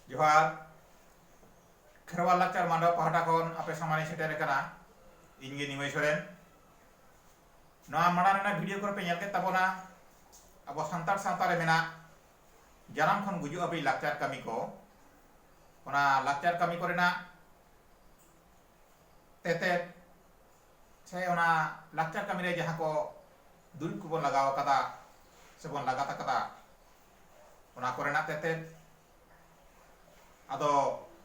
ᱡᱚᱦᱟᱨ ᱠᱷᱮᱨᱣᱟᱞ ᱞᱟᱠᱪᱟᱨ ᱢᱟᱰᱣᱟ ᱯᱟᱦᱴᱟ ᱠᱷᱚᱱ ᱟᱯᱮ ᱥᱟᱢᱟᱝ ᱨᱮ ᱥᱮᱴᱮᱨ ᱟᱠᱟᱱᱟ ᱤᱧ ᱜᱮ ᱱᱤᱢᱟᱹᱭ ᱥᱚᱨᱮᱱ ᱱᱚᱣᱟ ᱢᱟᱲᱟᱝ ᱨᱮᱱᱟᱜ ᱵᱷᱤᱰᱤᱭᱳ ᱠᱚᱨᱮ ᱯᱮ ᱧᱮᱞ ᱠᱮᱫ ᱛᱟᱵᱚᱱᱟ ᱟᱵᱚ ᱥᱟᱱᱛᱟᱲ ᱥᱟᱶᱛᱟ ᱨᱮ ᱢᱮᱱᱟᱜ ᱡᱟᱱᱟᱢ ᱠᱷᱚᱱ ᱜᱩᱡᱩᱜ ᱦᱟᱹᱵᱤᱡ ᱞᱟᱠᱪᱟᱨ ᱠᱟᱹᱢᱤ ᱠᱚ ᱚᱱᱟ ᱞᱟᱠᱪᱟᱨ ᱠᱟᱹᱢᱤ ᱠᱚᱨᱮᱱᱟᱜ ᱛᱮᱛᱮᱫ ᱥᱮ ᱚᱱᱟ ᱞᱟᱠᱪᱟᱨ ᱠᱟᱹᱢᱤ ᱨᱮ ᱡᱟᱦᱟᱸ ᱠᱚ ᱫᱩᱨᱤᱵᱽ ᱠᱚᱵᱚᱱ ᱞᱟᱜᱟᱣ ᱟᱠᱟᱫᱟ ᱥᱮ ᱵᱚᱱ ᱞᱟᱜᱟᱛ ᱟᱠᱟᱫᱟ ᱚᱱᱟ ᱠᱚᱨᱮᱱᱟᱜ ᱛᱮᱛᱮᱫ ᱟᱫᱚ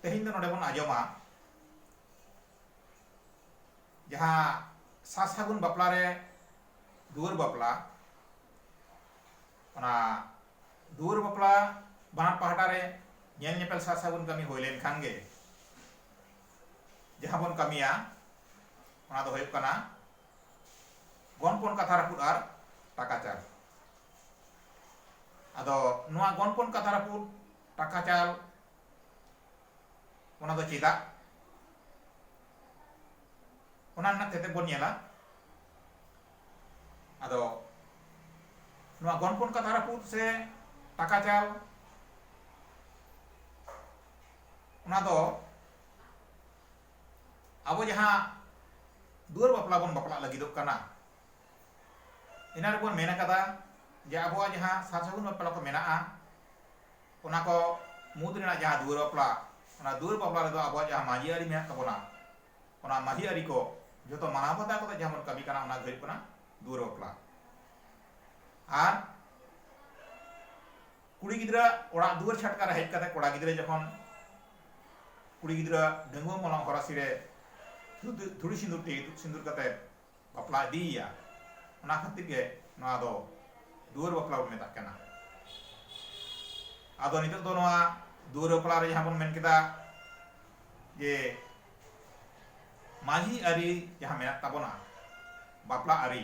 ᱛᱮᱦᱮᱧ ᱫᱚ ᱱᱚᱰᱮ ᱵᱚᱱ ᱟᱸᱡᱚᱢᱟ ᱡᱟᱦᱟᱸ ᱥᱟᱥᱟᱜᱩᱱ ᱵᱟᱯᱞᱟ ᱨᱮ ᱫᱩᱣᱟᱹᱨ ᱵᱟᱯᱞᱟ ᱚᱱᱟ ᱫᱩᱣᱟᱹᱨ ᱵᱟᱯᱞᱟ ᱵᱟᱱᱟᱨ ᱯᱟᱦᱴᱟ ᱨᱮ ᱧᱮᱞ ᱧᱮᱯᱮᱞ ᱥᱟᱨ ᱥᱟᱹᱜᱩᱱ ᱠᱟᱹᱢᱤ ᱦᱩᱭ ᱞᱮᱱᱠᱷᱟᱱ ᱜᱮ ᱡᱟᱦᱟᱸ ᱵᱚᱱ ᱠᱟᱹᱢᱤᱭᱟ ᱚᱱᱟ ᱫᱚ ᱦᱩᱭᱩᱜ ᱠᱟᱱᱟ ᱜᱚᱱᱯᱚᱱ ᱠᱟᱛᱷᱟ ᱨᱟᱹᱯᱩᱫ ᱟᱨ ᱴᱟᱠᱟ ᱪᱟᱞ ᱟᱫᱚ ᱱᱚᱣᱟ ᱜᱚᱱᱯᱚᱱ ᱠᱟᱛᱷᱟ ᱨᱟᱹᱯᱩᱫ ᱴᱟᱠᱟ ᱪᱟᱞ ᱚᱱᱟ ᱫᱚ ᱪᱮᱫᱟᱜ ᱚᱱᱟ ᱨᱮᱱᱟᱜ ᱛᱮᱛᱮᱫ ᱵᱚᱱ ᱧᱮᱞᱟ ᱟᱫᱚ ᱱᱚᱣᱟ ᱜᱚᱱᱯᱚᱱ ᱠᱟᱛᱷᱟ ᱨᱟᱹᱯᱩᱫ ᱥᱮ ᱴᱟᱠᱟ ᱪᱟᱞ ᱚᱱᱟ ᱫᱚ ᱟᱵᱚ ᱡᱟᱦᱟᱸ ᱫᱩᱣᱟᱹᱨ ᱵᱟᱯᱞᱟ ᱵᱚᱱ ᱵᱟᱯᱞᱟᱜ ᱞᱟᱹᱜᱤᱫᱚᱜ ᱠᱟᱱᱟ ᱤᱱᱟᱹ ᱨᱮᱵᱚᱱ ᱢᱮᱱ ᱟᱠᱟᱫᱟ ᱡᱮ ᱟᱵᱚᱣᱟᱜ ᱡᱟᱦᱟᱸ ᱥᱟᱨ ᱥᱟᱹᱜᱩᱱ ᱵᱟᱯᱞᱟ ᱠᱚ ᱢᱮᱱᱟᱜᱼᱟ ᱚᱱᱟ ᱠᱚ ᱢᱩᱫᱽ ᱨᱮᱱᱟᱜ ᱡᱟᱦᱟᱸ ᱫᱩᱣᱟᱹᱨ ᱵᱟᱯᱞᱟ ᱚᱱᱟ ᱫᱩᱣᱟᱹᱨ ᱵᱟᱯᱞᱟ ᱨᱮᱫᱚ ᱟᱵᱚᱣᱟᱜ ᱡᱟᱦᱟᱸ ᱢᱟᱹᱡᱷᱤ ᱟᱹᱨᱤ ᱢᱮᱱᱟᱜ ᱛᱟᱵᱚᱱᱟ ᱚᱱᱟ ᱢᱟᱹᱡᱷᱤ ᱟᱹᱨᱤ ᱠᱚ ᱡᱚᱛᱚ ᱢᱟᱱᱟᱣ ᱵᱟᱛᱟᱣ ᱠᱟᱛᱮ ᱡᱟᱦᱟᱸ ᱵᱚᱱ ᱠᱟᱹᱢᱤ ᱠᱟᱱᱟ ᱚᱱᱟ ᱜᱮ ᱦᱩᱭᱩᱜ ᱠᱟᱱᱟ ᱫᱩᱣᱟᱹᱨ ᱵᱟᱯᱞᱟ ᱟᱨ ᱠᱩᱲᱤ ᱜᱤᱫᱽᱨᱟᱹ ᱚᱲᱟᱜ ᱫᱩᱣᱟᱹᱨ ᱪᱷᱟᱴᱠᱟ ᱨᱮ ᱦᱮᱡ ᱠᱟᱛᱮ ᱠᱚᱲᱟ ᱜᱤᱫᱽᱨᱟᱹ ᱡᱚᱠᱷᱚᱱ ᱠᱩᱲᱤ ᱜᱤᱫᱽᱨᱟᱹ ᱰᱟᱺᱜᱩᱣᱟᱹ ᱢᱚᱞᱚᱝ ᱦᱚᱨᱟᱥᱤ ᱨᱮ ᱫᱷᱩᱲᱤ ᱥᱤᱸᱫᱩᱨ ᱛᱮ ᱤᱛᱩᱫ ᱥᱤᱸᱫᱩᱨ ᱠᱟᱛᱮ ᱵᱟᱯᱞᱟ ᱤᱫᱤᱭᱮᱭᱟ ᱚᱱᱟ ᱠᱷᱟᱹᱛᱤᱨ ᱜᱮ ᱱᱚᱣᱟ ᱫᱚ ᱫᱩᱣᱟᱹᱨ ᱵᱟᱯᱞᱟ ᱵᱚᱱ ᱢᱮᱛᱟᱜ ᱠᱟᱱᱟ ᱟᱫᱚ ᱱᱤᱛᱚᱜ ᱫᱚ ᱱᱚᱣᱟ ᱫᱩᱣᱟᱹᱨ ᱵᱟᱯᱞᱟ ᱨᱮ ᱡᱟᱦᱟᱸ ᱵᱚᱱ ᱢᱮᱱ ᱠᱮᱫᱟ ᱡᱮ ᱢᱟᱹᱡᱷᱤ ᱟᱹᱨᱤ ᱡᱟᱦᱟᱸ ᱢᱮᱱᱟᱜ ᱛᱟᱵᱚᱱᱟ ᱵᱟᱯᱞᱟ ᱟᱹᱨᱤ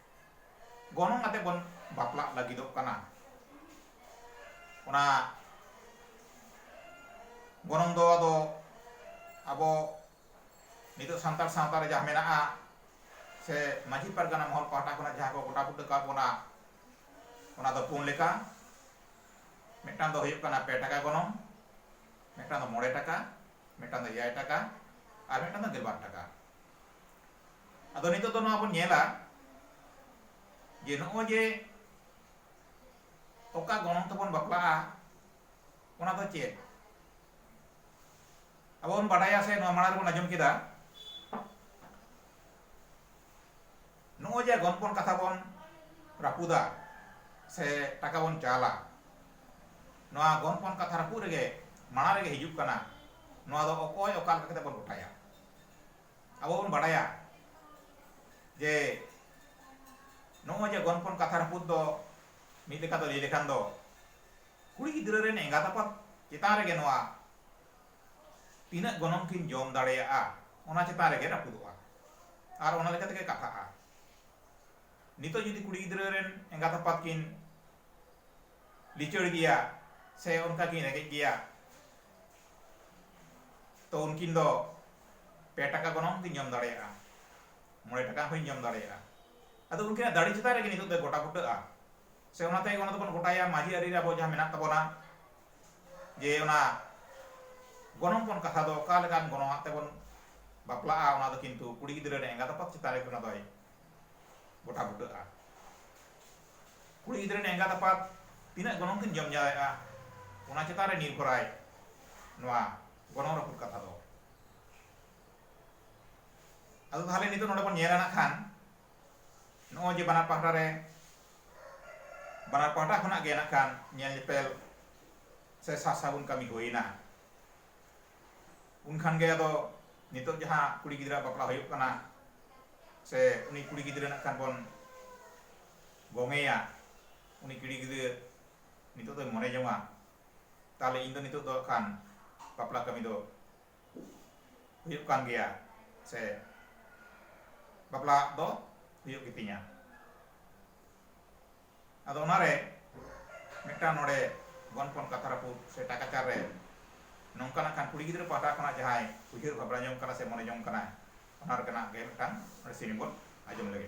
ᱜᱚᱱᱚᱝ ᱟᱛᱮ ᱵᱚᱱ ᱵᱟᱯᱞᱟᱜ ᱞᱟᱹᱜᱤᱫᱚᱜ ᱠᱟᱱᱟ ᱚᱱᱟ ᱜᱚᱱᱚᱝ ᱫᱚ ᱟᱫᱚ ᱟᱵᱚ ᱱᱤᱛᱚᱜ ᱥᱟᱱᱛᱟᱲ ᱥᱟᱶᱛᱟ ᱨᱮ ᱡᱟᱦᱟᱸ ᱢᱮᱱᱟᱜᱼᱟ ᱥᱮ ᱢᱟᱹᱡᱷᱤ ᱯᱟᱨᱜᱟᱱᱟ ᱢᱚᱦᱚᱞ ᱯᱟᱦᱴᱟ ᱠᱷᱚᱱᱟᱜ ᱡᱟᱦᱟᱸ ᱠᱚ ᱜᱚᱴᱟ ᱵᱩᱴᱟᱹ ᱠᱟᱜ ᱵᱚᱱᱟ ᱚᱱᱟ ᱫᱚ ᱯᱩᱱ ᱞᱮᱠᱟ ᱢᱤᱫᱴᱟᱝ ᱫᱚ ᱦᱩᱭᱩᱜ ᱠᱟᱱᱟ ᱯᱮ ᱴᱟᱠᱟ ᱜᱚᱱᱚᱝ ᱢᱤᱫᱴᱟᱝ ᱫᱚ ᱢᱚᱬᱮ ᱴᱟᱠᱟ ᱢᱤᱫᱴᱟᱝ ᱫᱚ ᱮᱭᱟᱭ ᱴᱟᱠᱟ ᱟᱨ ᱢᱤᱫᱴᱟᱝ ᱫᱚ ᱜᱮᱞᱵᱟᱨ ᱴᱟᱠᱟ ᱟᱫᱚ ᱱᱤᱛᱚᱜ ᱫᱚ ᱱᱚᱣᱟ ᱵᱚᱱ ᱧᱮᱞᱟ ᱡᱮ ᱱᱚᱜᱼᱚᱭ ᱡᱮ ᱚᱠᱟ ᱜᱚᱱᱚᱝ ᱛᱮᱵᱚᱱ ᱵᱟᱯᱞᱟᱜᱼᱟ ᱚᱱᱟ ᱫᱚ ᱪᱮᱫ ᱟᱵᱚ ᱵᱚᱱ ᱵᱟᱰᱟᱭᱟ ᱥᱮ ᱱᱚᱣᱟ ᱢᱟᱲᱟᱝ ᱨᱮᱵᱚᱱ ᱟᱸᱡᱚᱢ ᱠᱮᱫᱟ ᱱᱚᱜᱼᱚᱭ ᱡᱮ ᱜᱚᱱᱯᱚᱱ ᱠᱟᱛᱷᱟ ᱵᱚᱱ ᱨᱟᱹᱯᱩᱫᱟ ᱥᱮ ᱴᱟᱠᱟ ᱵᱚᱱ ᱪᱟᱞᱟ ᱱᱚᱣᱟ ᱜᱚᱱᱯᱚᱱ ᱠᱟᱛᱷᱟ ᱨᱟᱹᱯᱩᱫ ᱨᱮᱜᱮ ᱢᱟᱲᱟᱝ ᱨᱮᱜᱮ ᱦᱤᱡᱩᱜ ᱠᱟᱱᱟ ᱱᱚᱣᱟ ᱫᱚ ᱚᱠᱚᱭ ᱚᱠᱟ ᱞᱮᱠᱟ ᱠᱟᱛᱮ ᱵᱚᱱ ᱜᱚᱴᱟᱭᱟ ᱟᱵᱚ ᱵᱚᱱ ᱵᱟᱲᱟᱭᱟ ᱡᱮ ᱱᱚᱜᱼᱚᱭ ᱡᱮ ᱜᱚᱱᱯᱚᱱ ᱠᱟᱛᱷᱟ ᱨᱟᱹᱯᱩᱫ ᱫᱚ ᱢᱤᱫ ᱞᱮᱠᱟ ᱫᱚ ᱞᱟᱹᱭ ᱞᱮᱠᱷᱟᱱ ᱫᱚ ᱠᱩᱲᱤ ᱜᱤᱫᱽᱨᱟᱹ ᱨᱮᱱ ᱮᱸᱜᱟᱛ ᱟᱯᱟᱛ ᱪᱮᱛᱟᱱ ᱨᱮᱜᱮ ᱱᱚᱣᱟ ᱛᱤᱱᱟᱹᱜ ᱜᱚᱱᱚᱝ ᱠᱤᱱ ᱡᱚᱢ ᱫᱟᱲᱮᱭᱟᱜᱼᱟ ᱚᱱᱟ ᱪᱮᱛᱟᱱ ᱨᱮᱜᱮ ᱨᱟᱹᱯᱩᱫᱚᱜᱼᱟ ᱟᱨ ᱚᱱᱟ ᱞᱮᱠᱟ ᱛᱮᱜᱮ ᱠᱟᱛᱷᱟᱜᱼᱟ ᱱᱤᱛᱚᱜ ᱡᱩᱫᱤ ᱠᱩᱲᱤ ᱜᱤᱫᱽᱨᱟᱹ ᱨᱮᱱ ᱮᱸᱜᱟᱛ ᱟᱯᱟᱛ ᱠᱤᱱ ᱞᱤᱪᱟᱹᱲ ᱜᱮᱭᱟ ᱥᱮ ᱚᱱᱠᱟ ᱠᱤᱱ ᱨᱮᱸᱜᱮᱡ ᱜᱮᱭᱟ ᱛᱚ ᱩᱱᱠᱤᱱ ᱫᱚ ᱯᱮ ᱴᱟᱠᱟ ᱜᱚᱱᱚᱝ ᱦᱚᱸᱠᱤᱱ ᱡᱚᱢ ᱫᱟᱲᱮᱭᱟᱜᱼᱟ ᱢᱚᱬᱮ ᱴᱟᱠᱟ ᱦᱚᱸᱠᱤᱱ ᱡᱚᱢ ᱫᱟᱲᱮᱭᱟᱜᱼᱟ ᱟᱫᱚ ᱩᱱᱠᱤᱱᱟᱜ ᱫᱟᱲᱮ ᱪᱮᱛᱟᱱ ᱨᱮᱜᱮ ᱱᱤᱛᱚᱜ ᱫᱚ ᱜᱚᱴᱟ ᱵᱩᱴᱟᱹᱜᱼᱟ ᱥᱮ ᱚᱱᱟ ᱛᱮᱜᱮ ᱚᱱᱟ ᱫᱚᱵᱚᱱ ᱜᱚᱴᱟᱭᱟ ᱢᱟᱺᱡᱷᱤ ᱟᱹᱨᱤ ᱨᱮ ᱟᱵᱚ ᱡᱟᱦᱟᱸ ᱢᱮᱱᱟᱜ ᱛᱟᱵᱚᱱᱟ ᱡᱮ ᱚᱱᱟ ᱜᱚᱱᱚᱝ ᱯᱚᱱ ᱠᱟᱛᱷᱟ ᱫᱚ ᱚᱠᱟ ᱞᱮᱠᱟᱱ ᱜᱚᱱᱚᱝ ᱟᱜ ᱛᱮᱵᱚᱱ ᱵᱟᱯᱞᱟᱜᱼᱟ ᱚᱱᱟ ᱫᱚ ᱠᱤᱱᱛᱩ ᱠᱩᱲᱤ ᱜᱤᱫᱽᱨᱟᱹ ᱨᱮᱱ ᱮᱸᱜᱟᱛ ᱟᱯᱟᱛ ᱪᱮᱛᱟᱱ ᱨᱮᱜᱮ ᱚᱱᱟ ᱫᱚᱭ ᱜᱚᱴᱟ ᱵᱩᱴᱟᱹᱜᱼᱟ ᱠᱩᱲᱤ ᱜᱤᱫᱽᱨᱟᱹ ᱨᱮᱱ ᱮᱸᱜᱟᱛ ᱟᱯᱟᱛ ᱛᱤᱱᱟᱹᱜ ᱜᱚᱱᱚᱝ ᱠᱤᱱ ᱡᱚᱢ ᱡᱟᱣᱟᱭᱮᱫᱼᱟ ᱚᱱᱟ ᱪᱮᱛᱟᱱ ᱨᱮ ᱱᱤᱨᱵᱷᱚᱨᱟᱭ ᱱᱚᱣᱟ ᱜᱚᱱᱚᱝ ᱨᱟᱹᱯᱩᱫ ᱠᱟᱛᱷᱟ ᱫᱚ ᱟᱫᱚ ᱛᱟᱦᱞᱮ ᱱᱤᱛᱚᱜ ᱱᱚᱰᱮ ᱵᱚᱱ ᱧᱮᱞᱟ ᱱᱟᱜ ᱠᱷᱟᱱ ᱱᱚᱜᱼᱚᱭ ᱡᱮ ᱵᱟᱱᱟᱨ ᱯᱟᱦᱴᱟ ᱨᱮ ᱵᱟᱱᱟᱨ ᱯᱟᱦᱴᱟ ᱠᱷᱚᱱᱟᱜ ᱜᱮ ᱱᱟᱜ ᱠᱷᱟᱱ ᱧᱮᱞ ᱧᱮᱯᱮᱞ ᱥᱮ ᱥᱟᱨ ᱥᱟᱹᱜᱩᱱ ᱠᱟᱹᱢᱤ ᱦᱩᱭᱮᱱᱟ ᱩᱱ ᱠᱷᱟᱱ ᱜᱮ ᱟᱫᱚ ᱱᱤᱛᱚᱜ ᱡᱟᱦᱟᱸ ᱠᱩᱲᱤ ᱜᱤᱫᱽᱨᱟᱹ ᱟᱜ ᱵᱟᱯᱞᱟ ᱦᱩᱭᱩᱜ ᱠᱟᱱᱟ ᱥᱮ ᱩᱱᱤ ᱠᱩᱲᱤ ᱜᱤᱫᱽᱨᱟᱹ ᱱᱟᱜ ᱠᱷᱟᱱ ᱵᱚᱱ ᱜᱚᱝᱮᱭᱟ ᱩᱱᱤ ᱠᱩᱲᱤ ᱜᱤᱫᱽᱨᱟᱹ ᱱᱤᱛᱚᱜ ᱫᱚᱭ ᱢᱚᱱᱮ ᱡᱚᱝᱟ ᱛᱟᱦᱚᱞᱮ ᱤᱧ ᱫᱚ ᱱᱤᱛᱚᱜ ᱫᱚ ᱠᱷᱟᱱ ᱵᱟᱯᱞᱟ ᱠᱟᱹᱢᱤ ᱫᱚ ᱦᱩᱭᱩᱜ ᱠᱟᱱ ᱜᱮᱭᱟ ᱥᱮ ᱵᱟᱯᱞᱟᱜ ᱫᱚ ᱦᱩᱭᱩᱜ ᱜᱮᱛᱤᱧᱟ ᱟᱫᱚ ᱚᱱᱟ ᱨᱮ ᱢᱤᱫᱴᱟᱝ ᱱᱚᱰᱮ ᱜᱚᱱᱯᱚᱱ ᱠᱟᱛᱷᱟ ᱨᱟᱹᱯᱩᱫ ᱥᱮ ᱴᱟᱠᱟᱪᱟᱨ ᱨᱮ ᱱᱚᱝᱠᱟ ᱱᱟᱜ ᱠᱷᱟᱱ ᱠᱩᱲᱤ ᱜᱤᱫᱽᱨᱟᱹ ᱯᱟᱦᱴᱟ ᱠᱷᱚᱱᱟᱜ ᱡᱟᱦᱟᱸᱭ ᱩᱭᱦᱟᱹᱨ ᱵᱷᱟᱵᱽᱱᱟ ᱡᱚᱝ ᱠᱟᱱᱟ ᱥᱮ ᱢᱚᱱᱮ ᱡᱚᱝ ᱠᱟᱱᱟᱭ ᱚᱱᱟ ᱨᱮᱱᱟᱜ ᱜᱮ ᱢᱤᱫᱴᱟᱝ ᱱᱚᱰᱮ ᱥᱮᱨᱮᱧ ᱵᱚᱱ ᱟᱸᱡᱚᱢ ᱞᱮᱜᱮ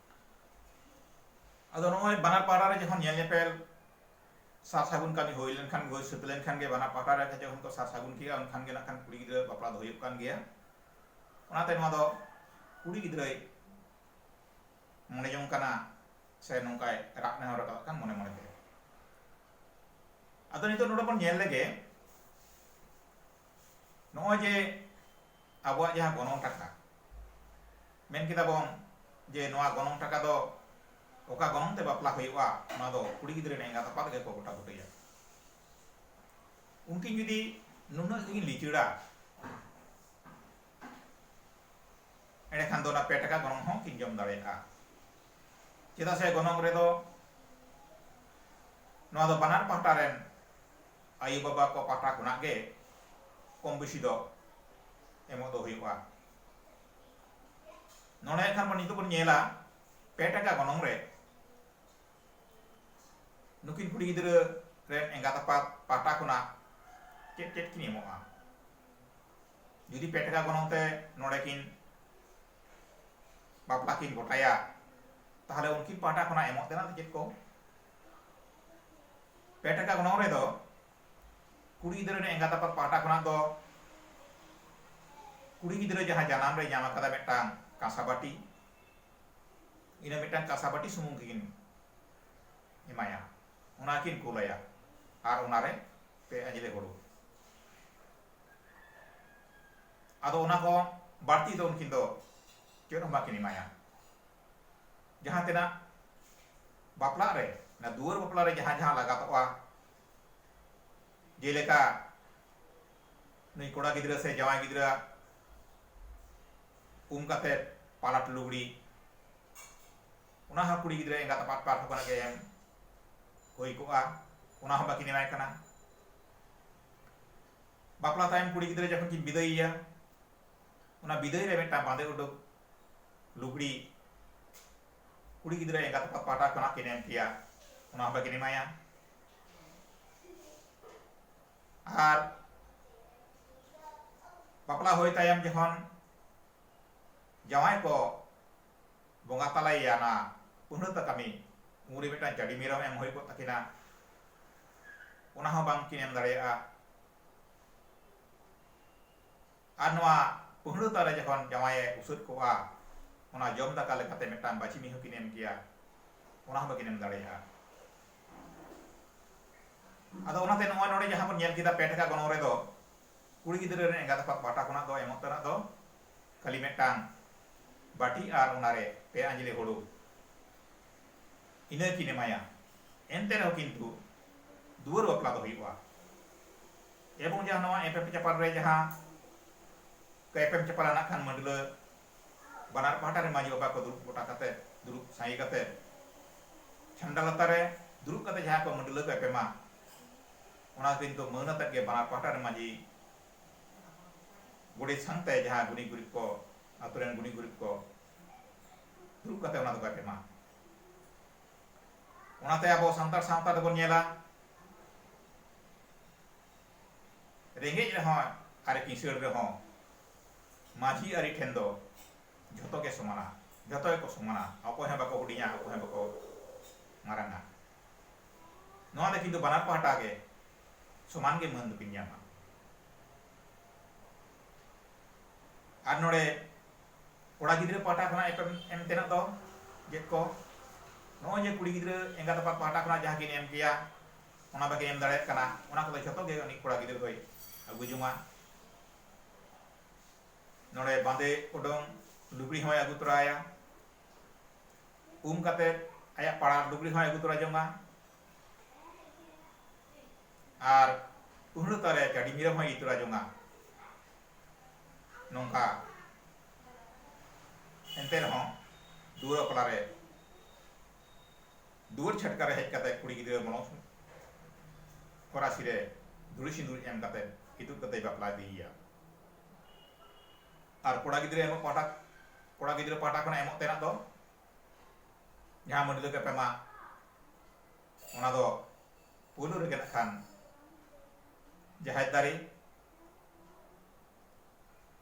ᱟᱫᱚ ᱱᱚᱜᱼᱚᱭ ᱵᱟᱱᱟᱨ ᱯᱟᱦᱴᱟ ᱨᱮ ᱡᱚᱠᱷᱚᱱ ᱧᱮᱞ ᱧᱮᱯᱮᱞ ᱥᱟᱨ ᱥᱟᱹᱜᱩᱱ ᱠᱟᱹᱢᱤ ᱦᱩᱭ ᱞᱮᱱᱠᱷᱟᱱ ᱦᱩᱭ ᱥᱟᱹᱛ ᱞᱮᱱᱠᱷᱟᱱ ᱜᱮ ᱵᱟᱱᱟᱨ ᱯᱟᱦᱴᱟ ᱨᱮ ᱡᱚᱠᱷᱚᱱ ᱠᱚ ᱥᱟᱨ ᱥᱟᱹᱜᱩᱱ ᱠᱮᱜᱼᱟ ᱩᱱᱠᱷᱟᱱ ᱜᱮ ᱱᱟᱜᱠᱷᱟᱱ ᱠᱩᱲᱤ ᱜᱤᱫᱽᱨᱟᱹ ᱵᱟᱯᱞᱟ ᱫᱚ ᱦᱩᱭᱩᱜ ᱠᱟᱱ ᱜᱮᱭᱟ ᱚᱱᱟᱛᱮ ᱱᱚᱣᱟ ᱫᱚ ᱠᱩᱲᱤ ᱜᱤᱫᱽᱨᱟᱹᱭ ᱢᱚᱱᱮ ᱡᱚᱝ ᱠᱟᱱᱟ ᱥᱮ ᱱᱚᱝᱠᱟᱭ ᱨᱟᱜ ᱱᱮᱦᱚᱨ ᱟᱠᱟᱫ ᱠᱟᱱ ᱢᱚᱱᱮ ᱢᱚᱱᱮ ᱛᱮ ᱟᱫᱚ ᱱᱤᱛᱚᱜ ᱱᱚᱰᱮ ᱵᱚᱱ ᱧᱮᱞ ᱞᱮᱜᱮ ᱱᱚᱜᱼᱚᱭ ᱡᱮ ᱟᱵᱚᱣᱟᱜ ᱡᱟᱦᱟᱸ ᱜᱚᱱᱚᱝ ᱴᱟᱠᱟ ᱢᱮᱱ ᱠᱮᱫᱟ ᱵᱚᱱ ᱡᱮ ᱱᱚᱣᱟ ᱜᱚᱱᱚᱝ ᱴᱟᱠᱟ ᱫᱚ ᱚᱠᱟ ᱜᱚᱱᱚᱝ ᱛᱮ ᱵᱟᱯᱞᱟ ᱦᱩᱭᱩᱜᱼᱟ ᱚᱱᱟ ᱫᱚ ᱠᱩᱲᱤ ᱜᱤᱫᱽᱨᱟᱹ ᱨᱮᱱ ᱮᱸᱜᱟᱛ ᱟᱯᱟᱛ ᱜᱮᱠᱚ ᱜᱚᱴᱟ ᱵᱩᱴᱟᱹᱭᱟ ᱩᱱᱠᱤᱱ ᱡᱩᱫᱤ ᱱᱩᱱᱟᱹᱜ ᱜᱮᱠᱤᱱ ᱞᱤᱪᱟᱹᱲᱟ ᱮᱸᱰᱮᱠᱷᱟᱱ ᱫᱚ ᱚᱱᱟ ᱯᱮ ᱴᱟᱠᱟ ᱜᱚᱱᱚᱝ ᱦᱚᱸ ᱠᱤᱱ ᱡᱚᱢ ᱫᱟᱲᱮᱭᱟᱜᱼᱟ ᱪᱮᱫᱟᱜ ᱥᱮ ᱜᱚᱱᱚᱝ ᱨᱮᱫᱚ ᱱᱚᱣᱟ ᱫᱚ ᱵᱟᱱᱟᱨ ᱯᱟᱦᱴᱟ ᱨᱮᱱ ᱟᱭᱳ ᱵᱟᱵᱟ ᱠᱚ ᱯᱟᱦᱴᱟ ᱠᱷᱚᱱᱟᱜ ᱜᱮ ᱠᱚᱢ ᱵᱮᱥᱤ ᱫᱚ ᱮᱢᱚᱜ ᱫᱚ ᱦᱩᱭᱩᱜᱼᱟ ᱱᱚᱰᱮ ᱠᱷᱟᱱ ᱱᱤᱛᱚᱜ ᱵᱚᱱ ᱧᱮᱞᱟ ᱯᱮ ᱴᱟᱠᱟ ᱜᱚᱱᱚᱝ ᱨᱮ ᱱᱩᱠᱤᱱ ᱠᱩᱲᱤ ᱜᱤᱫᱽᱨᱟᱹ ᱨᱮᱱ ᱮᱸᱜᱟᱛ ᱟᱯᱟᱛ ᱯᱟᱦᱴᱟ ᱠᱷᱚᱱᱟᱜ ᱪᱮᱫ ᱪᱮᱫ ᱠᱤᱱ ᱮᱢᱚᱜᱼᱟ ᱡᱩᱫᱤ ᱯᱮ ᱴᱟᱠᱟ ᱜᱚᱱᱚᱝ ᱛᱮ ᱱᱚᱰᱮ ᱠᱤᱱ ᱵᱟᱯᱞᱟ ᱠᱤᱱ ᱜᱚᱴᱟᱭᱟ ᱛᱟᱦᱞᱮ ᱩᱱᱠᱤᱱ ᱯᱟᱦᱴᱟ ᱠᱷᱚᱱᱟᱜ ᱮᱢᱚᱜ ᱛᱮᱱᱟᱜ ᱫᱚ ᱪᱮᱫ ᱠᱚ ᱯᱮ ᱴᱟᱠᱟ ᱜᱚᱱᱚᱝ ᱨᱮᱫᱚ ᱠᱩᱲᱤ ᱜᱤᱫᱽᱨᱟᱹ ᱨᱮᱱ ᱮᱸᱜᱟᱛ ᱟᱯᱟᱛ ᱯᱟᱦᱴᱟ ᱠᱷᱚᱱᱟᱜ ᱫᱚ ᱠᱩᱲᱤ ᱜᱤᱫᱽᱨᱟᱹ ᱡᱟᱦᱟᱸ ᱡᱟᱱᱟᱢ ᱨᱮ ᱧᱟᱢ ᱟᱠᱟᱫᱟ ᱢᱤᱫᱴᱟᱝ ᱠᱟᱸᱥᱟ ᱵᱟᱹᱴᱤ ᱤᱱᱟᱹ ᱢᱤᱫᱴᱟᱝ ᱠᱟᱸᱥᱟ ᱵᱟᱹᱴᱤ ᱥᱩᱢᱩᱝ ᱜᱮᱠᱤᱱ ᱮᱢᱟᱭᱟ ᱚᱱᱟ ᱠᱤᱱ ᱠᱩᱞᱟᱭᱟ ᱟᱨ ᱚᱱᱟᱨᱮ ᱯᱮ ᱟᱸᱡᱽᱞᱮ ᱦᱩᱲᱩ ᱟᱫᱚ ᱚᱱᱟ ᱠᱷᱚᱱ ᱵᱟᱹᱲᱛᱤ ᱫᱚ ᱩᱱᱠᱤᱱ ᱫᱚ ᱪᱮᱫ ᱦᱚᱸ ᱵᱟᱠᱤᱱ ᱮᱢᱟᱭᱟ ᱡᱟᱦᱟᱸ ᱛᱤᱱᱟᱹᱜ ᱵᱟᱯᱞᱟᱜ ᱨᱮ ᱚᱱᱟ ᱫᱩᱣᱟᱹᱨ ᱵᱟᱯᱞᱟ ᱨᱮ ᱡᱟᱦᱟᱸ ᱡᱟᱦᱟᱸ ᱞᱟᱜᱟᱛᱚᱜᱼᱟ ᱡᱮᱞᱮᱠᱟ ᱱᱩᱭ ᱠᱚᱲᱟ ᱜᱤᱫᱽᱨᱟᱹ ᱥᱮ ᱡᱟᱶᱟᱭ ᱜᱤᱫᱽᱨᱟᱹ ᱩᱢ ᱠᱟᱛᱮ ᱯᱟᱞᱟᱴ ᱞᱩᱜᱽᱲᱤ ᱚᱱᱟ ᱦᱚᱸ ᱠᱩᱲᱤ ᱜᱤᱫᱽᱨᱟᱹ ᱮᱸᱜᱟᱛ ᱟᱯᱟᱛ ᱯᱟᱦᱴᱟ ᱠᱷᱚᱱᱟᱜ ᱜᱮ ᱮᱢ ᱦᱩᱭ ᱠᱚᱜᱼᱟ ᱚᱱᱟ ᱦᱚᱸ ᱵᱟᱹᱠᱤᱱ ᱮᱢᱟᱭ ᱠᱟᱱᱟ ᱵᱟᱯᱞᱟ ᱛᱟᱭᱚᱢ ᱠᱩᱲᱤ ᱜᱤᱫᱽᱨᱟᱹ ᱡᱚᱠᱷᱚᱱ ᱠᱤᱱ ᱵᱤᱫᱟᱹᱭᱮᱭᱟ ᱚᱱᱟ ᱵᱤᱫᱟᱹᱭ ᱨᱮ ᱢᱤᱫᱴᱟᱝ ᱵᱟᱸᱫᱮ ᱩᱰᱩᱠ ᱞᱩᱜᱽᱲᱤ ᱠᱩᱲᱤ ᱜᱤᱫᱽᱨᱟᱹ ᱮᱸᱜᱟᱛ ᱟᱯᱟᱛ ᱯᱟᱦᱴᱟ ᱠᱷᱚᱱᱟᱜ ᱠᱤᱱ ᱮᱢ ᱯᱮᱭᱟ ᱚᱱᱟ ᱦᱚᱸ ᱵᱟᱹᱠᱤᱱ ᱮᱢᱟᱭᱟ ᱟᱨ ᱵᱟᱯᱞᱟ ᱦᱩᱭ ᱛᱟᱭᱚᱢ ᱡᱚᱠᱷᱚᱱ ᱡᱟᱶᱟᱭ ᱠᱚ ᱵᱚᱸᱜᱟ ᱛᱟᱞᱟᱭᱮᱭᱟ ᱚᱱᱟ ᱯᱩᱱᱟᱹᱛᱟ ᱠᱟᱹᱢᱤ ᱩᱱᱨᱮ ᱢᱤᱫᱴᱟᱝ ᱪᱟᱹᱰᱤ ᱢᱮᱨᱚᱢ ᱮᱢ ᱦᱩᱭ ᱠᱚᱜ ᱛᱟᱹᱠᱤᱱᱟ ᱚᱱᱟ ᱦᱚᱸ ᱵᱟᱝᱠᱤᱱ ᱮᱢ ᱫᱟᱲᱮᱭᱟᱜᱼᱟ ᱟᱨ ᱱᱚᱶᱟ ᱯᱟᱹᱦᱬᱟᱹ ᱛᱟᱞ ᱨᱮ ᱡᱚᱠᱷᱚᱱ ᱡᱟᱶᱟᱭ ᱮ ᱩᱥᱟᱹᱫ ᱠᱚᱜᱼᱟ, ᱚᱱᱟ ᱡᱚᱢ ᱫᱟᱠᱟ ᱞᱮᱠᱟᱛᱮ ᱢᱤᱫᱴᱟᱝ ᱵᱟᱹᱪᱤ ᱢᱤᱦᱩ ᱠᱤᱱ ᱮᱢ ᱠᱮᱭᱟ, ᱚᱱᱟ ᱦᱚᱸ ᱵᱟᱹᱠᱤᱱ ᱮᱢ ᱫᱟᱲᱮᱭᱟᱜᱼᱟ᱾ ᱟᱫᱚ ᱚᱱᱟᱛᱮ ᱱᱚᱜᱼᱚᱭ ᱱᱚᱸᱰᱮ ᱡᱟᱦᱟᱸ ᱵᱚᱱ ᱧᱮᱞ ᱠᱮᱫᱟ ᱯᱮ ᱴᱟᱠᱟ ᱜᱚᱱᱚᱝ ᱨᱮᱫᱚ ᱠᱩᱲᱤ ᱜᱤᱫᱽᱨᱟᱹ ᱨᱮᱱ ᱮᱸᱜᱟᱛ ᱟᱯᱟᱛ ᱯᱟᱦᱴᱟ ᱠᱷᱚᱱᱟᱜ ᱫᱚ ᱮᱢᱚᱜ ᱛᱮᱱᱟᱜ ᱫᱚ ᱠᱷᱟᱹᱞᱤ ᱢᱤᱫᱴᱟᱝ ᱵᱟᱹᱴᱤ ᱟᱨ ᱚᱱᱟ ᱨᱮ ᱯᱮ ᱟᱸᱡᱽᱞᱮ ᱦᱩᱲᱩ, ᱤᱱᱟᱹ ᱠᱤᱱ ᱮᱢᱟᱭᱟ᱾ ᱮᱱᱛᱮ ᱨᱮᱦᱚᱸ ᱠᱤᱱᱛᱩ ᱫᱩᱣᱟᱹᱨ ᱵᱟᱯᱞᱟ ᱫᱚ ᱦᱩᱭᱩᱜᱼᱟ᱾ ᱮᱵᱚᱝ ᱡᱟᱦᱟᱸ ᱱᱚᱣᱟ ᱮᱯᱮᱢ ᱪᱟᱯᱟᱞ ᱨᱮ ᱡᱟᱦᱟᱸ ᱠᱚ ᱮᱯᱮᱢ ᱪᱟᱯᱟᱞᱟ ᱱᱟᱜ ᱠᱷᱟᱱ ᱢᱟᱹᱰᱞᱟᱹ ᱵᱟᱱᱟᱨ ᱯᱟᱦᱴᱟ ᱨᱮ ᱢᱟᱹᱡᱷᱤ ᱵᱟᱵᱟ ᱠᱚ ᱫᱩᱲᱩᱵ ᱜᱚᱴᱟ ᱠᱟᱛᱮ ᱫᱩᱲᱩᱵ ᱥᱟᱸᱜᱮ ᱠᱟᱛᱮ ᱪᱷᱟᱢᱰᱟ ᱞᱟᱛᱟᱨ ᱨᱮ ᱫᱩᱲᱩᱵ ᱠᱟᱛᱮ ᱡᱟᱦᱟᱸ ᱠᱚ ᱢᱟᱹᱰᱞᱟᱹ ᱠᱚ ᱮᱯᱮᱢᱟ ᱚᱱᱟ ᱠᱤᱱᱛᱩ ᱢᱟᱹᱱ ᱟᱛᱮᱫ ᱜᱮ ᱵᱟᱱᱟᱨ ᱯᱟᱦᱴᱟ ᱨᱮ ᱢᱟᱹᱡᱷᱤ ᱜᱚᱰᱮᱛ ᱥᱟᱶᱛᱮ ᱡᱟᱦᱟᱸ ᱜᱩᱱᱤ ᱜᱩᱨᱤᱵ ᱠᱚ ᱟᱛᱳ ᱨᱮᱱ ᱜᱩᱱᱤ ᱜᱩᱨᱤᱵ ᱠᱚ ᱫᱩᱲᱩᱵ ᱠᱟᱛᱮ ᱚᱱᱟ ᱫᱚᱠᱚ ᱮᱯᱮᱢᱟ ᱚᱱᱟᱛᱮ ᱟᱵᱚ ᱥᱟᱱᱛᱟᱲ ᱥᱟᱶᱛᱟ ᱫᱚᱵᱚᱱ ᱧᱮᱞᱟ ᱨᱮᱸᱜᱮᱡ ᱨᱮᱦᱚᱸ ᱟᱨ ᱠᱤᱥᱟᱹᱬ ᱨᱮᱦᱚᱸ ᱢᱟᱹᱡᱷᱤ ᱟᱹᱨᱤ ᱴᱷᱮᱱ ᱫᱚ ᱡᱷᱚᱛᱚ ᱜᱮ ᱥᱚᱢᱟᱱᱟ ᱡᱷᱚᱛᱚ ᱜᱮᱠᱚ ᱥᱚᱢᱟᱱᱟ ᱚᱠᱚᱭ ᱦᱚᱸ ᱵᱟᱠᱚ ᱦᱩᱰᱤᱧᱟ ᱚᱠᱚᱭ ᱦᱚᱸ ᱵᱟᱠᱚ ᱢᱟᱨᱟᱝᱟ ᱱᱚᱣᱟ ᱫᱚ ᱠᱤᱱᱛᱩ ᱵᱟᱱᱟᱨ ᱯᱟᱦᱴᱟ ᱜᱮ ᱥᱚᱢᱟᱱ ᱜᱮ ᱢᱟᱹᱱ ᱫᱚᱠᱤᱱ ᱧᱟᱢᱟ ᱟᱨ ᱱᱚᱰᱮ ᱠᱚᱲᱟ ᱜᱤᱫᱽᱨᱟᱹ ᱯᱟᱦᱴᱟ ᱠᱷᱚᱱᱟᱜ ᱮᱯᱮᱢ ᱮᱢ ᱛᱮᱱᱟᱜ ᱫᱚ ᱪᱮᱫ ᱠᱚ ᱱᱚᱜᱼᱚᱭ ᱡᱮ ᱠᱩᱲᱤ ᱜᱤᱫᱽᱨᱟᱹ ᱮᱸᱜᱟᱛ ᱟᱯᱟᱛ ᱯᱟᱦᱴᱟ ᱠᱷᱚᱱᱟᱜ ᱡᱟᱦᱟᱸ ᱠᱤᱱ ᱮᱢ ᱠᱮᱭᱟ ᱚᱱᱟ ᱵᱟᱠᱤᱱ ᱮᱢ ᱫᱟᱲᱮᱭᱟᱜ ᱠᱟᱱᱟ ᱚᱱᱟ ᱠᱚᱫᱚ ᱡᱷᱚᱛᱚ ᱜᱮ ᱩᱱᱤ ᱠᱚᱲᱟ ᱜᱤᱫᱽᱨᱟᱹ ᱫᱚᱭ ᱟᱹᱜᱩ ᱡᱚᱝᱟ ᱱᱚᱰᱮ ᱵᱟᱸᱫᱮ ᱩᱰᱩᱝ ᱞᱩᱜᱽᱲᱤ ᱦᱚᱸᱭ ᱟᱹᱜᱩ ᱛᱚᱨᱟᱭᱟ ᱩᱢ ᱠᱟᱛᱮ ᱟᱭᱟᱜ ᱯᱟᱲᱟᱨ ᱞᱩᱜᱽᱲᱤ ᱦᱚᱸᱭ ᱟᱹᱜᱩ ᱛᱚᱨᱟ ᱡᱚᱝᱟ ᱟᱨ ᱩᱦᱲᱟᱹ ᱛᱟᱨᱮ ᱪᱟᱹᱰᱤ ᱢᱤᱨᱟᱹ ᱦᱚᱸᱭ ᱤᱫᱤ ᱛᱚᱨᱟ ᱡᱚᱝᱟ ᱱᱚᱝᱠᱟ ᱮᱱᱛᱮ ᱨᱮᱦᱚᱸ ᱫᱩᱣᱟᱹᱨ ᱵᱟᱯᱞᱟ ᱨᱮ ᱫᱩᱣᱟᱹᱨ ᱪᱷᱟᱴᱠᱟ ᱨᱮ ᱦᱮᱡ ᱠᱟᱛᱮ ᱠᱩᱲᱤ ᱜᱤᱫᱽᱨᱟᱹ ᱢᱚᱞᱚᱝ ᱥᱩᱱᱩᱢ ᱠᱚᱨᱟᱥᱤ ᱨᱮ ᱫᱷᱩᱲᱤ ᱥᱤᱸᱫᱩᱨ ᱮᱢ ᱠᱟᱛᱮ ᱤᱛᱩᱫ ᱠᱟᱛᱮ ᱵᱟᱯᱞᱟ ᱤᱫᱤᱭᱮᱭᱟ ᱟᱨ ᱠᱚᱲᱟ ᱜᱤᱫᱽᱨᱟᱹ ᱮᱢᱚᱜ ᱯᱟᱦᱴᱟ ᱠᱚᱲᱟ ᱜᱤᱫᱽᱨᱟᱹ ᱯᱟᱦᱴᱟ ᱠᱷᱚᱱ ᱮᱢᱚᱜ ᱛᱮᱱᱟᱜ ᱫᱚ ᱡᱟᱦᱟᱸ ᱢᱟᱹᱰᱞᱟᱹ ᱠᱟᱛᱮ ᱢᱟ ᱚᱱᱟ ᱫᱚ ᱯᱩᱭᱞᱩ ᱨᱮᱜᱮ ᱱᱟᱜ ᱠᱷᱟᱱ ᱡᱟᱦᱮᱨ ᱫᱟᱨᱮ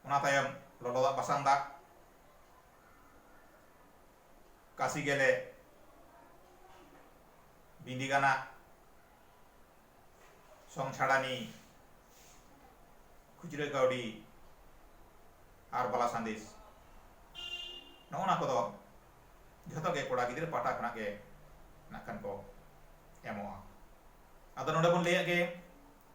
ᱚᱱᱟ ᱛᱟᱭᱚᱢ ᱞᱚᱞᱚ ᱫᱟᱜ ᱵᱟᱥᱟᱝ ᱫᱟᱜ ᱠᱟᱥᱤ ᱜᱮᱞᱮ ᱵᱤᱸᱫᱤ ᱜᱟᱱᱟᱜ ᱥᱚᱝ ᱪᱷᱟᱲᱟᱱᱤ ᱠᱷᱩᱪᱨᱟᱹ ᱠᱟᱹᱣᱰᱤ ᱟᱨ ᱵᱟᱞᱟ ᱥᱟᱸᱫᱮᱥ ᱱᱚᱜᱼᱚ ᱱᱟ ᱠᱚᱫᱚ ᱡᱷᱚᱛᱚ ᱜᱮ ᱠᱚᱲᱟ ᱜᱤᱫᱽᱨᱟᱹ ᱯᱟᱦᱴᱟ ᱠᱷᱚᱱᱟᱜ ᱜᱮ ᱱᱟᱜ ᱠᱷᱟᱱ ᱠᱚ ᱮᱢᱚᱜᱼᱟ ᱟᱫᱚ ᱱᱚᱰᱮ ᱵᱚᱱ ᱞᱟᱹᱭᱟᱜ ᱜᱮ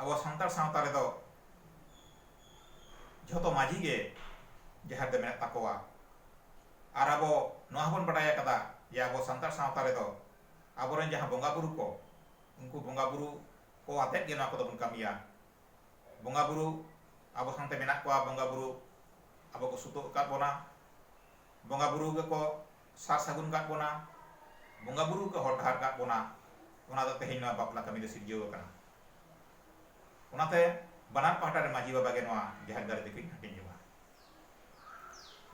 ᱟᱵᱚ ᱥᱟᱱᱛᱟᱲ ᱥᱟᱶᱛᱟ ᱨᱮᱫᱚ ᱡᱷᱚᱛᱚ ᱢᱟᱹᱡᱷᱤ ᱜᱮ ᱡᱟᱦᱮᱨ ᱫᱚ ᱢᱮᱱᱟᱜ ᱛᱟᱠᱚᱣᱟ ᱟᱨ ᱟᱵᱚ ᱱᱚᱣᱟ ᱦᱚᱸᱵᱚᱱ ᱵᱟᱰᱟᱭ ᱟᱠᱟᱫᱟ ᱡᱮ ᱟᱵᱚ ᱥᱟᱱᱛᱟᱲ ᱥᱟᱶᱛᱟ ᱨᱮᱫᱚ ᱟᱵᱚᱨᱮᱱ ᱡᱟᱦᱟᱸ ᱵᱚᱸᱜᱟ ᱵᱩᱨᱩ ᱠᱚ ᱩᱱᱠᱩ ᱵᱚᱸᱜᱟ ᱵᱩᱨᱩ ᱠᱚ ᱟᱛᱮᱫ ᱜᱮ ᱱᱚᱣᱟ ᱠᱚᱫᱚ ᱵᱚᱱ ᱠᱟᱹᱢᱤᱭᱟ ᱵᱚᱸᱜᱟ ᱵᱩᱨᱩ ᱟᱵᱚ ᱥᱟᱶᱛᱮ ᱢᱮᱱᱟᱜ ᱠᱚᱣᱟ ᱵᱚᱸᱜᱟ ᱵᱩᱨᱩ ᱟᱵᱚ ᱠᱚ ᱥᱩᱛᱩᱜ ᱟᱠᱟᱫ ᱵᱚᱱᱟ ᱵᱚᱸᱜᱟ ᱵᱩᱨᱩ ᱜᱮᱠᱚ ᱥᱟᱨ ᱥᱟᱹᱜᱩᱱ ᱠᱟᱫ ᱵᱚᱱᱟ, ᱵᱚᱸᱜᱟ ᱵᱩᱨᱩ ᱠᱚ ᱦᱚᱨ ᱰᱟᱦᱟᱨ ᱠᱟᱫ ᱵᱚᱱᱟ, ᱚᱱᱟ ᱫᱚ ᱛᱮᱦᱮᱧ ᱱᱚᱣᱟ ᱵᱟᱯᱞᱟ ᱠᱟᱹᱢᱤ ᱫᱚ ᱥᱤᱨᱡᱟᱹᱣ ᱟᱠᱟᱱᱟ᱾ ᱚᱱᱟᱛᱮ ᱵᱟᱱᱟᱨ ᱯᱟᱦᱴᱟ ᱨᱮᱱ ᱢᱟᱹᱡᱷᱤ ᱵᱟᱵᱟ ᱜᱮ ᱱᱚᱣᱟ ᱡᱟᱦᱮᱨ ᱫᱟᱲᱮ ᱫᱚᱠᱤᱱ ᱦᱟᱹᱴᱤᱧ ᱡᱚᱝᱼᱟ᱾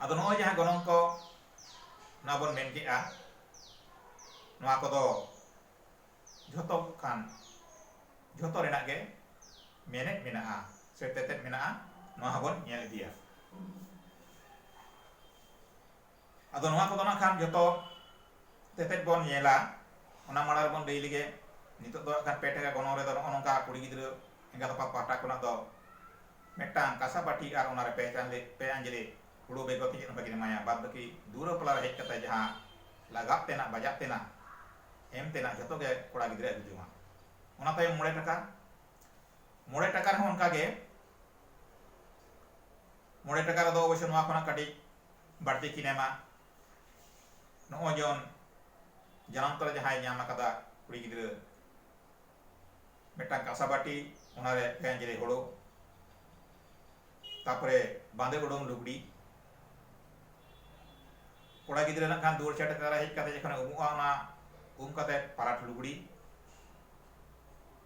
ᱟᱫᱚ ᱱᱚᱜᱼᱚᱭ ᱡᱟᱦᱟᱸ ᱜᱚᱱᱚᱝ ᱠᱚ ᱱᱚᱣᱟ ᱵᱚᱱ ᱢᱮᱱ ᱠᱮᱫᱼᱟ, ᱱᱚᱣᱟ ᱠᱚᱫᱚ ᱡᱷᱚᱛᱚ ᱠᱷᱟᱱ ᱡᱷᱚᱛᱚ ᱨᱮᱱᱟᱜ ᱜᱮ ᱢᱮᱱᱮᱫ ᱢᱮᱱᱟᱜᱼᱟ ᱥᱮ ᱛᱮᱛᱮᱫ ᱢᱮᱱᱟᱜᱼᱟ, ᱱᱚᱣᱟ ᱦᱚᱸ ᱵᱚᱱ ᱧᱮᱞ ᱤᱫᱤᱭᱟ᱾ ᱟᱫᱚ ᱱᱚᱣᱟ ᱠᱚᱫᱚ ᱱᱟᱜ ᱠᱷᱟᱱ ᱡᱚᱛᱚ ᱛᱮᱛᱮᱫ ᱵᱚᱱ ᱧᱮᱞᱟ ᱚᱱᱟ ᱢᱟᱲᱟᱝ ᱨᱮᱵᱚᱱ ᱞᱟᱹᱭ ᱞᱮᱜᱮ ᱱᱤᱛᱚᱜ ᱫᱚ ᱱᱟᱜ ᱠᱷᱟᱱ ᱯᱮ ᱴᱟᱠᱟ ᱜᱚᱱᱚᱝ ᱨᱮᱫᱚ ᱱᱚᱜᱼᱚ ᱱᱚᱝᱠᱟ ᱠᱩᱲᱤ ᱜᱤᱫᱽᱨᱟᱹ ᱮᱸᱜᱟᱛ ᱟᱯᱟᱛ ᱯᱟᱦᱴᱟ ᱠᱷᱚᱱᱟᱜ ᱫᱚ ᱢᱤᱫᱴᱟᱝ ᱠᱟᱸᱥᱟ ᱵᱟᱹᱴᱤ ᱟᱨ ᱚᱱᱟᱨᱮ ᱯᱮ ᱪᱟᱸᱫᱮ ᱯᱮ ᱟᱸᱡᱽᱞᱮ ᱦᱩᱲᱩ ᱵᱮᱜᱚᱨ ᱛᱮ ᱪᱮᱫ ᱦᱚᱸ ᱵᱟᱹᱠᱤᱱ ᱮᱢᱟᱭᱟ ᱵᱟᱫ ᱵᱟᱹᱠᱤ ᱫᱩᱣᱟᱹᱨ ᱵᱟᱯᱞᱟ ᱨᱮ ᱦᱮᱡ ᱠᱟᱛᱮ ᱡᱟᱦᱟᱸ ᱞᱟᱜᱟᱜ ᱛᱮᱱᱟᱜ ᱵᱟᱡᱟᱜ ᱛᱮᱱᱟᱜ ᱮᱢ ᱛᱮᱱᱟᱜ ᱡᱚᱛᱚ ᱜᱮ ᱠᱚᱲᱟ ᱜᱤᱫᱽᱨᱟᱹ ᱟᱹᱜᱩ ᱡᱚᱝᱟ ᱚᱱᱟ ᱛᱟᱭᱚᱢ ᱢᱚᱬᱮ ᱴᱟᱠᱟ ᱢᱚᱬᱮ ᱴᱟᱠᱟ ᱨᱮᱦᱚᱸ ᱚᱱᱠᱟ ᱜᱮ ᱢᱚᱬᱮ ᱴᱟᱠᱟ ᱨᱮᱫᱚ ᱚᱵᱚᱥᱥᱳᱭ ᱱᱚᱣᱟ ᱠᱷᱚᱱᱟᱜ ᱠᱟᱹᱴᱤᱡ ᱵᱟᱹᱲᱛᱤ ᱠᱤᱱ ᱮᱢᱟ ᱱᱚᱜᱼᱚᱭ ᱡᱚᱱ ᱡᱟᱱᱟᱢ ᱛᱚᱨᱟ ᱡᱟᱦᱟᱸᱭ ᱧᱟᱢ ᱟᱠᱟᱫᱟ ᱠᱩᱲᱤ ᱜᱤᱫᱽᱨᱟᱹ ᱢᱤᱫᱴᱟᱝ ᱠᱟᱸᱥᱟ ᱵᱟᱹᱴᱤ ᱚᱱᱟᱨᱮ ᱯᱮ ᱟᱸᱡᱽᱞᱮ ᱦᱳᱲᱳ ᱛᱟᱯᱚᱨᱮ ᱵᱟᱸᱫᱮ ᱩᱰᱩᱝ ᱞᱩᱜᱽᱲᱤ ᱠᱚᱲᱟ ᱜᱤᱫᱽᱨᱟᱹ ᱱᱟᱜ ᱠᱷᱟᱱ ᱫᱩᱣᱟᱹᱨ ᱪᱷᱟᱴᱠᱟ ᱨᱮ ᱦᱮᱡ ᱠᱟᱛᱮ ᱡᱚᱠᱷᱚᱱᱮ ᱩᱢᱩᱜᱼᱟ ᱚᱱᱟ ᱩᱢ ᱠᱟᱛᱮ ᱯᱟᱨᱟᱴ ᱞᱩᱜᱽᱲᱤ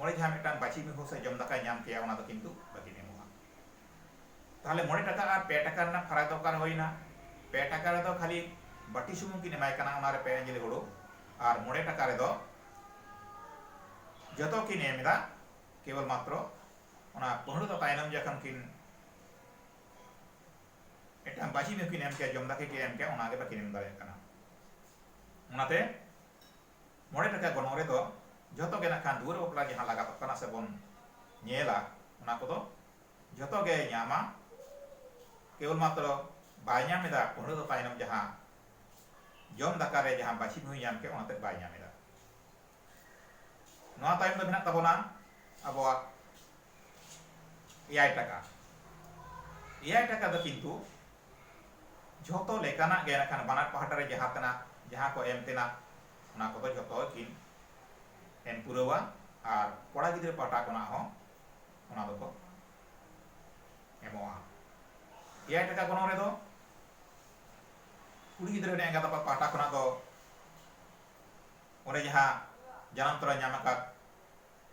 ᱚᱸᱰᱮ ᱡᱟᱦᱟᱸ ᱢᱤᱫᱴᱟᱝ ᱵᱟᱪᱷᱤ ᱢᱤᱦᱩ ᱥᱮ ᱡᱚᱢ ᱫᱟᱠᱟᱭ ᱧᱟᱢ ᱠᱮᱭᱟ ᱚᱱᱟ ᱫᱚ ᱠᱤᱱᱛᱩ ᱵᱟᱹᱠᱤᱱ ᱮᱢᱚᱜᱼᱟ ᱛᱟᱦᱚᱞᱮ ᱢᱚᱬᱮ ᱴᱟᱠᱟ ᱟᱨ ᱯᱮ ᱴᱟᱠᱟ ᱨᱮᱱᱟᱜ ᱯᱷᱟᱨᱟᱠ ᱫᱚ ᱚᱠᱟᱨᱮ ᱦᱩᱭᱱᱟ ᱯᱮ ᱴᱟᱠᱟ ᱨᱮᱫᱚ ᱠᱷᱟᱹᱞᱤ ᱵᱟᱹᱴᱤ ᱥᱩᱢᱩᱝ ᱠᱤᱱ ᱮᱢᱟᱭ ᱠᱟᱱᱟ ᱚᱱᱟᱨᱮ ᱯᱮ ᱟᱸᱡᱞᱤ ᱦᱩᱲᱩ ᱟᱨ ᱢᱚᱬᱮ ᱴᱟᱠᱟ ᱨᱮᱫᱚ ᱡᱚᱛᱚ ᱠᱤᱱ ᱮᱢ ᱮᱫᱟ ᱠᱮᱵᱚᱞ ᱢᱟᱛᱨᱚ ᱚᱱᱟ ᱯᱟᱹᱦᱩᱲ ᱫᱚ ᱛᱟᱭᱱᱚᱢ ᱡᱚᱠᱷᱚᱱ ᱠᱤᱱ ᱢᱤᱫᱴᱟᱝ ᱵᱟᱹᱪᱷᱤ ᱢᱤᱦᱩ ᱠᱤᱱ ᱮᱢ ᱠᱮᱭᱟ ᱡᱚᱢ ᱫᱟᱠᱟ ᱠᱤᱱ ᱮᱢ ᱠᱮᱭᱟ ᱚᱱᱟᱜᱮ ᱵᱟᱹᱠᱤᱱ ᱮᱢ ᱫᱟᱲᱮᱭᱟᱜ ᱠᱟᱱᱟ ᱚᱱᱟᱛᱮ ᱢᱚᱬᱮ ᱴᱟᱠᱟ ᱜᱚᱱᱚᱝ ᱨᱮᱫᱚ ᱡᱷᱚᱛᱚ ᱜᱮ ᱱᱟᱜ ᱠᱷᱟᱱ ᱫᱩᱣᱟᱹᱨ ᱵᱟᱯᱞᱟ ᱡᱟᱦᱟᱸ ᱞᱟᱜᱟᱛᱚᱜ ᱠᱟᱱᱟ ᱥᱮ ᱵᱚᱱ ᱧᱮᱞᱟ ᱚᱱᱟ ᱠᱚᱫᱚ ᱡᱷᱚᱛᱚ ᱜᱮᱭ ᱧᱟᱢᱟ ᱠᱮᱵᱚᱞ ᱢᱟᱛᱨᱚ ᱵᱟᱭ ᱧᱟᱢ ᱮᱫᱟ ᱯᱟᱹᱦᱲᱟᱹ ᱫᱚ ᱛᱟᱭᱱᱚᱢ ᱡᱟᱦᱟᱸ ᱡᱚᱢ ᱫᱟᱠᱟ ᱨᱮ ᱡᱟᱦᱟᱸ ᱵᱟᱹᱪᱷᱤ ᱵᱷᱩᱭ ᱧᱟᱢ ᱠᱮᱫ ᱚᱱᱟ ᱛᱮᱫ ᱵᱟᱭ ᱧᱟᱢ ᱮᱫᱟ ᱱᱚᱣᱟ ᱛᱟᱭᱚᱢ ᱫᱚ ᱢᱮᱱᱟᱜ ᱛᱟᱵᱚᱱᱟ ᱟᱵᱚᱣᱟᱜ ᱮᱭᱟᱭ ᱴᱟᱠᱟ ᱮᱭᱟᱭ ᱴᱟᱠᱟ ᱫᱚ ᱠᱤᱱᱛᱩ ᱡᱷᱚᱛᱚ ᱞᱮᱠᱟᱱᱟᱜ ᱜᱮ ᱱᱟᱠᱷᱟᱱ ᱵᱟᱱᱟᱨ ᱯᱟᱦᱴᱟ ᱨᱮ ᱡᱟᱦᱟᱸ ᱛᱮᱱᱟᱜ ᱡᱟᱦᱟᱸ ᱠᱚ ᱮᱢ ᱛᱮᱱᱟᱜ ᱚᱱᱟ ᱠᱚᱫᱚ ᱡᱷᱚᱛᱚ ᱠᱤᱱ ᱮᱢ ᱯᱩᱨᱟᱹᱣᱟ ᱟᱨ ᱠᱚᱲᱟ ᱜᱤᱫᱽᱨᱟᱹ ᱯᱟᱦᱴᱟ ᱠᱷᱚᱱᱟᱜ ᱦᱚᱸ ᱚᱱᱟ ᱫᱚᱠᱚ ᱮᱢᱚᱜᱼᱟ ᱮᱭᱟᱭ ᱴᱟᱠᱟ ᱜᱚᱱᱚᱝ ᱨᱮᱫᱚ ᱠᱩᱲᱤ ᱜᱤᱫᱽᱨᱟᱹ ᱨᱮᱱ ᱮᱸᱜᱟᱛ ᱟᱯᱟᱛ ᱯᱟᱦᱴᱟ ᱠᱷᱚᱱᱟᱜ ᱫᱚ ᱚᱱᱮ ᱡᱟᱦᱟᱸ ᱡᱟᱱᱟᱢ ᱛᱚᱨᱟ ᱧᱟᱢ ᱟᱠᱟᱫ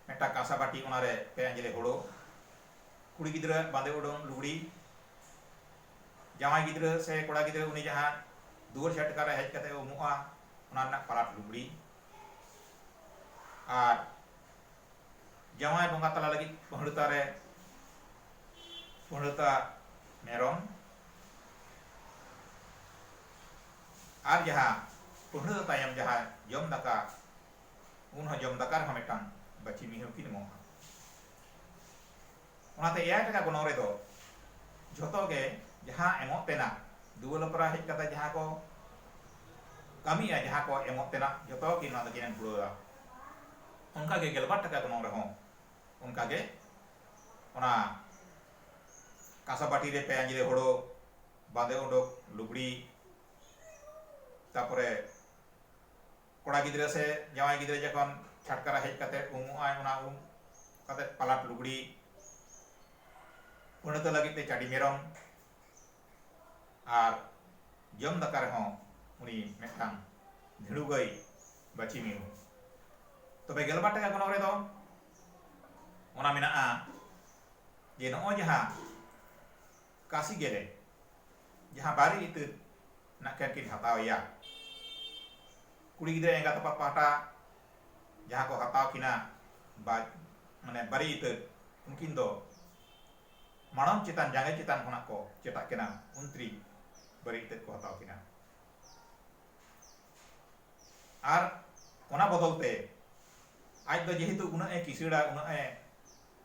ᱢᱤᱫᱴᱟᱝ ᱠᱟᱸᱥᱟ ᱵᱟᱹᱴᱤ ᱚᱱᱟ ᱨᱮ ᱯᱮ ᱟᱸᱡᱽᱞᱮ ᱦᱳᱲᱳ ᱠᱩᱲᱤ ᱜᱤᱫᱽᱨᱟᱹ ᱟᱜ ᱵᱟᱸᱫᱮ ᱩᱰᱩᱝ ᱞᱩᱜᱽᱲᱤ ᱡᱟᱶᱟᱭ ᱜᱤᱫᱽᱨᱟᱹ ᱥᱮ ᱠᱚᱲᱟ ᱜᱤᱫᱽᱨᱟᱹ ᱩᱱᱤ ᱡᱟᱦᱟᱸ ᱫᱩᱣᱟᱹᱨ ᱪᱷᱟᱴᱠᱟ ᱨᱮ ᱦᱮᱡ ᱠᱟᱛᱮ ᱩᱢᱩᱜᱼᱟ ᱚᱱᱟ ᱨᱮᱱᱟᱜ ᱯᱟᱞᱟᱴ ᱞᱩᱜᱽᱲᱤ ᱟᱨ ᱡᱟᱶᱟᱭ ᱵᱚᱸᱜᱟ ᱛᱟᱞᱟ ᱞᱟᱹᱜᱤᱫ ᱯᱟᱹᱦᱲᱟᱹᱛᱟ ᱨᱮ ᱯᱟᱹᱦᱲᱟᱹᱛᱟ ᱢᱮᱨᱚᱢ ᱟᱨ ᱡᱟᱦᱟᱸ ᱯᱟᱹᱦᱲᱟᱹᱛᱟ ᱛᱟᱭᱚᱢ ᱡᱟᱦᱟᱸ ᱡᱚᱢ ᱫᱟᱠᱟ ᱩᱱ ᱦᱚᱸ ᱡᱚᱢ ᱫᱟᱠᱟ ᱨᱮᱦᱚᱸ ᱢᱤᱫᱴᱟᱝ ᱵᱟᱹᱪᱤ ᱢᱤᱦᱟᱹᱣ ᱠᱤᱱ ᱮᱢᱚᱜᱼᱟ ᱚᱱᱟᱛᱮ ᱮᱭᱟᱭ ᱴᱟᱠᱟ ᱜᱚᱱᱚᱝ ᱨᱮᱫᱚ ᱡᱷᱚᱛᱚ ᱜᱮ ᱡᱟᱦᱟᱸ ᱮᱢᱚᱜ ᱛᱮᱱᱟᱜ ᱫᱩᱣᱟᱹ ᱞᱚᱠᱨᱟ ᱦᱮᱡ ᱠᱟᱛᱮ ᱡᱟᱦᱟᱸ ᱠᱚ ᱠᱟᱹᱢᱤᱜᱼᱟ ᱡᱟᱦᱟᱸ ᱠᱚ ᱮᱢᱚᱜ ᱛᱮᱱᱟᱜ ᱡᱷᱚᱛᱚ ᱜᱮ ᱱᱚᱣᱟ ᱫᱚᱠᱤᱱ ᱮᱢ ᱯᱩᱨᱟᱹᱣᱟ ᱚᱱᱠᱟ ᱜᱮ ᱜᱮᱞᱵᱟᱨ ᱴᱟᱠᱟ ᱜᱚᱱᱚᱝ ᱨᱮᱦᱚᱸ ᱚᱱᱠᱟ ᱜᱮ ᱚᱱᱟ ᱠᱟᱸᱥᱟ ᱵᱟᱹᱴᱤ ᱨᱮ ᱯᱮ ᱟᱸᱡᱽᱞᱮ ᱦᱳᱲᱳ ᱵᱟᱸᱫᱮ ᱩᱰᱩᱠ ᱞᱩᱜᱽᱲᱤ ᱛᱟᱨᱯᱚᱨᱮ ᱠᱚᱲᱟ ᱜᱤᱫᱽᱨᱟᱹ ᱥᱮ ᱡᱟᱶᱟᱭ ᱜᱤᱫᱽᱨᱟᱹ ᱡᱚᱠᱷᱚᱱ ᱪᱷᱟᱴᱠᱟ ᱨᱮ ᱦᱮᱡ ᱠᱟᱛᱮ ᱩᱢᱩᱜ ᱟᱭ ᱚᱱᱟ ᱩᱢ ᱠᱟᱛᱮ ᱯᱟᱞᱟᱴ ᱞᱩᱜᱽᱲᱤ ᱯᱟᱹᱲᱦᱟᱹᱛᱚ ᱞᱟᱹᱜᱤᱫ ᱛᱮ ᱪᱟᱹᱰᱤ ᱢᱮᱨᱚᱢ ᱟᱨ ᱡᱚᱢ ᱫᱟᱠᱟ ᱨᱮᱦᱚᱸ ᱩᱱᱤ ᱢᱤᱫᱴᱟᱝ ᱫᱷᱤᱲᱩ ᱜᱟᱹᱭ ᱵᱟᱹᱪᱤ ᱢᱤᱦᱩ ᱛᱚᱵᱮ ᱜᱮᱞᱵᱟᱨ ᱴᱟᱠᱟ ᱜᱚᱱᱚᱝ ᱨᱮᱫᱚ ᱚᱱᱟ ᱢᱮᱱᱟᱜᱼᱟ ᱡᱮ ᱱᱚᱜᱼᱚᱭ ᱡᱟᱦᱟᱸ ᱠᱟᱥᱤ ᱜᱮᱞᱮ ᱡᱟᱦᱟᱸ ᱵᱟᱨᱮ ᱤᱛᱟᱹᱫ ᱱᱟᱜ ᱠᱷᱟᱱ ᱠᱤᱱ ᱦᱟᱛᱟᱣ ᱮᱭᱟ ᱠᱩᱲᱤ ᱜᱤᱫᱽᱨᱟᱹ ᱮᱸᱜᱟᱛ ᱟᱯᱟᱛ ᱯᱟᱦᱴᱟ ᱡᱟᱦᱟᱸ ᱠᱚ ᱦᱟᱛᱟᱣ ᱠᱤᱱᱟ ᱵᱟ ᱢᱟᱱᱮ ᱵᱟᱨᱮ ᱤᱛᱟᱹᱫ ᱩᱱᱠᱤᱱ ᱫᱚ ᱢᱟᱲᱟᱝ ᱪᱮᱛᱟᱱ ᱡᱟᱸᱜᱟ ᱪᱮᱛᱟᱱ ᱠᱷᱚᱱᱟᱜ ᱠᱚ ᱪᱮᱴᱟᱜ ᱠᱤᱱᱟ ᱩᱱᱛᱨᱤ ᱵᱟᱨᱮ ᱤᱛᱟᱹᱫ ᱠᱚ ᱦᱟᱛᱟᱣ ᱠᱤᱱᱟ ᱟᱨ ᱚᱱᱟ ᱵᱚᱫᱚᱞ ᱛᱮ ᱟᱡ ᱫᱚ ᱡᱮᱦᱮᱛᱩ ᱩᱱᱟᱹᱜ ᱮ ᱠᱤᱥᱟᱹᱬᱟ ᱩᱱᱟᱹᱜ ᱮ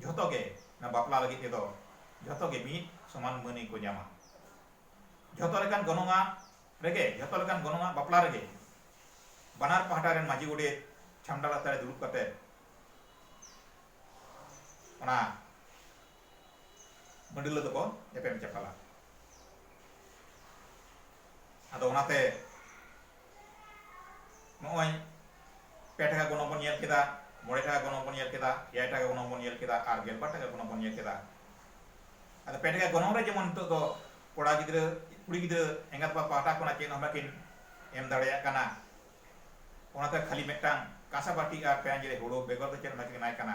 ᱡᱷᱚᱛᱚ ᱜᱮ ᱚᱱᱟ ᱵᱟᱯᱞᱟ ᱞᱟᱹᱜᱤᱫ ᱛᱮᱫᱚ ᱡᱷᱚᱛᱚ ᱜᱮ ᱢᱤᱫ ᱥᱚᱢᱟᱱ ᱢᱟᱹᱱ ᱜᱮᱠᱚ ᱧᱟᱢᱟ ᱡᱷᱚᱛᱚ ᱞᱮᱠᱟᱱ ᱜᱚᱱᱚᱝᱟ ᱨᱮᱜᱮ ᱡᱷᱚᱛᱚ ᱞᱮᱠᱟᱱ ᱜᱚᱱᱚᱝᱟ ᱵᱟᱯᱞᱟ ᱨᱮᱜᱮ ᱵᱟᱱᱟᱨ ᱯᱟᱦᱴᱟ ᱨᱮᱱ ᱢᱟᱹᱡᱷᱤ ᱜᱚᱰᱮᱛ ᱪᱷᱟᱢᱰᱟ ᱞᱟᱛᱟᱨ ᱨᱮ ᱫᱩᱲᱩᱵ ᱠᱟᱛᱮ ᱚᱱᱟ ᱢᱟᱹᱰᱤᱞᱟᱹ ᱫᱚᱠᱚ ᱮᱯᱮᱢ ᱪᱟᱯᱟᱞᱟ ᱟᱫᱚ ᱚᱱᱟᱛᱮ ᱱᱚᱜᱼᱚᱭ ᱯᱮ ᱴᱟᱠᱟ ᱜᱚᱱᱚᱝ ᱵᱚᱱ ᱧᱮᱞ ᱠᱮᱫᱟ ᱢᱚᱬᱮ ᱴᱟᱠᱟ ᱜᱚᱱᱚᱝ ᱵᱚᱱ ᱧᱮᱞ ᱠᱮᱫᱟ ᱮᱭᱟᱭ ᱴᱟᱠᱟ ᱜᱚᱱᱚᱝ ᱵᱚᱱ ᱧᱮᱞ ᱠᱮᱫᱟ ᱟᱨ ᱜᱮᱞᱵᱟᱨ ᱴᱟᱠᱟ ᱜᱚᱱᱚᱝ ᱵᱚᱱ ᱧᱮᱞ ᱠᱮᱫᱟ ᱟᱫᱚ ᱯᱮ ᱴᱟᱠᱟ ᱜᱚᱱᱚᱝ ᱨᱮ ᱡᱮᱢᱚᱱ ᱱᱤᱛᱚᱜ ᱫᱚ ᱠᱚᱲᱟ ᱜᱤᱫᱽᱨᱟᱹ ᱠᱩᱲᱤ ᱜᱤᱫᱽᱨᱟᱹ ᱮᱸᱜᱟᱛ ᱟᱯᱟᱛ ᱯᱟᱦᱴᱟ ᱠᱷᱚᱱᱟᱜ ᱪᱮᱫ ᱦᱚᱸ ᱵᱟᱹᱠᱤᱱ ᱮᱢ ᱫᱟᱲᱮᱭᱟᱜ ᱠᱟᱱᱟ ᱚᱱᱟᱛᱮ ᱠᱷᱟᱹᱞᱤ ᱢᱤᱫᱴᱟᱝ ᱠᱟᱸᱥᱟ ᱵᱟᱹᱴᱤ ᱟᱨ ᱯᱮᱸᱭᱟᱡᱽ ᱨᱮ ᱦᱳᱲᱳ ᱵᱮᱜᱚᱨ ᱫᱚ ᱪᱮᱫ ᱦᱚᱸ ᱵᱟᱹᱠᱤᱱ ᱮᱢᱟᱭ ᱠᱟᱱᱟ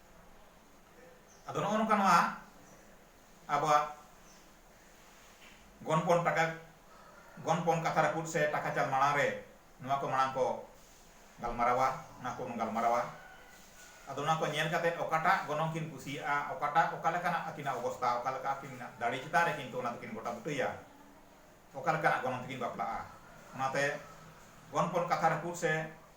ᱟᱫᱚ ᱱᱚᱜᱼᱚ ᱱᱚᱝᱠᱟ ᱱᱚᱣᱟ ᱟᱵᱚᱣᱟᱜ ᱜᱚᱱᱯᱚᱱ ᱴᱟᱠᱟ ᱜᱚᱱᱯᱚᱱ ᱠᱟᱛᱷᱟ ᱨᱟᱹᱯᱩᱫ ᱥᱮ ᱴᱟᱠᱟ ᱪᱟᱞ ᱢᱟᱲᱟᱝ ᱨᱮ ᱱᱚᱣᱟ ᱠᱚ ᱢᱟᱲᱟᱝ ᱠᱚ ᱜᱟᱞᱢᱟᱨᱟᱣᱟ ᱚᱱᱟ ᱠᱚᱵᱚᱱ ᱜᱟᱞᱢᱟᱨᱟᱣᱟ ᱟᱫᱚ ᱚᱱᱟ ᱠᱚ ᱧᱮᱞ ᱠᱟᱛᱮ ᱚᱠᱟᱴᱟᱜ ᱜᱚᱱᱚᱝ ᱠᱤᱱ ᱠᱩᱥᱤᱭᱟᱜᱼᱟ ᱚᱠᱟᱴᱟᱜ ᱚᱠᱟ ᱞᱮᱠᱟᱱᱟᱜ ᱟᱹᱠᱤᱱᱟᱜ ᱚᱵᱚᱥᱛᱟ ᱚᱠᱟ ᱞᱮᱠᱟ ᱟᱹᱠᱤᱱᱟᱜ ᱫᱟᱲᱮ ᱪᱮᱛᱟᱱ ᱨᱮ ᱠᱤᱱᱛᱩ ᱚᱱᱟ ᱫᱚᱠᱤᱱ ᱜᱚᱴᱟ ᱵᱩᱴᱟᱹᱭᱟ ᱚᱠᱟ ᱞᱮᱠᱟᱱᱟᱜ ᱜᱚᱱᱚᱝ ᱛᱮᱠᱤᱱ ᱵᱟᱯᱞᱟᱜᱼᱟ ᱚᱱᱟᱛᱮ ᱜᱚᱱᱯᱚᱱ ᱠᱟᱛᱷᱟ ᱨᱟᱹᱯᱩᱫ ᱥᱮ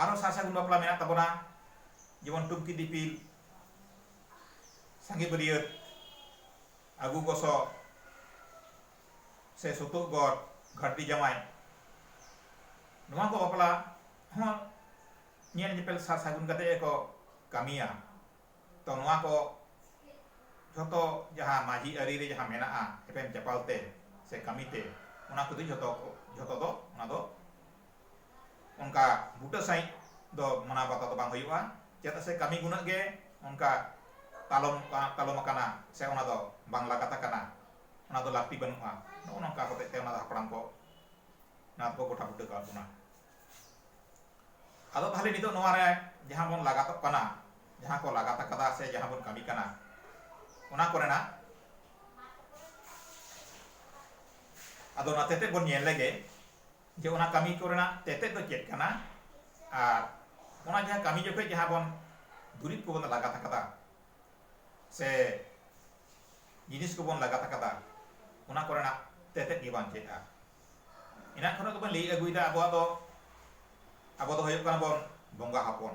ᱟᱨᱚ ᱥᱟᱨ ᱥᱟᱹᱜᱩᱱ ᱵᱟᱯᱞᱟ ᱢᱮᱱᱟᱜ ᱛᱟᱵᱚᱱᱟ ᱡᱮᱢᱚᱱ ᱴᱩᱢᱠᱤ ᱫᱤᱯᱤᱞ ᱥᱟᱸᱜᱮ ᱵᱟᱹᱨᱭᱟᱹᱛ ᱟᱹᱜᱩ ᱜᱚᱥᱚ ᱥᱮ ᱥᱩᱛᱩᱜ ᱜᱚᱨ ᱜᱷᱟᱹᱴᱤ ᱡᱟᱢᱟᱭ ᱱᱚᱣᱟ ᱠᱚ ᱵᱟᱯᱞᱟ ᱦᱚᱸ ᱧᱮᱞ ᱧᱮᱯᱮᱞ ᱥᱟᱨ ᱥᱟᱹᱜᱩᱱ ᱠᱟᱛᱮ ᱜᱮᱠᱚ ᱠᱟᱹᱢᱤᱭᱟ ᱛᱚ ᱱᱚᱣᱟ ᱠᱚ ᱡᱷᱚᱛᱚ ᱡᱟᱦᱟᱸ ᱢᱟᱹᱡᱷᱤ ᱟᱹᱨᱤ ᱨᱮ ᱡᱟᱦᱟᱸ ᱢᱮᱱᱟᱜᱼᱟ ᱮᱯᱮᱢ ᱪᱟᱯᱟᱞ ᱛᱮ ᱥᱮ ᱠᱟᱹᱢᱤ ᱛᱮ ᱚᱱᱟ ᱠᱚᱫᱚ ᱡᱷᱚᱛᱚ ᱡᱷᱚᱛᱚ ᱫᱚ ᱚᱱᱟ ᱫᱚ ᱚᱱᱠᱟ ᱵᱩᱴᱟᱹ ᱥᱟᱺᱦᱤᱡ ᱫᱚ ᱢᱟᱱᱟᱣ ᱵᱟᱛᱟᱣ ᱫᱚ ᱵᱟᱝ ᱦᱩᱭᱩᱜᱼᱟ ᱪᱮᱫᱟᱜ ᱥᱮ ᱠᱟᱹᱢᱤ ᱜᱩᱱᱟᱹᱜ ᱜᱮ ᱚᱱᱠᱟ ᱛᱟᱞᱚᱢ ᱛᱟᱞᱚᱢ ᱟᱠᱟᱱᱟ ᱥᱮ ᱚᱱᱟ ᱫᱚ ᱵᱟᱝ ᱞᱟᱜᱟᱛ ᱟᱠᱟᱱᱟ ᱚᱱᱟ ᱫᱚ ᱞᱟᱹᱠᱛᱤ ᱵᱟᱹᱱᱩᱜᱼᱟ ᱱᱚᱜᱼᱚ ᱱᱚᱝᱠᱟ ᱦᱚᱛᱮᱡ ᱛᱮ ᱚᱱᱟ ᱫᱚ ᱦᱟᱯᱲᱟᱢ ᱠᱚ ᱱᱚᱣᱟ ᱫᱚᱠᱚ ᱜᱚᱴᱟ ᱵᱩᱴᱟᱹ ᱠᱟᱜ ᱵᱚᱱᱟ ᱟᱫᱚ ᱛᱟᱦᱞᱮ ᱱᱤᱛᱚᱜ ᱱᱚᱣᱟ ᱨᱮ ᱡᱟᱦᱟᱸ ᱵᱚᱱ ᱞᱟᱜᱟᱛᱚᱜ ᱠᱟᱱᱟ ᱡᱟᱦᱟᱸ ᱠᱚ ᱞᱟᱜᱟᱛ ᱟᱠᱟᱫᱟ ᱥᱮ ᱡᱟᱦᱟᱸ ᱵᱚᱱ ᱠᱟᱹᱢᱤ ᱠᱟᱱᱟ ᱚᱱᱟ ᱠᱚᱨᱮᱱᱟᱜ ᱟᱫᱚ ᱚᱱᱟ ᱛᱮᱛᱮᱫ ᱵᱚᱱ ᱧᱮᱞ ᱞᱮᱜᱮ ᱡᱮ ᱚᱱᱟ ᱠᱟᱹᱢᱤ ᱠᱚ ᱨᱮᱱᱟᱜ ᱛᱮᱛᱮᱫ ᱫᱚ ᱪᱮᱫ ᱠᱟᱱᱟ ᱟᱨ ᱚᱱᱟ ᱡᱟᱦᱟᱸ ᱠᱟᱹᱢᱤ ᱡᱚᱠᱷᱚᱱ ᱡᱟᱦᱟᱸ ᱵᱚᱱ ᱫᱩᱨᱤᱵᱽ ᱠᱚᱵᱚᱱ ᱞᱟᱜᱟᱛ ᱟᱠᱟᱫᱟ ᱥᱮ ᱡᱤᱱᱤᱥ ᱠᱚᱵᱚᱱ ᱞᱟᱜᱟᱛ ᱟᱠᱟᱫᱟ ᱚᱱᱟ ᱠᱚ ᱨᱮᱱᱟᱜ ᱛᱮᱛᱮᱫ ᱜᱮ ᱵᱟᱝ ᱪᱮᱫᱼᱟ ᱮᱱᱟᱜ ᱠᱷᱚᱱᱟᱜ ᱜᱮᱵᱚᱱ ᱞᱟᱹᱭ ᱟᱹᱜᱩᱭᱮᱫᱟ ᱟᱵᱚᱣᱟᱜ ᱫᱚ ᱟᱵᱚ ᱫᱚ ᱦᱩᱭᱩᱜ ᱠᱟᱱᱟ ᱵᱚᱱ ᱵᱚᱸᱜᱟ ᱦᱚᱯᱚᱱ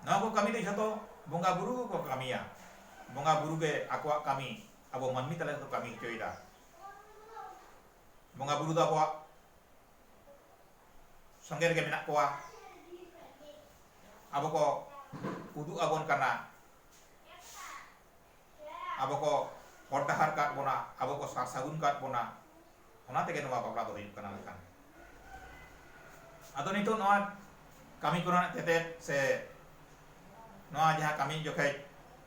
ᱱᱚᱣᱟ ᱠᱚ ᱠᱟᱹᱢᱤ ᱫᱚ ᱡᱷᱚᱛᱚ ᱵᱚᱸᱜᱟ ᱵᱩᱨᱩ ᱜᱮᱠᱚ ᱠᱟᱹᱢᱤᱭᱟ ᱵᱚᱸᱜᱟ ᱵᱩᱨᱩ ᱜᱮ ᱟᱠᱚᱣᱟᱜ ᱠᱟᱹᱢᱤ ᱟᱵᱚ ᱢᱟᱹᱱᱢᱤ ᱛᱟᱞᱟ ᱨᱮᱠᱚ ᱠᱟᱹᱢᱤ ᱦᱚᱪᱚᱭᱮᱫᱟ ᱵᱚᱸᱜᱟ ᱵᱩᱨᱩ ᱫᱚ ᱟᱵᱚᱣᱟᱜ ᱥᱚᱸᱜᱮ ᱨᱮᱜᱮ ᱢᱮᱱᱟᱜ ᱠᱚᱣᱟ ᱟᱵᱚ ᱠᱚ ᱩᱫᱩᱜ ᱟᱵᱚᱱ ᱠᱟᱱᱟ ᱟᱵᱚ ᱠᱚ ᱦᱚᱨ ᱰᱟᱦᱟᱨ ᱠᱟᱫ ᱵᱚᱱᱟ ᱟᱵᱚ ᱠᱚ ᱥᱟᱨ ᱥᱟᱹᱜᱩᱱ ᱠᱟᱫ ᱵᱚᱱᱟ ᱚᱱᱟ ᱛᱮᱜᱮ ᱱᱚᱣᱟ ᱵᱟᱯᱞᱟ ᱫᱚ ᱦᱩᱭᱩᱜ ᱠᱟᱱᱟ ᱢᱮᱱᱠᱷᱟᱱ ᱟᱫᱚ ᱱᱤᱛᱚᱜ ᱱᱚᱣᱟ ᱠᱟᱹᱢᱤ ᱠᱚᱨᱮᱱᱟᱜ ᱛᱮᱛᱮᱫ ᱥᱮ ᱱᱚᱣᱟ ᱡᱟᱦᱟᱸ ᱠᱟᱹᱢᱤ ᱡᱚᱠᱷᱮᱡ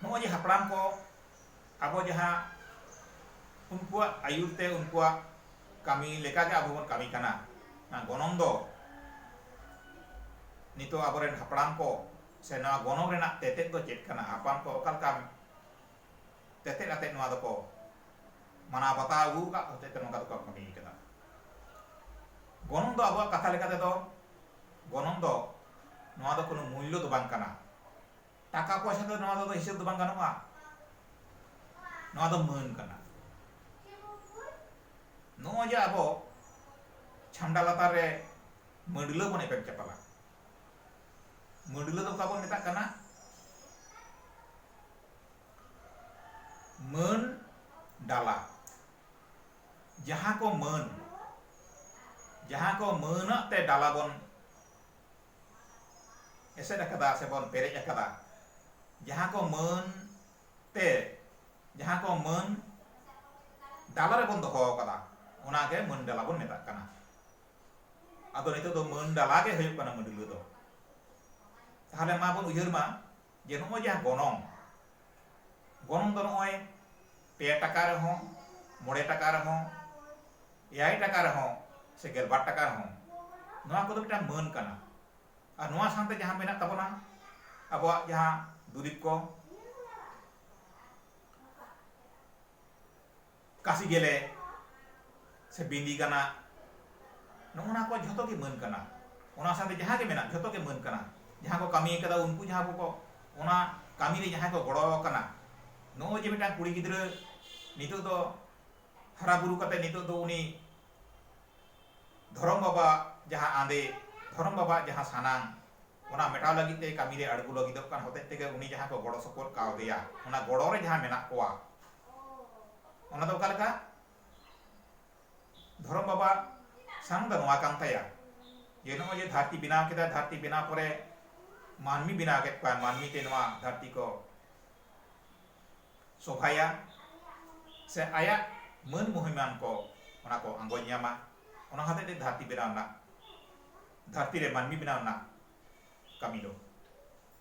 ᱱᱚᱜᱼᱚᱭ ᱡᱮ ᱦᱟᱯᱲᱟᱢ ᱠᱚ ᱟᱵᱚ ᱡᱟᱦᱟᱸ ᱩᱱᱠᱩᱣᱟᱜ ᱟᱹᱭᱩᱨ ᱛᱮ ᱩᱱᱠᱩᱣᱟᱜ ᱠᱟᱹᱢᱤ ᱞᱮᱠᱟᱜᱮ ᱟᱵᱚ ᱵᱚᱱ ᱠᱟᱹᱢᱤ ᱠᱟᱱᱟ ᱱᱚᱣᱟ ᱜᱚᱱᱚᱝ ᱫᱚ ᱱᱤᱛᱚᱜ ᱟᱵᱚᱨᱮᱱ ᱦᱟᱯᱲᱟᱢ ᱠᱚ ᱥᱮ ᱱᱚᱣᱟ ᱜᱚᱱᱚᱝ ᱨᱮᱱᱟᱜ ᱛᱮᱛᱮᱫ ᱫᱚ ᱪᱮᱫ ᱠᱟᱱᱟ ᱦᱟᱯᱲᱟᱢ ᱠᱚ ᱚᱠᱟ ᱞᱮᱠᱟ ᱛᱮᱛᱮᱫ ᱟᱛᱮᱫ ᱱᱚᱣᱟ ᱫᱚᱠᱚ ᱢᱟᱱᱟᱣ ᱵᱟᱛᱟᱣ ᱟᱹᱜᱩ ᱟᱠᱟᱫ ᱦᱚᱛᱮᱡ ᱛᱮ ᱱᱚᱝᱠᱟ ᱫᱚᱠᱚ ᱠᱟᱹᱢᱤ ᱠᱟᱫᱟ ᱜᱚᱱᱚᱝ ᱫᱚ ᱟᱵᱚᱣᱟᱜ ᱠᱟᱛᱷᱟ ᱞᱮᱠᱟ ᱛᱮᱫᱚ ᱜᱚᱱᱚᱝ ᱫᱚ ᱱᱚᱣᱟ ᱫᱚ ᱠᱳᱱᱳ ᱢᱩᱞᱞᱚ ᱫᱚ ᱵᱟᱝ ᱠᱟᱱᱟ ᱴᱟᱠᱟ ᱯᱚᱭᱥᱟ ᱫᱚ ᱱᱚᱣᱟ ᱫᱚ ᱦᱤᱥᱟᱹᱵ ᱫᱚ ᱵᱟᱝ ᱜᱟᱱᱚᱜᱼᱟ ᱱᱚᱣᱟ ᱫᱚ ᱢᱟᱹᱱ ᱠᱟᱱᱟ ᱱᱚᱜᱼᱚᱭ ᱡᱮ ᱟᱵᱚ ᱪᱷᱟᱢᱰᱟ ᱞᱟᱛᱟᱨ ᱨᱮ ᱢᱟᱹᱰᱞᱟᱹ ᱵᱚᱱ ᱮᱯᱮᱢ ᱪᱟᱯᱟᱞᱟ ᱢᱟᱹᱰᱞᱟᱹ ᱫᱚ ᱚᱠᱟ ᱵᱚᱱ ᱢᱮᱛᱟᱜ ᱠᱟᱱᱟ ᱢᱟᱹᱱ ᱰᱟᱞᱟ ᱡᱟᱦᱟᱸ ᱠᱚ ᱢᱟᱹᱱ ᱡᱟᱦᱟᱸ ᱠᱚ ᱢᱟᱹᱱᱟᱜ ᱛᱮ ᱰᱟᱞᱟ ᱵᱚᱱ ᱮᱥᱮᱫ ᱟᱠᱟᱫᱟ ᱥᱮ ᱵᱚᱱ ᱯᱮᱨᱮᱡ ᱟᱠᱟᱫᱟ ᱡᱟᱦᱟᱸ ᱠᱚ ᱢᱟᱹᱱ ᱛᱮ ᱡᱟᱦᱟᱸ ᱠᱚ ᱢᱟᱹᱱ ᱰᱟᱞᱟ ᱨᱮ ᱵᱚᱱ ᱫᱚᱦᱚ ᱟᱠᱟᱫᱟ ᱚᱱᱟ ᱜᱮ ᱢᱟᱹᱱ ᱰᱟᱞᱟ ᱵᱚᱱ ᱢᱮᱛᱟᱜ ᱠᱟᱱᱟ ᱟᱫᱚ ᱱᱤᱛᱚᱜ ᱫᱚ ᱢᱟᱹᱱ ᱰᱟᱞᱟ ᱜᱮ ᱦᱩᱭᱩᱜ ᱠᱟᱱᱟ ᱢᱟᱹᱰᱞᱟᱹ ᱫᱚ ᱛᱟᱦᱞᱮ ᱢᱟ ᱵᱚᱱ ᱩᱭᱦᱟᱹᱨ ᱢᱟ ᱡᱮ ᱱᱚᱜᱼᱚᱭ ᱡᱟᱦᱟᱸ ᱜᱚᱱᱚᱝ ᱜᱚᱱᱚᱝ ᱫᱚ ᱱᱚᱜᱼᱚᱭ ᱯᱮ ᱴᱟᱠᱟ ᱨᱮᱦᱚᱸ ᱢᱚᱬᱮ ᱴᱟᱠᱟ ᱨᱮᱦᱚᱸ ᱮᱭᱟᱭ ᱴᱟᱠᱟ ᱨᱮᱦᱚᱸ ᱥᱮ ᱜᱮᱞᱵᱟᱨ ᱴᱟᱠᱟ ᱨᱮᱦᱚᱸ ᱱᱚᱣᱟ ᱠᱚᱫᱚ ᱢᱤᱫᱴᱟᱝ ᱢᱟᱹᱱ ᱠᱟᱱᱟ ᱟᱨ ᱱᱚᱣᱟ ᱥᱟᱶᱛᱮ ᱡᱟᱦᱟᱸ ᱢᱮᱱᱟᱜ ᱛᱟᱵᱚᱱᱟ ᱟᱵᱚᱣᱟᱜ ᱡᱟᱦᱟᱸ ᱫᱩᱨᱤᱵ ᱠᱚ ᱠᱟᱥᱤ ᱜᱮᱞᱮ ᱥᱮ ᱵᱤᱸᱫᱤ ᱠᱟᱱᱟ ᱱᱚᱜᱼᱚ ᱱᱟ ᱠᱚ ᱡᱷᱚᱛᱚ ᱜᱮ ᱢᱟᱹᱱ ᱠᱟᱱᱟ ᱚᱱᱟ ᱥᱟᱶᱛᱮ ᱡᱟᱦᱟᱸ ᱜᱮ ᱢᱮᱱᱟᱜ ᱡᱷᱚᱛᱚ ᱜᱮ ᱢᱟᱹᱱ ᱠᱟᱱᱟ ᱡᱟᱦᱟᱸ ᱠᱚ ᱠᱟᱹᱢᱤ ᱟᱠᱟᱫᱟ ᱩᱱᱠᱩ ᱡᱟᱦᱟᱸ ᱠᱚ ᱚᱱᱟ ᱠᱟᱹᱢᱤ ᱨᱮ ᱡᱟᱦᱟᱸᱭ ᱠᱚ ᱜᱚᱲᱚ ᱟᱠᱟᱱᱟ ᱱᱚᱜᱼᱚᱭ ᱡᱮ ᱢᱤᱫᱴᱟᱝ ᱠᱩᱲᱤ ᱜᱤᱫᱽᱨᱟᱹ ᱱᱤᱛᱚᱜ ᱫᱚ ᱦᱟᱨᱟ ᱵᱩᱨᱩ ᱠᱟᱛᱮ ᱱᱤᱛᱚᱜ ᱫᱚ ᱩᱱᱤ ᱫᱷᱚᱨᱚᱢ ᱵᱟᱵᱟ ᱡᱟᱦᱟᱸ ᱟᱸᱫᱮ ᱫᱷᱚᱨᱚᱢ ᱵᱟᱵᱟ ᱡᱟᱦᱟᱸ ᱥᱟᱱᱟᱝ ᱚᱱᱟ ᱢᱮᱴᱟᱣ ᱞᱟᱹᱜᱤᱫ ᱛᱮ ᱠᱟᱹᱢᱤ ᱨᱮ ᱟᱬᱜᱚ ᱞᱟᱹᱜᱤᱫᱚᱜ ᱠᱟᱱ ᱦᱚᱛᱮᱡ ᱛᱮᱜᱮ ᱩᱱᱤ ᱡᱟᱦᱟᱸ ᱠᱚ ᱜᱚᱲᱚ ᱥᱚᱯᱚᱦᱚᱫ ᱠᱟᱣᱫᱮᱭᱟ ᱚᱱᱟ ᱜᱚᱲᱚ ᱨᱮ ᱡᱟᱦᱟᱸ ᱢᱮᱱᱟᱜ ᱠᱚᱣᱟ ᱚᱱᱟ ᱫᱚ ᱚᱠᱟ ᱞᱮᱠᱟ ᱫᱷᱚᱨᱚᱢ ᱵᱟᱵᱟ ᱥᱟᱝ ᱫᱚ ᱱᱚᱣᱟ ᱠᱟᱱ ᱛᱟᱭᱟ ᱡᱮ ᱱᱚᱜᱼᱚᱭ ᱡᱮ ᱫᱷᱟᱹᱨᱛᱤ ᱵᱮᱱᱟᱣ ᱠᱮᱫᱟ ᱫᱷᱟᱹᱨᱛᱤ ᱵᱮᱱᱟᱣ ᱯᱚᱨᱮ ᱢᱟᱹᱱᱢᱤ ᱵᱮᱱᱟᱣ ᱠᱮᱫ ᱠᱚᱣᱟ ᱢᱟᱹᱱᱢᱤ ᱛᱮ ᱱᱚᱣᱟ ᱫᱷᱟᱹᱨᱛᱤ ᱠᱚ ᱥᱚᱵᱷᱟᱭᱟ ᱥᱮ ᱟᱭᱟᱜ ᱢᱟᱹᱱ ᱢᱚᱦᱤᱢᱟᱱ ᱠᱚ ᱚᱱᱟ ᱠᱚ ᱟᱸᱜᱚᱡ ᱧᱟᱢᱟ ᱚᱱᱟ ᱦᱚᱛᱮᱡ ᱛᱮ ᱫᱷᱟᱹᱨᱛᱤ ᱵᱮᱱᱟᱣ ᱨᱮᱱᱟᱜ ᱫᱷᱟᱹᱨᱛᱤ ᱨᱮ ᱢᱟᱹᱱᱢᱤ ᱵᱮᱱᱟᱣ ᱨᱮᱱᱟᱜ ᱠᱟᱹᱢᱤ ᱫᱚ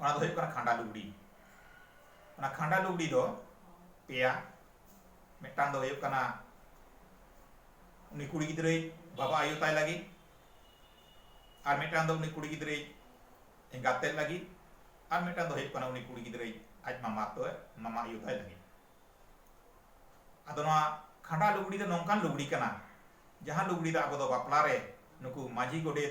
ᱚᱱᱟ ᱫᱚ ᱦᱩᱭᱩᱜ ᱠᱟᱱᱟ ᱠᱷᱟᱸᱰᱟ ᱞᱩᱜᱽᱲᱤ ᱚᱱᱟ ᱠᱷᱟᱸᱰᱟ ᱞᱩᱜᱽᱲᱤ ᱫᱚ ᱯᱮᱭᱟ ᱢᱤᱫᱴᱟᱝ ᱫᱚ ᱦᱩᱭᱩᱜ ᱠᱟᱱᱟ ᱩᱱᱤ ᱠᱩᱲᱤ ᱜᱤᱫᱽᱨᱟᱹᱭ ᱵᱟᱵᱟ ᱟᱭᱳ ᱛᱟᱭ ᱞᱟᱹᱜᱤᱫ ᱟᱨ ᱢᱤᱫᱴᱟᱝ ᱫᱚ ᱩᱱᱤ ᱠᱩᱲᱤ ᱜᱤᱫᱽᱨᱟᱹᱭ ᱮᱸᱜᱟᱛ ᱛᱮᱫ ᱞᱟᱹᱜᱤᱫ ᱟᱨ ᱢᱤᱫᱴᱟᱝ ᱫᱚ ᱦᱩᱭᱩᱜ ᱠᱟᱱᱟ ᱩᱱᱤ ᱠᱩᱲᱤ ᱜᱤᱫᱽᱨᱟᱹᱭ ᱟᱡ ᱢᱟᱢᱟ ᱛᱚ ᱢᱟᱢᱟ ᱟᱭᱳ ᱛᱟᱭ ᱞᱟᱹᱜᱤᱫ ᱟᱫᱚ ᱱᱚᱣᱟ ᱠᱷᱟᱸᱰᱟ ᱞᱩᱜᱽᱲᱤ ᱫᱚ ᱱᱚᱝᱠᱟᱱ ᱞᱩᱜᱽᱲᱤ ᱠᱟᱱᱟ ᱡᱟᱦᱟᱸ ᱞᱩᱜᱽᱲᱤ ᱫᱚ ᱟᱵᱚ ᱫᱚ ᱵᱟᱯᱞᱟ ᱨᱮ ᱱᱩᱠᱩ ᱢᱟᱹᱡᱷᱤ ᱜᱚᱰᱮᱛ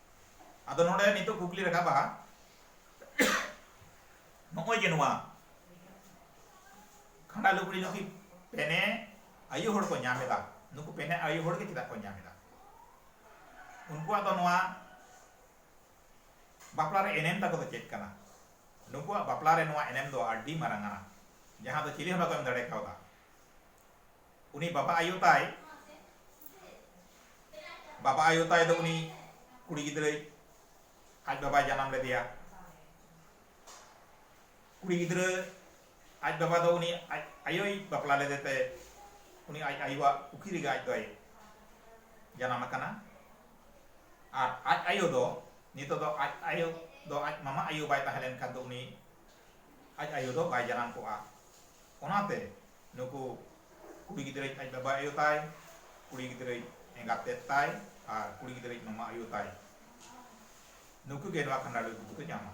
ᱟᱫᱚ ᱱᱚᱰᱮ ᱱᱤᱛᱚᱜ ᱠᱩᱠᱞᱤ ᱨᱟᱠᱟᱵᱟ ᱱᱚᱜᱼᱚᱭ ᱡᱮ ᱱᱚᱣᱟ ᱠᱷᱟᱸᱰᱟ ᱞᱩᱜᱽᱲᱤ ᱱᱩᱠᱤ ᱯᱮᱱᱮ ᱟᱭᱩ ᱦᱚᱲ ᱠᱚ ᱧᱟᱢ ᱮᱫᱟ ᱱᱩᱠᱩ ᱯᱮᱱᱮ ᱟᱭᱩ ᱦᱚᱲ ᱜᱮ ᱪᱮᱫᱟᱜ ᱠᱚ ᱧᱟᱢ ᱮᱫᱟ ᱩᱱᱠᱩᱣᱟᱜ ᱫᱚ ᱱᱚᱣᱟ ᱵᱟᱯᱞᱟ ᱨᱮ ᱮᱱᱮᱢ ᱛᱟᱠᱚ ᱫᱚ ᱪᱮᱫ ᱠᱟᱱᱟ ᱱᱩᱠᱩᱣᱟᱜ ᱵᱟᱯᱞᱟ ᱨᱮ ᱱᱚᱣᱟ ᱮᱱᱮᱢ ᱫᱚ ᱟᱹᱰᱤ ᱢᱟᱨᱟᱝ ᱟᱱᱟ ᱡᱟᱦᱟᱸ ᱫᱚ ᱪᱤᱞᱤ ᱦᱚᱸ ᱵᱟᱠᱚ ᱮᱢ ᱫᱟᱲᱮ ᱠᱟᱣᱫᱟ ᱩᱱᱤ ᱵᱟᱵᱟ ᱟᱭᱳ ᱛᱟᱭ ᱵᱟᱵᱟ ᱟᱭᱳ ᱛᱟᱭ ᱫᱚ ᱩᱱᱤ ᱠᱩᱲᱤ ᱜᱤᱫᱽᱨᱟᱹᱭ ᱟᱡ ᱵᱟᱵᱟᱭ ᱡᱟᱱᱟᱢ ᱞᱮᱫᱮᱭᱟ ᱠᱩᱲᱤ ᱜᱤᱫᱽᱨᱟᱹ ᱟᱡ ᱵᱟᱵᱟ ᱫᱚ ᱩᱱᱤ ᱟᱡ ᱟᱭᱳᱭ ᱵᱟᱯᱞᱟ ᱞᱮᱫᱮ ᱛᱮ ᱩᱱᱤ ᱟᱡ ᱟᱭᱳᱣᱟᱜ ᱯᱩᱠᱷᱤ ᱨᱮᱜᱮ ᱟᱡ ᱫᱚᱭ ᱡᱟᱱᱟᱢ ᱟᱠᱟᱱᱟ ᱟᱨ ᱟᱡ ᱟᱭᱳ ᱫᱚ ᱱᱤᱛᱚᱜ ᱫᱚ ᱟᱡ ᱟᱭᱳ ᱫᱚ ᱟᱡ ᱢᱟᱢᱟ ᱟᱭᱳ ᱵᱟᱭ ᱛᱟᱦᱮᱸ ᱞᱮᱱᱠᱷᱟᱱ ᱫᱚ ᱩᱱᱤ ᱟᱡ ᱟᱭᱳ ᱫᱚ ᱵᱟᱭ ᱡᱟᱱᱟᱢ ᱠᱚᱜᱼᱟ ᱚᱱᱟᱛᱮ ᱱᱩᱠᱩ ᱠᱩᱲᱤ ᱜᱤᱫᱽᱨᱟᱹ ᱟᱡ ᱵᱟᱵᱟ ᱟᱭᱳ ᱛᱟᱭ ᱠᱩᱲᱤ ᱜᱤᱫᱽᱨᱟᱹ ᱮᱸᱜᱟᱛ ᱛᱮᱫ ᱛᱟᱭ ᱟᱨ ᱠᱩᱲᱤ ᱜᱤᱫᱽᱨᱟᱹ ᱢᱟᱢᱟ ᱟᱭᱳ ᱛᱟᱭ ᱱᱩᱠᱩ ᱜᱮ ᱱᱚᱣᱟ ᱠᱷᱟᱸᱰᱟ ᱞᱩᱜᱽᱲᱤ ᱫᱚᱠᱚ ᱧᱟᱢᱟ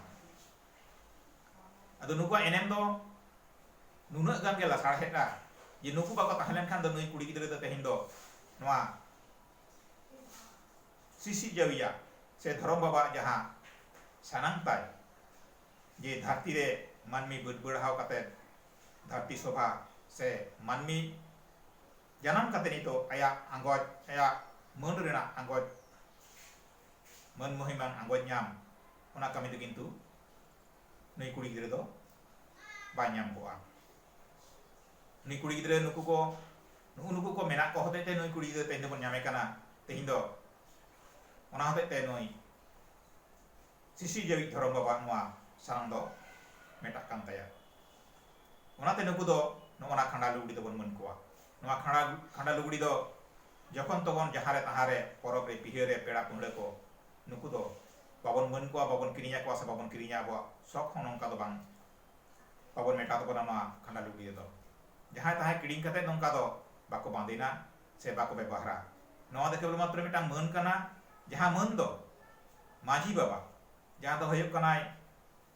ᱟᱫᱚ ᱱᱩᱠᱩᱣᱟᱜ ᱮᱱᱮᱢ ᱫᱚ ᱱᱩᱱᱟᱹᱜ ᱜᱟᱱ ᱜᱮ ᱞᱟᱥᱟᱲᱦᱮᱫᱼᱟ ᱡᱮ ᱱᱩᱠᱩ ᱵᱟᱠᱚ ᱛᱟᱦᱮᱸ ᱞᱮᱱᱠᱷᱟᱱ ᱫᱚ ᱱᱩᱭ ᱠᱩᱲᱤ ᱜᱤᱫᱽᱨᱟᱹ ᱫᱚ ᱛᱮᱦᱮᱧ ᱫᱚ ᱱᱚᱣᱟ ᱥᱤᱥᱤᱨ ᱡᱟᱹᱣᱤᱭᱟᱜ ᱥᱮ ᱫᱷᱚᱨᱚᱢ ᱵᱟᱵᱟᱣᱟᱜ ᱡᱟᱦᱟᱸ ᱥᱟᱱᱟᱢ ᱛᱟᱭ ᱡᱮ ᱫᱷᱟᱹᱨᱛᱤ ᱨᱮ ᱢᱟᱹᱱᱢᱤ ᱵᱟᱹᱰᱵᱟᱹᱲᱦᱟᱣ ᱠᱟᱛᱮ ᱫᱷᱟᱹᱨᱛᱤ ᱥᱚᱵᱷᱟ ᱥᱮ ᱢᱟᱹᱱᱢᱤ ᱡᱟᱱᱟᱢ ᱠᱟᱛᱮ ᱱᱤᱛᱚᱜ ᱟᱭᱟᱜ ᱟᱸᱜᱚᱪ ᱟᱭᱟᱜ ᱢᱟᱹᱱ ᱨᱮᱱᱟᱜ ᱟᱸᱜᱚᱪ ᱢᱟᱹᱱ ᱢᱚᱦᱤᱢᱟᱱ ᱟᱸᱜᱚᱪ ᱧᱟᱢ ᱚᱱᱟ ᱠᱟᱹᱢᱤ ᱫᱚ ᱠᱤᱱᱛᱩ ᱱᱩᱭ ᱠᱩᱲᱤ ᱜᱤᱫᱽᱨᱟᱹ ᱫᱚ ᱵᱟᱭ ᱧᱟᱢ ᱠᱚᱜᱼᱟ ᱱᱩᱭ ᱠᱩᱲᱤ ᱜᱤᱫᱽᱨᱟᱹ ᱱᱩᱠᱩ ᱠᱚ ᱱᱩᱜᱩ ᱱᱩᱠᱩ ᱠᱚ ᱢᱮᱱᱟᱜ ᱠᱚ ᱦᱚᱛᱮᱡ ᱛᱮ ᱱᱩᱭ ᱠᱩᱲᱤ ᱜᱤᱫᱽᱨᱟᱹ ᱛᱮᱦᱮᱧ ᱫᱚᱵᱚᱱ ᱧᱟᱢᱮ ᱠᱟᱱᱟ ᱛᱮᱦᱮᱧ ᱫᱚ ᱚᱱᱟ ᱦᱚᱛᱮᱡ ᱛᱮ ᱱᱩᱭ ᱥᱤᱥᱤ ᱡᱟᱹᱣᱤᱡ ᱫᱷᱚᱨᱚᱢ ᱵᱟᱵᱟᱜ ᱱᱚᱣᱟ ᱥᱟᱨᱚᱱ ᱫᱚ ᱢᱮᱴᱟᱜ ᱠᱟᱱ ᱛᱟᱭᱟ᱾ ᱚᱱᱟᱛᱮ ᱱᱩᱠᱩ ᱫᱚ ᱱᱚᱜᱼᱚ ᱱᱟ ᱠᱷᱟᱸᱰᱟ ᱞᱩᱜᱽᱲᱤ ᱫᱚᱵᱚᱱ ᱢᱟᱹᱱ ᱠᱚᱣᱟ᱾ ᱱᱚᱣᱟ ᱠᱷᱟᱸᱰᱟ ᱠᱷᱟᱸᱰᱟ ᱞᱩᱜᱽᱲᱤ ᱫᱚ ᱡᱚᱠᱷᱚᱱ ᱛᱚᱠᱷᱚᱱ ᱡᱟᱦᱟᱸ ᱨᱮ ᱛᱟᱦᱟᱸ ᱨᱮ ᱯᱚᱨᱚᱵᱽ ᱨᱮ ᱯᱤᱦᱟᱹ ᱨᱮ ᱯᱮᱲᱟ ᱯᱟᱹᱦᱲᱟᱹ ᱠᱚ ᱱᱩᱠᱩ ᱫᱚ ᱵᱟᱵᱚᱱ ᱢᱟᱹᱱ ᱠᱚᱣᱟ ᱵᱟᱵᱚᱱ ᱠᱤᱨᱤᱧ ᱟᱠᱚᱣᱟ ᱥᱮ ᱵᱟᱵᱚᱱ ᱠᱤᱨᱤᱧᱟ ᱟᱵᱚᱣᱟᱜ ᱥᱚᱠ ᱦᱚᱸ ᱱᱚᱝᱠᱟ ᱫᱚ ᱵᱟᱝ ᱵᱟᱵᱚᱱ ᱢᱮᱴᱟᱣ ᱛᱟᱵᱚᱱᱟ ᱱᱚᱣᱟ ᱠᱷᱟᱸᱰᱟ ᱞᱩᱜᱽᱲᱤ ᱨᱮᱫᱚ ᱡᱟᱦᱟᱸᱭ ᱛᱟᱦᱟᱸᱭ ᱠᱤᱲᱤᱧ ᱠᱟᱛᱮ ᱱᱚᱝᱠᱟ ᱫᱚ ᱵᱟᱠᱚ ᱵᱟᱸᱫᱮᱱᱟ ᱥᱮ ᱵᱟᱠᱚ ᱵᱮᱵᱚᱦᱟᱨᱟ᱾ ᱱᱚᱣᱟ ᱫᱚ ᱠᱮᱵᱚᱞ ᱢᱟᱛᱨᱚ ᱢᱤᱫᱴᱟᱝ ᱢᱟᱹᱱ ᱠᱟᱱᱟ ᱡᱟᱦᱟᱸ ᱢᱟᱹᱱ ᱫᱚ ᱢᱟᱹᱡᱷᱤ ᱵᱟᱵᱟ ᱡᱟᱦᱟᱸ ᱫᱚ ᱦᱩᱭᱩᱜ ᱠᱟᱱᱟᱭ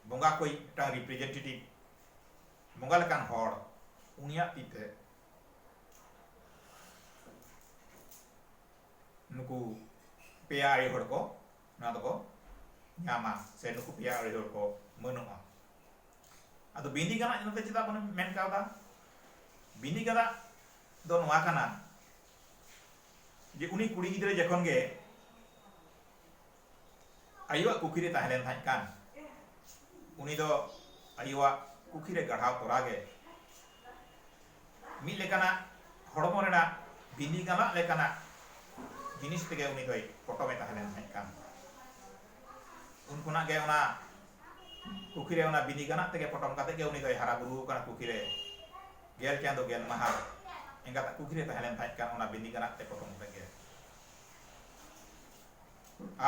ᱵᱚᱸᱜᱟ ᱠᱚᱭᱤᱡ ᱢᱤᱫᱴᱟᱝ ᱨᱤᱯᱨᱮᱡᱮᱱᱴᱮᱴᱤᱵᱷ ᱵᱚᱸᱜᱟ ᱞᱮᱠᱟᱱ ᱦᱚᱲ ᱩᱱᱤᱭᱟᱜ ᱛᱤ ᱛᱮ ᱱᱩᱠᱩ ᱯᱮᱭᱟ ᱟᱹᱨᱤ ᱦᱚᱲ ᱠᱚ ᱱᱚᱣᱟ ᱫᱚᱠᱚ ᱧᱟᱢᱟ ᱥᱮ ᱱᱩᱠᱩ ᱯᱮᱭᱟ ᱟᱹᱨᱤ ᱦᱚᱲ ᱠᱚ ᱢᱟᱹᱱᱚᱜᱼᱟ᱾ ᱟᱫᱚ ᱵᱤᱱᱤ ᱜᱟᱱᱟᱜ ᱱᱚᱛᱮ ᱪᱮᱫᱟᱜ ᱵᱚᱱ ᱢᱮᱱ ᱠᱟᱣᱫᱟ ᱵᱤᱱᱤ ᱜᱟᱱᱟᱜ ᱫᱚ ᱱᱚᱣᱟ ᱠᱟᱱᱟ ᱡᱮ ᱩᱱᱤ ᱠᱩᱲᱤ ᱜᱤᱫᱽᱨᱟᱹ ᱡᱚᱠᱷᱚᱱ ᱜᱮ ᱟᱭᱳᱣᱟᱜ ᱠᱩᱠᱷᱤ ᱨᱮ ᱛᱟᱦᱮᱸ ᱞᱮᱱ ᱛᱟᱦᱮᱸ ᱠᱟᱱ ᱩᱱᱤ ᱫᱚ ᱟᱭᱳᱣᱟᱜ ᱠᱩᱠᱷᱤ ᱨᱮ ᱜᱟᱲᱦᱟᱣ ᱛᱚᱨᱟ ᱜᱮ ᱢᱤᱫ ᱞᱮᱠᱟᱱᱟᱜ ᱦᱚᱲᱢᱚ ᱨᱮᱱᱟᱜ ᱵᱤᱞᱤ ᱜᱟᱱᱟᱜ ᱞᱮᱠᱟᱱᱟᱜ ᱡᱤᱱᱤᱥ ᱛᱮᱜᱮ ᱩᱱᱤ ᱫᱚᱭ ᱯᱚᱴᱚᱢ ᱮ ᱛᱟᱦᱮᱸ ᱞᱮᱱ ᱛᱟᱦᱮᱸᱫ ᱠᱟᱱ ᱩᱱ ᱠᱷᱚᱱᱟᱜ ᱜᱮ ᱚᱱᱟ ᱠᱩᱠᱷᱤ ᱨᱮ ᱚᱱᱟ ᱵᱤᱞᱤ ᱜᱟᱱᱟᱜ ᱛᱮᱜᱮ ᱯᱚᱴᱚᱢ ᱠᱟᱛᱮ ᱜᱮ ᱩᱱᱤ ᱫᱚᱭ ᱦᱟᱨᱟ ᱵᱩᱨᱩ ᱟᱠᱟᱱᱟ ᱠᱩᱠᱷᱤ ᱨᱮ ᱜᱮᱞ ᱪᱟᱸᱫᱚ ᱜᱮᱞ ᱢᱟᱦᱟ ᱮᱸᱜᱟᱛᱟᱜ ᱠᱩᱠᱷᱤ ᱨᱮ ᱛᱟᱦᱮᱸ ᱞᱮᱱ ᱛᱟᱦᱮᱸᱫ ᱠᱟᱱ ᱚᱱᱟ ᱵᱤᱞᱤ ᱜᱟᱱᱟᱜ ᱛᱮ ᱯᱚᱴᱚᱢ ᱠᱟᱛᱮ ᱜᱮ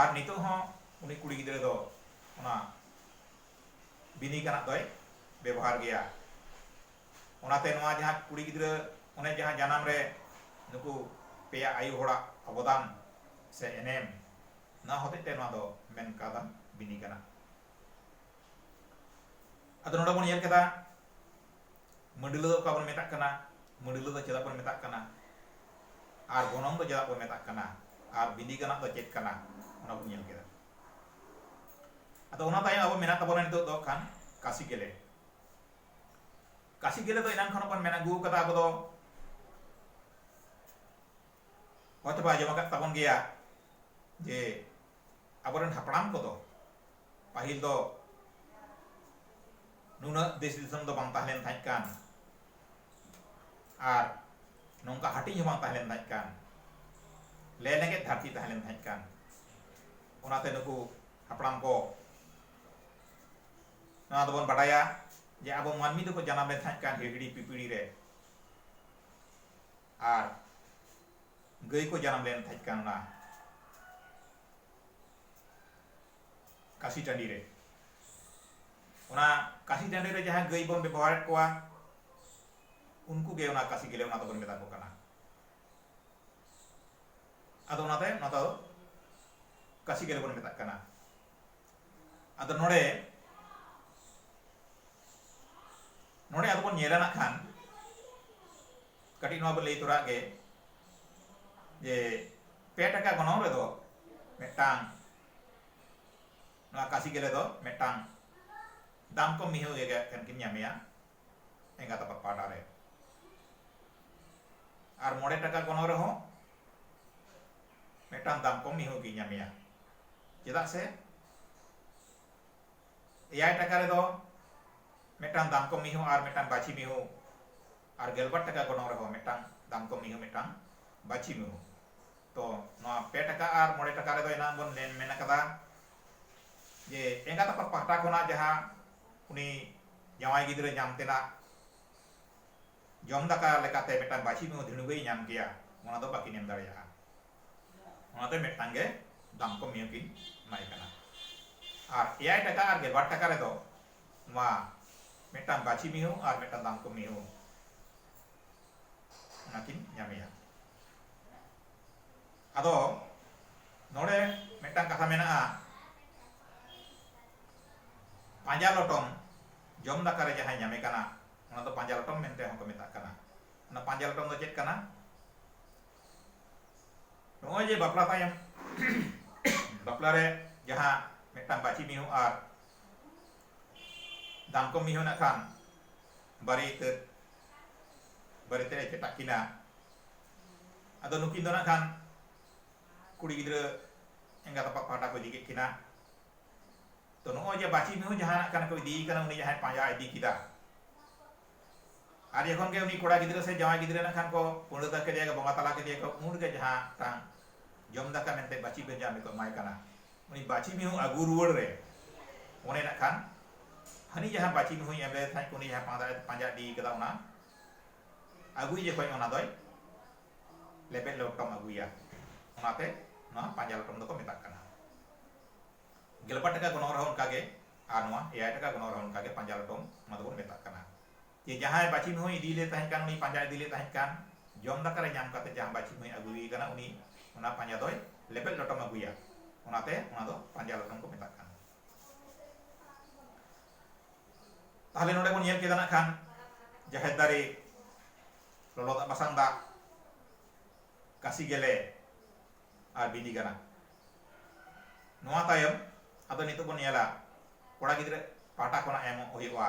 ᱟᱨ ᱱᱤᱛᱚᱜ ᱦᱚᱸ ᱩᱱᱤ ᱠᱩᱲᱤ ᱜᱤᱫᱽᱨᱟᱹ ᱫᱚ ᱚᱱᱟ ᱵᱤᱱᱤ ᱠᱟᱱᱟᱜ ᱫᱚᱭ ᱵᱮᱵᱚᱦᱟᱨ ᱜᱮᱭᱟ ᱚᱱᱟᱛᱮ ᱱᱚᱣᱟ ᱡᱟᱦᱟᱸ ᱠᱩᱲᱤ ᱜᱤᱫᱽᱨᱟᱹ ᱚᱱᱮ ᱡᱟᱦᱟᱸ ᱡᱟᱱᱟᱢ ᱨᱮ ᱱᱩᱠᱩ ᱯᱮᱭᱟ ᱟᱭᱳ ᱦᱚᱲᱟᱜ ᱚᱵᱚᱫᱟᱱ ᱥᱮ ᱮᱱᱮᱢ ᱱᱚᱣᱟ ᱦᱚᱛᱮᱡ ᱛᱮ ᱱᱚᱣᱟ ᱫᱚ ᱢᱮᱱ ᱠᱟᱣᱫᱟ ᱵᱤᱱᱤ ᱠᱟᱱᱟ ᱟᱫᱚ ᱱᱚᱰᱮ ᱵᱚᱱ ᱧᱮᱞ ᱠᱮᱫᱟ ᱢᱟᱹᱰᱤᱞᱟᱹ ᱫᱚ ᱚᱠᱟ ᱵᱚᱱ ᱢᱮᱛᱟᱜ ᱠᱟᱱᱟ ᱢᱟᱹᱰᱤᱞᱟᱹ ᱫᱚ ᱪᱮᱫᱟᱜ ᱵᱚᱱ ᱢᱮᱛᱟᱜ ᱠᱟᱱᱟ ᱟᱨ ᱜᱚᱱᱚᱝ ᱫᱚ ᱪᱮᱫᱟᱜ ᱵᱚᱱ ᱢᱮᱛᱟᱜ ᱠᱟᱱᱟ ᱟᱨ ᱵᱤᱱᱤ ᱠᱟᱱᱟᱜ ᱫᱚ ᱪᱮᱫ ᱠᱟᱱᱟ ᱚᱱᱟ ᱵᱚᱱ ᱧᱮᱞ ᱠᱮᱫᱟ ᱟᱫᱚ ᱚᱱᱟ ᱛᱟᱭᱚᱢ ᱟᱵᱚ ᱢᱮᱱᱟᱜ ᱛᱟᱵᱚᱱᱟ ᱱᱤᱛᱚᱜ ᱫᱚ ᱠᱷᱟᱱ ᱠᱟᱥᱤ ᱜᱮᱞᱮ ᱠᱟᱥᱤ ᱜᱮᱞᱮ ᱫᱚ ᱮᱱᱟᱱ ᱠᱷᱚᱱ ᱵᱚᱱ ᱢᱮᱱ ᱟᱹᱜᱩ ᱠᱟᱫᱟ ᱟᱵᱚ ᱫᱚ ᱦᱚᱭᱛᱚ ᱯᱮ ᱟᱸᱡᱚᱢ ᱟᱠᱟᱫ ᱛᱟᱵᱚᱱ ᱜᱮᱭᱟ ᱡᱮ ᱟᱵᱚᱨᱮᱱ ᱦᱟᱯᱲᱟᱢ ᱠᱚᱫᱚ ᱯᱟᱹᱦᱤᱞ ᱫᱚ ᱱᱩᱱᱟᱹᱜ ᱫᱮᱥ ᱫᱤᱥᱚᱢ ᱫᱚ ᱵᱟᱝ ᱛᱟᱦᱮᱸ ᱞᱮᱱ ᱛᱟᱦᱮᱸᱫ ᱠᱟᱱ ᱟᱨ ᱱᱚᱝᱠᱟ ᱦᱟᱹᱴᱤᱧ ᱦᱚᱸ ᱵᱟᱝ ᱛᱟᱦᱮᱸ ᱞᱮᱱ ᱛᱟᱦᱮᱸᱫ ᱠᱟᱱ ᱞᱮ ᱞᱮᱜᱮᱡ ᱫᱷᱟᱹᱨᱛᱤ ᱛᱟᱦᱮᱸ ᱞᱮᱱ ᱛᱟᱦᱮᱸᱫ ᱠᱟᱱ ᱚᱱᱟᱛᱮ ᱱᱩᱠᱩ ᱦᱟᱯᱲᱟᱢ ᱠᱚ ᱱᱚᱣᱟ ᱫᱚᱵᱚᱱ ᱵᱟᱰᱟᱭᱟ ᱡᱮ ᱟᱵᱚ ᱢᱟᱹᱱᱢᱤ ᱫᱚᱠᱚ ᱡᱟᱱᱟᱢ ᱞᱮᱱ ᱛᱟᱦᱮᱸᱫ ᱠᱟᱱ ᱦᱤᱦᱤᱲᱤ ᱯᱤᱯᱤᱲᱤ ᱨᱮ ᱟᱨ ᱜᱟᱹᱭ ᱠᱚ ᱡᱟᱱᱟᱢ ᱞᱮᱱ ᱛᱟᱦᱮᱸᱫ ᱠᱟᱱ ᱚᱱᱟ ᱠᱟᱥᱤ ᱴᱟᱺᱰᱤ ᱨᱮ ᱚᱱᱟ ᱠᱟᱥᱤ ᱰᱟᱸᱰᱮ ᱨᱮ ᱡᱟᱦᱟᱸ ᱜᱟᱹᱭ ᱵᱚᱱ ᱵᱮᱵᱚᱦᱟᱨᱮᱫ ᱠᱚᱣᱟ ᱩᱱᱠᱩ ᱜᱮ ᱚᱱᱟ ᱠᱟᱥᱤ ᱜᱮᱞᱮ ᱚᱱᱟ ᱫᱚᱵᱚᱱ ᱢᱮᱛᱟ ᱠᱚ ᱠᱟᱱᱟ ᱟᱫᱚ ᱚᱱᱟᱛᱮ ᱚᱱᱟ ᱫᱚ ᱠᱟᱥᱤ ᱜᱮᱞᱮ ᱵᱚᱱ ᱢᱮᱛᱟᱜ ᱠᱟᱱᱟ ᱟᱫᱚ ᱱᱚᱰᱮ ᱱᱚᱰᱮ ᱟᱫᱚ ᱵᱚᱱ ᱧᱮᱞᱟ ᱱᱟᱜ ᱠᱷᱟᱱ ᱠᱟᱹᱴᱤᱡ ᱱᱚᱣᱟ ᱵᱚᱱ ᱞᱟᱹᱭ ᱛᱚᱨᱟᱜ ᱜᱮ ᱡᱮ ᱯᱮ ᱴᱟᱠᱟ ᱜᱚᱱᱚᱝ ᱨᱮᱫᱚ ᱢᱤᱫᱴᱟᱝ ᱱᱚᱣᱟ ᱠᱟᱥᱤ ᱜᱮᱞᱮ ᱫᱚ ᱢᱤᱫᱴᱟᱝ ᱫᱟᱢ ᱠᱚᱢ ᱢᱤᱦᱩ ᱜᱮ ᱴᱷᱮᱱ ᱠᱤᱱ ᱧᱟᱢᱮᱭᱟ ᱮᱸᱜᱟᱛ ᱟᱯᱟᱛ ᱯᱟᱦᱴᱟ ᱨᱮ ᱟᱨ ᱢᱚᱬᱮ ᱴᱟᱠᱟ ᱜᱚᱱᱚᱝ ᱨᱮᱦᱚᱸ ᱢᱤᱫᱴᱟᱝ ᱫᱟᱢ ᱠᱚᱢ ᱢᱤᱦᱩ ᱜᱮ ᱧᱟᱢᱮᱭᱟ ᱪᱮᱫᱟᱜ ᱥᱮ ᱮᱭᱟᱭ ᱴᱟᱠᱟ ᱨᱮᱫᱚ ᱢᱤᱫᱴᱟᱝ ᱫᱟᱢ ᱠᱚᱢ ᱢᱤᱦᱩ ᱟᱨ ᱢᱤᱫᱴᱟᱝ ᱵᱟᱹᱪᱷᱤ ᱢᱤᱦᱩ ᱟᱨ ᱜᱮᱞᱵᱟᱨ ᱴᱟᱠᱟ ᱜᱚᱱᱚᱝ ᱨᱮᱦᱚᱸ ᱢᱤᱫᱴᱟᱝ ᱫᱟᱢ ᱠᱚᱢ ᱢᱤᱦᱩ ᱢᱤᱫᱴᱟᱝ ᱵᱟᱹᱪᱷᱤ ᱢᱤᱦᱩ ᱛᱚ ᱱᱚᱣᱟ ᱯᱮ ᱴᱟᱠᱟ ᱟᱨ ᱢᱚᱬᱮ ᱴᱟᱠᱟ ᱨᱮᱫᱚ ᱮᱱᱟᱝ ᱵᱚᱱ ᱢᱮᱱ ᱢᱮᱱ ᱟᱠᱟᱫᱟ ᱡᱮ ᱮᱸᱜᱟᱛ ᱟᱯᱟᱛ ᱯᱟᱦᱴᱟ ᱠᱷᱚᱱᱟᱜ ᱡᱟᱦᱟᱸ ᱩᱱᱤ ᱡᱟᱶᱟᱭ ᱜᱤᱫᱽᱨᱟᱹ ᱧᱟᱢ ᱛᱮᱱᱟᱜ ᱡᱚᱢ ᱫᱟᱠᱟ ᱞᱮᱠᱟᱛᱮ ᱢᱤᱫᱴᱟᱝ ᱵᱟᱹᱪᱷᱤ ᱢᱤᱦᱩ ᱫᱷᱤᱬᱩᱜᱮᱭ ᱧᱟᱢ ᱠᱮᱭᱟ ᱚᱱᱟ ᱫᱚ ᱵᱟᱹᱠᱤᱱ ᱮᱢ ᱫᱟᱲᱮᱭᱟᱜᱼᱟ ᱚᱱᱟᱛᱮ ᱢᱤᱫᱴᱟᱝ ᱜᱮ ᱫᱟᱢ ᱠᱚ ᱢᱤᱦᱩ ᱠᱤᱱ ᱮᱢᱟᱭ ᱠᱟᱱᱟ ᱟᱨ ᱮᱭᱟᱭ ᱴᱟᱠᱟ ᱟᱨ ᱜᱮᱞᱵᱟᱨ ᱴᱟᱠᱟ ᱨᱮᱫᱚ ᱱᱚᱣᱟ ᱢᱤᱫᱴᱟᱝ ᱵᱟᱹᱪᱷᱤ ᱢᱤᱦᱩ ᱟᱨ ᱢᱤᱫᱴᱟᱝ ᱫᱟᱢ ᱠᱚ ᱢᱤᱦᱩ ᱚᱱᱟᱠᱤᱱ ᱧᱟᱢᱮᱭᱟ ᱟᱫᱚ ᱱᱚᱰᱮ ᱢᱤᱫᱴᱟᱝ ᱠᱟᱛᱷᱟ ᱢᱮᱱᱟᱜᱼᱟ ᱯᱟᱸᱡᱟ ᱞᱚᱴᱚᱢ ᱡᱚᱢ ᱫᱟᱠᱟ ᱨᱮ ᱡᱟᱦᱟᱸᱭ ᱧᱟᱢᱮ ᱠᱟᱱᱟ ᱚᱱᱟ ᱫᱚ ᱯᱟᱸᱡᱟ ᱞᱚᱴᱚᱢ ᱢᱮᱱᱛᱮ ᱦᱚᱸᱠᱚ ᱢᱮᱛᱟᱜ ᱠᱟᱱᱟ ᱚᱱᱟ ᱯᱟᱸᱡᱟ ᱞᱚᱴᱚᱢ ᱫᱚ ᱪᱮᱫ ᱠᱟᱱᱟ ᱱᱚᱜᱼᱚᱭ ᱡᱮ ᱵᱟᱯᱞᱟ ᱛᱟᱭᱚᱢ ᱵᱟᱯᱞᱟ ᱨᱮ ᱡᱟᱦᱟᱸ ᱢᱤᱫᱴᱟᱝ ᱵᱟᱹᱪᱤ ᱢᱤᱦᱩ ᱟᱨ ᱫᱟᱱᱠᱚ ᱢᱤᱦᱩ ᱱᱟᱜ ᱠᱷᱟᱱ ᱵᱟᱨᱮᱤᱛᱟᱹᱫ ᱵᱟᱨᱮᱛᱮᱫ ᱮ ᱪᱮᱴᱟᱜ ᱠᱤᱱᱟ ᱟᱫᱚ ᱱᱩᱠᱤᱱ ᱫᱚ ᱱᱟᱜ ᱠᱷᱟᱱ ᱠᱩᱲᱤ ᱜᱤᱫᱽᱨᱟᱹ ᱮᱸᱜᱟᱛ ᱟᱯᱟᱛ ᱯᱟᱦᱴᱟ ᱠᱚ ᱤᱫᱤ ᱠᱮᱫ ᱠᱤᱱᱟ ᱛᱚ ᱱᱚᱜᱼᱚᱭ ᱡᱮ ᱵᱟᱹᱪᱤ ᱢᱤᱦᱩ ᱡᱟᱦᱟᱸ ᱱᱟᱜ ᱠᱷᱟᱱ ᱠᱚ ᱤᱫᱤᱭᱮ ᱠᱟᱱᱟ ᱩᱱᱤ ᱡᱟᱦᱟᱸᱭ ᱯᱟᱸᱡᱟ ᱤᱫᱤ ᱠᱮᱫᱟ ᱟᱨ ᱡᱚᱠᱷᱚᱱ ᱜᱮ ᱩᱱᱤ ᱠᱚᱲᱟ ᱜᱤᱫᱽᱨᱟᱹ ᱥᱮ ᱡᱟᱶᱟᱭ ᱜᱤᱫᱽᱨᱟᱹ ᱱᱟᱜ ᱠᱷᱟᱱ ᱠᱚ ᱯᱩᱸᱰᱟᱹᱫᱟ ᱠᱮᱫᱮᱭᱟ ᱠᱚ ᱵᱚᱸᱜᱟ ᱛᱟᱞᱟ ᱠᱮᱫᱮᱭᱟ ᱠᱚ ᱩᱱ ᱨᱮᱜᱮ ᱡᱟᱦᱟᱸ ᱢᱤᱫᱴᱟᱝ ᱡᱚᱢ ᱫᱟᱠᱟ ᱢᱮᱱᱛᱮ ᱵᱟᱹᱪᱤ ᱵᱮᱧᱡᱟᱢ ᱨᱮᱠᱚ ᱮᱢᱟᱭ ᱠᱟᱱᱟ ᱩᱱᱤ ᱵᱟᱪᱤ ᱢᱤᱦᱩ ᱟᱹᱜᱩ ᱨᱩᱣᱟᱹᱲ ᱨᱮ ᱚᱱᱮ ᱱᱟᱜ ᱠᱷᱟᱱ ᱦᱟᱹᱱᱤ ᱡᱟᱦᱟᱸ ᱵᱟᱪᱤ ᱢᱤᱦᱩᱭ ᱮᱢ ᱞᱮᱫᱮ ᱛᱟᱦᱮᱸᱫ ᱩᱱᱤ ᱡᱟᱦᱟᱸ ᱯᱟᱸᱡᱟ ᱯᱟᱸᱡᱟ ᱤᱫᱤ ᱠᱟᱫᱟ ᱚᱱᱟ ᱟᱹᱜᱩᱭ ᱡᱚᱠᱷᱚᱱ ᱚᱱᱟ ᱫᱚᱭ ᱞᱮᱵᱮᱫ ᱞᱚᱴᱚᱢ ᱟᱹᱜᱩᱭᱟ ᱚᱱᱟᱛᱮ ᱱᱚᱣᱟ ᱯᱟᱸᱡᱟ ᱞᱚᱴᱚᱢ ᱫᱚᱠᱚ ᱢᱮᱛᱟᱜ ᱠᱟᱱᱟ ᱜᱮᱞᱵᱟᱨ ᱴᱟᱠᱟ ᱜᱚᱱᱚᱝ ᱨᱮᱦᱚᱸ ᱚᱱᱠᱟᱜᱮ ᱟᱨ ᱱᱚᱣᱟ ᱮᱭᱟᱭ ᱴᱟᱠᱟ ᱜᱚᱱᱚᱝ ᱨᱮᱦᱚᱸ ᱚᱱᱠᱟᱜᱮ ᱯᱟᱸᱡᱟ ᱞᱚᱴᱚᱢ ᱚᱱᱟ ᱫᱚᱵᱚᱱ ᱢᱮᱛᱟᱜ ᱠᱟᱱᱟ ᱡᱮ ᱡᱟᱦᱟᱸᱭ ᱵᱟᱪᱷᱤᱢ ᱦᱚᱸᱭ ᱤᱫᱤ ᱞᱮ ᱛᱟᱦᱮᱸ ᱠᱟᱱ ᱩᱱᱤ ᱯᱟᱸᱡᱟ ᱤᱫᱤ ᱞᱮ ᱛᱟᱦᱮᱸ ᱠᱟᱱ ᱡᱚᱢ ᱫᱟᱠᱟ ᱨᱮ ᱧᱟᱢ ᱠᱟᱛᱮ ᱡᱟᱦᱟᱸ ᱵᱟᱪᱷᱤᱢ ᱦᱚᱸᱭ ᱟᱹᱜᱩᱭᱮ ᱠᱟᱱᱟ ᱩᱱᱤ ᱚᱱᱟ ᱯᱟᱸᱡᱟ ᱫᱚᱭ ᱞᱮᱯᱮᱫ ᱞᱚᱴᱚᱢ ᱟᱹᱜᱩᱭᱟ ᱚᱱᱟᱛᱮ ᱚᱱᱟ ᱫᱚ ᱯᱟᱸᱡᱟ ᱞᱚᱴᱚᱢ ᱠᱚ ᱢᱮᱛᱟᱜ ᱠᱟᱱᱟ ᱛᱟᱦᱞᱮ ᱱᱚᱰᱮ ᱵᱚᱱ ᱧᱮᱞ ᱠᱮᱫᱟ ᱱᱟᱜ ᱠᱷᱟᱱ ᱡᱟᱦᱮᱨ ᱫᱟᱨᱮ ᱞᱚᱞᱚ ᱫᱟᱜ ᱵᱟᱥᱟᱝ ᱫᱟᱜ ᱠᱟᱥᱤ ᱜᱮᱞᱮ ᱟᱨ ᱵᱤᱞᱤ ᱜᱟᱱᱟ ᱱᱚᱣᱟ ᱛᱟᱭᱚᱢ ᱟᱫᱚ ᱱᱤᱛᱚᱜ ᱵᱚᱱ ᱧᱮᱞᱟ ᱠᱚᱲᱟ ᱜᱤᱫᱽᱨᱟᱹ ᱯᱟᱦᱴᱟ ᱠᱷᱚᱱᱟᱜ ᱮᱢᱚᱜ ᱦᱩᱭᱩᱜᱼᱟ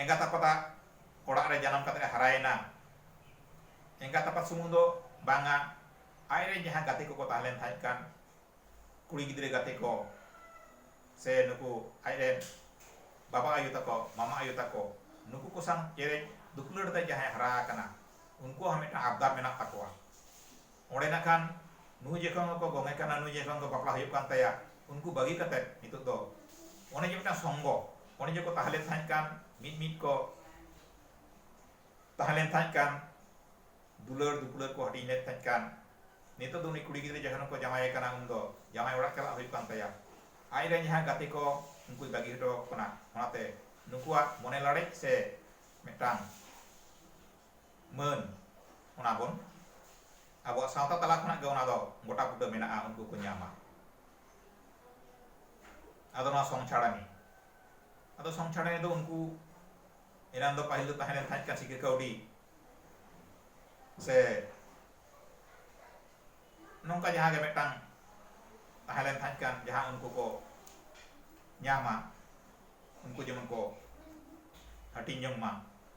ᱮᱸᱜᱟᱛ ᱟᱯᱟᱛ ᱟᱜ ᱚᱲᱟᱜ ᱨᱮ ᱡᱟᱱᱟᱢ ᱠᱟᱛᱮ ᱮ ᱦᱟᱨᱟᱭᱮᱱᱟ ᱮᱸᱜᱟᱛ ᱟᱯᱟᱛ ᱥᱩᱢᱩᱝ ᱫᱚ ᱵᱟᱝᱟ ᱟᱡ ᱨᱮᱱ ᱡᱟᱦᱟᱸ ᱜᱟᱛᱮ ᱠᱚᱠᱚ ᱛᱟᱦᱮᱸ ᱞᱮᱱ ᱛᱟᱦᱮᱸᱫ ᱠᱟᱱ ᱠᱩᱲᱤ ᱜᱤᱫᱽᱨᱟᱹ ᱜᱟᱛᱮ ᱠᱚ ᱥᱮ ᱱᱩᱠᱩ ᱟᱡ ᱨᱮᱱ ᱵᱟᱵᱟ ᱟᱭᱳ ᱛᱟᱠᱚ ᱢᱟᱢᱟ ᱟᱭᱳ ᱛᱟᱠᱚ ᱱᱩᱠᱩ ᱠᱚ ᱥᱟᱶ ᱪᱮᱨᱮᱡ ᱫᱩᱯᱩᱞᱟᱹᱲ ᱛᱮ ᱡᱟᱦᱟᱸᱭ ᱦᱟᱨᱟ ᱟᱠᱟᱱᱟ ᱩᱱᱠᱩᱣᱟᱜ ᱦᱚᱸ ᱢᱤᱫᱴᱟᱝ ᱟᱵᱫᱟᱨ ᱢᱮᱱᱟᱜ ᱛᱟᱠᱚᱣᱟ ᱚᱸᱰᱮ ᱱᱟᱜ ᱠᱷᱟᱱ ᱱᱩᱭ ᱡᱚᱠᱷᱚᱱ ᱜᱮᱠᱚ ᱜᱚᱝᱮ ᱠᱟᱱᱟ ᱱᱩᱭ ᱡᱚᱠᱷᱚᱱ ᱜᱮ ᱵᱟᱯᱞᱟ ᱦᱩᱭᱩᱜ ᱠᱟᱱ ᱛᱟᱭᱟ ᱩᱱᱠᱩ ᱵᱟᱹᱜᱤ ᱠᱟᱛᱮ ᱱᱤᱛᱚᱜ ᱫᱚ ᱚᱱᱮ ᱡᱮ ᱢᱤᱫᱴᱟᱝ ᱥᱚᱝᱜᱚ ᱚᱱᱮ ᱡᱮᱠᱚ ᱛᱟᱦᱮᱸ ᱞᱮᱱ ᱛᱟᱦᱮᱸᱫ ᱠᱟᱱ ᱢᱤᱫ ᱢᱤᱫ ᱠᱚ ᱛᱟᱦᱮᱸ ᱞᱮᱱ ᱛᱟᱦᱮᱸᱫ ᱠᱟᱱ ᱫᱩᱞᱟᱹᱲ ᱫᱩᱯᱩᱞᱟᱹᱲ ᱠᱚ ᱦᱟᱹᱴᱤᱧ ᱞᱮᱱ ᱛᱟᱦᱮᱸᱫ ᱠᱟᱱ ᱱᱤᱛᱚᱜ ᱫᱚ ᱩᱱᱤ ᱠᱩᱲᱤ ᱜᱤᱫᱽᱨᱟᱹ ᱡᱚᱠᱷᱚᱱ ᱠᱚ ᱡᱟᱶᱟᱭᱮ ᱠᱟᱱᱟ ᱩᱱ ᱫᱚ ᱡᱟᱶᱟᱭ ᱚᱲᱟᱜ ᱪᱟᱞᱟᱜ ᱦᱩᱭᱩᱜ ᱠᱟᱱ ᱛᱟᱭᱟ ᱟᱡ ᱨᱮᱱ ᱡᱟᱦᱟᱸ ᱜᱟᱛᱮ ᱠᱚ ᱩᱱᱠᱩᱭ ᱵᱟᱹᱜᱤ ᱦᱚᱴᱚ ᱟᱠᱚ ᱠᱟᱱᱟ ᱚᱱᱟᱛᱮ ᱱᱩᱠᱩᱣᱟᱜ ᱢᱚᱱᱮ ᱞᱟᱲᱮᱡ ᱥᱮ ᱢᱤᱫᱴᱟᱝ ᱢᱟᱹᱱ ᱚᱱᱟ ᱵᱚᱱ ᱟᱵᱚᱣᱟᱜ ᱥᱟᱶᱛᱟ ᱛᱟᱞᱟ ᱠᱷᱚᱱᱟᱜ ᱜᱮ ᱚᱱᱟ ᱫᱚ ᱜᱚᱴᱟ ᱵᱩᱴᱟᱹ ᱢᱮᱱᱟᱜᱼᱟ ᱩᱱᱠᱩ ᱠᱚ ᱧᱟᱢᱟ ᱟᱫᱚ ᱱᱚᱣᱟ ᱥᱚᱝᱪᱷᱟᱲᱟᱱᱤ ᱟᱫᱚ ᱥᱚᱝᱪᱷᱟᱲᱟᱱᱤ ᱫᱚ ᱩᱱᱠᱩ ᱮᱱᱟᱱ ᱫᱚ ᱯᱟᱹᱦᱤᱞ ᱫᱚ ᱛᱟᱦᱮᱸ ᱞᱮᱱ ᱛᱟᱦᱮᱸᱫ ᱠᱟᱱ ᱥᱤᱠᱟᱹ ᱠᱟᱹᱣᱰᱤ ᱥᱮ ᱱᱚᱝᱠᱟ ᱡᱟᱦᱟᱸ ᱜᱮ ᱢᱤᱫᱴᱟᱝ ᱛᱟᱦᱮᱸ ᱞᱮᱱ ᱛᱟᱦᱮᱸᱫ ᱠᱟᱱ ᱡᱟᱦᱟᱸ ᱩᱱᱠᱩ ᱠᱚ ᱧᱟᱢᱟ ᱩᱱᱠᱩ ᱡᱮᱢᱚᱱ ᱠᱚ ᱦᱟᱹᱴᱤᱧ ᱡᱚᱝ ᱢᱟ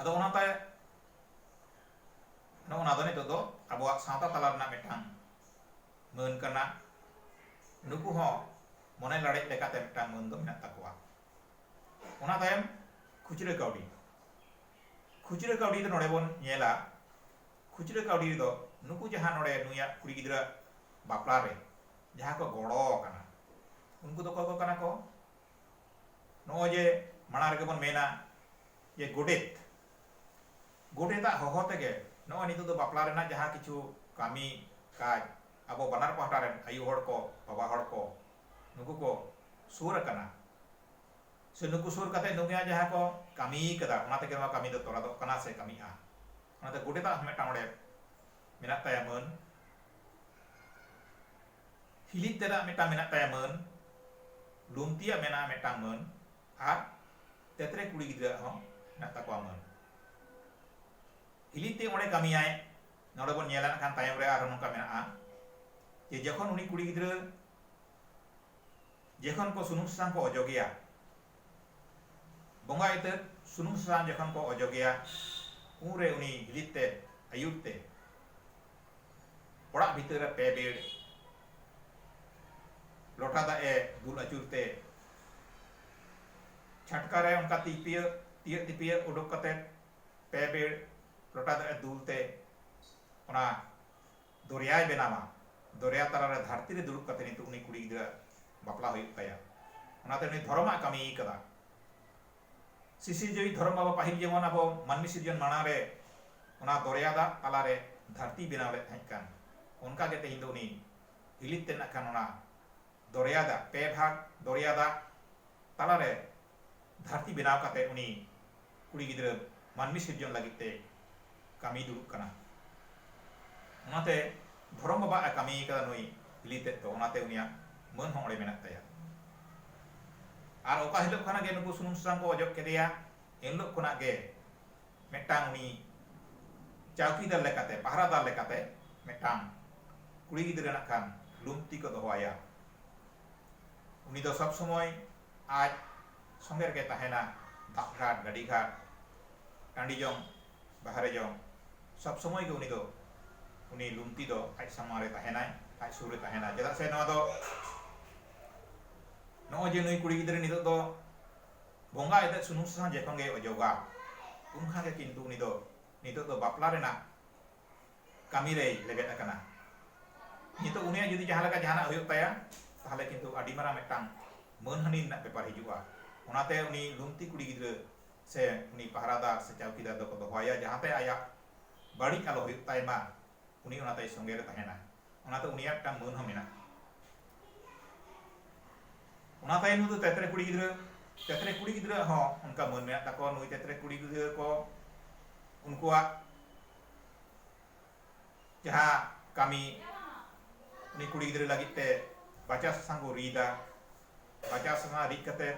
ᱟᱫᱚ ᱚᱱᱟᱛᱮ ᱱᱚᱜᱼᱚ ᱱᱟ ᱫᱚ ᱱᱤᱛᱚᱜ ᱫᱚ ᱟᱵᱚᱣᱟᱜ ᱥᱟᱶᱛᱟ ᱛᱟᱞᱟ ᱨᱮᱱᱟᱜ ᱢᱤᱫᱴᱟᱝ ᱢᱟᱹᱱ ᱠᱟᱱᱟ ᱱᱩᱠᱩ ᱦᱚᱸ ᱢᱚᱱᱮ ᱞᱟᱲᱮᱡ ᱞᱮᱠᱟᱛᱮ ᱢᱤᱫᱴᱟᱝ ᱢᱟᱹᱱ ᱫᱚ ᱢᱮᱱᱟᱜ ᱛᱟᱠᱚᱣᱟ ᱚᱱᱟ ᱛᱟᱭᱚᱢ ᱠᱷᱩᱪᱨᱟᱹ ᱠᱟᱹᱣᱰᱤ ᱠᱷᱩᱪᱨᱟᱹ ᱠᱟᱹᱣᱰᱤ ᱫᱚ ᱱᱚᱰᱮ ᱵᱚᱱ ᱧᱮᱞᱟ ᱠᱷᱩᱪᱨᱟᱹ ᱠᱟᱹᱣᱰᱤ ᱨᱮᱫᱚ ᱱᱩᱠᱩ ᱡᱟᱦᱟᱸ ᱱᱚᱰᱮ ᱱᱩᱭᱟᱜ ᱠᱩᱲᱤ ᱜᱤᱫᱽᱨᱟᱹ ᱵᱟᱯᱞᱟ ᱨᱮ ᱡᱟᱦᱟᱸ ᱠᱚ ᱜᱚᱲᱚ ᱟᱠᱟᱱᱟ ᱩᱱᱠᱩ ᱫᱚ ᱚᱠᱚᱭ ᱠᱚ ᱠᱟᱱᱟ ᱠᱚ ᱱᱚᱜᱼᱚᱭ ᱡᱮ ᱢᱟᱲᱟᱝ ᱨᱮᱜᱮ ᱵᱚᱱ ᱢᱮᱱᱟ ᱡᱮ ᱜᱚᱰᱮᱛ ᱜᱚᱰᱮᱛᱟᱜ ᱦᱚᱦᱚ ᱛᱮᱜᱮ ᱱᱚᱜᱼᱚᱭ ᱱᱤᱛᱚᱜ ᱫᱚ ᱵᱟᱯᱞᱟ ᱨᱮᱱᱟᱜ ᱡᱟᱦᱟᱸ ᱠᱤᱪᱷᱩ ᱠᱟᱹᱢᱤ ᱠᱟᱡᱽ ᱟᱵᱚ ᱵᱟᱱᱟᱨ ᱯᱟᱦᱴᱟ ᱨᱮᱱ ᱟᱭᱳ ᱦᱚᱲ ᱠᱚ ᱵᱟᱵᱟ ᱦᱚᱲ ᱠᱚ ᱱᱩᱠᱩ ᱠᱚ ᱥᱩᱨ ᱟᱠᱟᱱᱟ ᱥᱮ ᱱᱩᱠᱩ ᱥᱩᱨ ᱠᱟᱛᱮ ᱱᱩᱠᱩᱭᱟᱜ ᱡᱟᱦᱟᱸ ᱠᱚ ᱠᱟᱹᱢᱤ ᱠᱟᱫᱟ ᱚᱱᱟ ᱛᱮᱜᱮ ᱱᱚᱣᱟ ᱠᱟᱹᱢᱤ ᱫᱚ ᱛᱚᱨᱟᱫᱚᱜ ᱠᱟᱱᱟ ᱥᱮ ᱠᱟᱹᱢᱤᱜᱼᱟ ᱚᱱᱟᱛᱮ ᱜᱚᱰᱮᱛᱟᱜ ᱦᱚᱸ ᱢᱤᱫᱴᱟᱝ ᱚᱸᱰᱮ ᱢᱮᱱᱟᱜ ᱛᱟᱭᱟ ᱢᱟᱹᱱ ᱯᱷᱤᱞᱤᱯ ᱛᱮᱫᱟᱜ ᱢᱤᱫᱴᱟᱝ ᱢᱮᱱᱟᱜ ᱛᱟᱭᱟ ᱢᱟᱹᱱ, ᱞᱩᱢᱛᱤᱭᱟᱜ ᱢᱮᱱᱟᱜᱼᱟ ᱢᱤᱫᱴᱟᱝ ᱢᱟᱹᱱ ᱟᱨ ᱛᱮᱛᱨᱮ ᱠᱩᱲᱤ ᱜᱤᱫᱽᱨᱟᱹ ᱟᱜ ᱦᱚᱸ ᱢᱮᱱᱟᱜ ᱛᱟᱠᱚᱣᱟ ᱢᱟᱹᱱ᱾ ᱯᱷᱤᱞᱤᱯ ᱛᱮ ᱚᱸᱰᱮ ᱠᱟᱹᱢᱤᱭᱟᱭ, ᱱᱚᱸᱰᱮ ᱵᱚᱱ ᱧᱮᱞᱟ ᱱᱟᱜ ᱠᱷᱟᱱ ᱛᱟᱭᱚᱢ ᱨᱮ ᱟᱨᱦᱚᱸ ᱱᱚᱝᱠᱟ ᱢᱮᱱᱟᱜᱼᱟ ᱡᱮ ᱡᱚᱠᱷᱚᱱ ᱩᱱᱤ ᱠᱩᱲᱤ ᱜᱤᱫᱽᱨᱟᱹ ᱡᱚᱠᱷᱚᱱ ᱠᱚ ᱥᱩᱱᱩᱢ ᱥᱟᱥᱟᱝ ᱠᱚ ᱚᱡᱚᱜᱮᱭᱟ, ᱵᱚᱸᱜᱟ ᱤᱛᱟᱹᱫ ᱥᱩᱱᱩᱢ ᱥᱟᱥᱟᱝ ᱡᱚᱠᱷᱚᱱ ᱠᱚ ᱚᱡᱚᱜᱮᱭᱟ ᱩᱱᱨᱮ ᱩᱱᱤ ᱯᱷᱤᱞᱤᱯ ᱛᱮᱫ ᱟᱹᱭᱩᱨ ᱛᱮ ᱚᱲᱟᱜ ᱵᱷᱤᱛᱟᱹᱨ ᱨᱮ ᱯᱮ ᱵᱮᱲ ᱞᱚᱴᱟ ᱫᱟᱜ ᱮ ᱫᱩᱞ ᱟᱹᱪᱩᱨ ᱛᱮ ᱪᱷᱟᱴᱠᱟ ᱨᱮ ᱚᱱᱠᱟ ᱛᱤ ᱯᱤᱭᱟᱹ ᱛᱤᱭᱟᱹᱜ ᱛᱤᱯᱤᱭᱟᱹ ᱩᱰᱩᱠ ᱠᱟᱛᱮ ᱯᱮ ᱵᱮᱲ ᱞᱚᱴᱟ ᱫᱟᱜ ᱮ ᱫᱩᱞ ᱛᱮ ᱚᱱᱟ ᱫᱚᱨᱭᱟᱭ ᱵᱮᱱᱟᱣᱟ ᱫᱚᱨᱭᱟ ᱛᱟᱞᱟ ᱨᱮ ᱫᱷᱟᱹᱨᱛᱤ ᱨᱮ ᱫᱩᱲᱩᱵ ᱠᱟᱛᱮ ᱱᱤᱛᱚᱜ ᱩᱱᱤ ᱠᱩᱲᱤ ᱜᱤᱫᱽᱨᱟᱹ ᱵᱟᱯᱞᱟ ᱦᱩᱭᱩᱜ ᱛᱟᱭᱟ ᱚᱱᱟᱛᱮ ᱩᱱᱤ ᱫᱷᱚᱨᱚᱢᱟᱜ ᱠᱟᱹᱢᱤ ᱟᱠᱟᱫᱟ ᱥᱤᱥᱤᱨᱡᱟᱹᱣᱤᱡ ᱫᱷᱚᱨᱚᱢ ᱵᱟᱵᱟ ᱯᱟᱹᱦᱤᱞ ᱡᱮᱢᱚᱱ ᱟᱵᱚ ᱢᱟᱹᱱᱢᱤ ᱥᱤᱨᱡᱚᱱ ᱢᱟᱲᱟᱝ ᱨᱮ ᱚᱱᱟ ᱫᱚᱨᱭᱟ ᱫᱟᱜ ᱛᱟᱞᱟ ᱨᱮ ᱫᱷᱟᱹᱨᱛᱤᱭ ᱵᱮᱱᱟᱣ ᱞᱮᱫ ᱛᱟᱦᱮᱸᱫ ᱠᱟᱱ ᱚᱱᱠᱟ ᱜᱮ ᱛᱮᱦᱮᱧ ᱫᱚ ᱩᱱᱤ ᱦᱤᱞᱤᱛ ᱛᱮ ᱱᱟᱜ ᱠᱷᱟᱱ ᱚᱱᱟ ᱫᱚᱨᱭᱟ ᱫᱟᱜ ᱯᱮ ᱵᱷᱟᱜᱽ ᱫᱚᱨᱭᱟ ᱫᱟᱜ ᱛᱟᱞᱟ ᱨᱮ ᱫᱷᱟᱹᱨᱛᱤ ᱵᱮᱱᱟᱣ ᱠᱟᱛᱮ ᱩᱱᱤ ᱠᱩᱲᱤ ᱜᱤᱫᱽᱨᱟᱹ ᱢᱟᱹᱱᱢᱤ ᱥᱤᱨᱡᱚᱱ ᱞᱟᱹᱜᱤᱫ ᱛᱮ ᱠᱟᱹᱢᱤ ᱫᱩᱲᱩᱵ ᱠᱟᱱᱟ ᱚᱱᱟᱛᱮ ᱫᱷᱚᱨᱚᱢ ᱵᱟᱵᱟ ᱮ ᱠᱟᱹᱢᱤ ᱟᱠᱟᱫᱟ ᱱᱩᱭ ᱦᱤᱞᱤ ᱛᱮᱫ ᱫᱚ ᱚᱱᱟᱛᱮ ᱩᱱᱤᱭᱟᱜ ᱢᱟᱹᱱ ᱦᱚᱸ ᱚᱸᱰᱮ ᱢᱮᱱᱟᱜ ᱛᱟᱭᱟ ᱟᱨ ᱚᱠᱟ ᱦᱤᱞᱳᱜ ᱠᱷᱚᱱᱟᱜ ᱜᱮ ᱱᱩᱠᱩ ᱥᱩᱱᱩᱢ ᱥᱟᱥᱟᱝ ᱠᱚ ᱚᱡᱚᱜ ᱠᱮᱫᱮᱭᱟ ᱮᱱᱦᱤᱞᱳᱜ ᱠᱷᱚᱱᱟᱜ ᱜᱮ ᱢᱤᱫᱴᱟᱝ ᱩᱱᱤ ᱪᱟᱣᱠᱤᱫᱟᱨ ᱞᱮᱠᱟᱛᱮ ᱯᱟᱦᱨᱟᱫᱟᱨ ᱞᱮᱠᱟᱛᱮ ᱢᱤᱫᱴᱟᱝ ᱠᱩᱲᱤ ᱜᱤᱫᱽᱨᱟᱹ ᱱᱟᱜ ᱠᱷᱟᱱ ᱞᱩᱢᱛᱤ ᱠᱚ ᱫᱚᱦᱚ ᱟᱭᱟ ᱩᱱᱤ ᱫᱚ ᱥᱚᱵ ᱥᱚᱢᱚᱭ ᱟᱡ ᱥᱚᱸᱜᱮ ᱨᱮᱜᱮ ᱛᱟᱦᱮᱱᱟ ᱫᱟᱜ ᱜᱷᱟᱴ ᱜᱟᱹᱰᱤ ᱜᱷᱟᱴ ᱴᱟᱺᱰᱤ ᱡᱚᱝ ᱵᱟᱦᱨᱮ ᱡᱚᱝ᱾ ᱥᱚᱵᱽ ᱥᱚᱢᱚᱭ ᱜᱮ ᱩᱱᱤ ᱫᱚ ᱩᱱᱤ ᱞᱩᱢᱛᱤ ᱫᱚ ᱟᱡ ᱥᱟᱢᱟᱝ ᱨᱮ ᱛᱟᱦᱮᱸᱱᱟᱭ, ᱟᱡ ᱥᱩᱨ ᱨᱮ ᱛᱟᱦᱮᱸᱱᱟᱭ᱾ ᱪᱮᱫᱟᱜ ᱥᱮ ᱱᱚᱣᱟ ᱫᱚ ᱱᱚᱜᱼᱚᱭ ᱡᱮ ᱱᱩᱭ ᱠᱩᱲᱤ ᱜᱤᱫᱽᱨᱟᱹ ᱱᱤᱛᱚᱜ ᱫᱚ ᱵᱚᱸᱜᱟ ᱮᱛᱮᱫ ᱥᱩᱱᱩᱢ ᱥᱟᱥᱟᱝ ᱡᱚᱠᱷᱚᱱ ᱜᱮᱭ ᱚᱡᱚᱜᱟ ᱩᱱ ᱠᱷᱟᱱ ᱜᱮ ᱠᱤᱱᱛᱩ ᱩᱱᱤ ᱫᱚ ᱱᱤᱛᱚᱜ ᱫᱚ ᱵᱟᱯᱞᱟ ᱨᱮᱱᱟᱜ ᱠᱟᱹᱢᱤ ᱨᱮᱭ ᱞᱮᱵᱮᱫ ᱟᱠᱟᱱᱟ᱾ ᱱᱤᱛᱚᱜ ᱩᱱᱤᱭᱟᱜ ᱡᱩᱫᱤ ᱡᱟᱦᱟᱸ ᱞᱮᱠᱟ ᱡᱟᱦᱟᱸᱱᱟᱜ ᱦᱩᱭᱩᱜ ᱛᱟᱭᱟ ᱛᱟᱦᱚᱞᱮ ᱠᱤᱱᱛᱩ ᱟᱹᱰᱤ ᱢᱟᱨᱟᱝ ᱢᱤᱫᱴᱟᱝ ᱢᱟᱹᱱᱦᱟᱹᱱᱤ ᱨᱮᱱᱟᱜ ᱵᱮᱯᱟᱨ ᱦᱤᱡᱩᱜᱼᱟ᱾ ᱚᱱᱟᱛᱮ ᱩᱱᱤ ᱞᱩᱢᱛᱤ ᱠᱩᱲᱤ ᱜᱤᱫᱽᱨᱟᱹ ᱥᱮ ᱩᱱᱤ ᱯᱟᱦᱨᱟᱫᱟᱨ ᱥᱮ ᱪᱟᱣᱠᱤᱫᱟᱨ ᱫᱚᱠᱚ ᱫᱚᱦᱚᱣᱟᱭᱟ ᱡᱟᱦᱟᱸᱛᱮ ᱟᱭᱟᱜ ᱵᱟᱹᱲᱤᱡ ᱟᱞᱚ ᱦᱩᱭᱩᱜ ᱛᱟᱭ ᱢᱟ ᱩᱱᱤ ᱚᱱᱟ ᱛᱟᱭ ᱥᱚᱸᱜᱮ ᱨᱮ ᱛᱟᱦᱮᱱᱟ ᱚᱱᱟᱛᱮ ᱩᱱᱤᱭᱟᱜ ᱢᱤᱫᱴᱟᱝ ᱢᱟᱹᱱ ᱦᱚᱸ ᱢᱮᱱᱟᱜᱼᱟ ᱚᱱᱟ ᱛᱟᱭᱱᱚᱢ ᱫᱚ ᱛᱮᱛᱨᱮ ᱠᱩᱲᱤ ᱜᱤᱫᱽᱨᱟᱹ ᱛᱮᱛᱨᱮ ᱠᱩᱲᱤ ᱜᱤᱫᱽᱨᱟᱹ ᱦᱚᱸ ᱚᱱᱠᱟ ᱢᱟᱹᱱ ᱢᱮᱱᱟᱜ ᱛᱟᱠᱚᱣᱟ ᱱᱩᱭ ᱛᱮᱛᱨᱮ ᱠᱩᱲᱤ ᱜᱤᱫᱽᱨᱟᱹ ᱠᱚ ᱩᱱᱠᱩᱣᱟᱜ ᱡᱟᱦᱟᱸ ᱠᱟᱹᱢᱤ ᱩᱱᱤ ᱠᱩᱲᱤ ᱜᱤᱫᱽᱨᱟᱹ ᱞᱟᱹᱜᱤᱫ ᱛᱮ ᱵᱟᱪᱟ ᱥᱟᱥᱟᱝ ᱠᱚ ᱨᱤᱫᱟ ᱵᱟᱪᱟ ᱥᱟᱥᱟᱝ ᱨᱤᱫ ᱠᱟᱛᱮ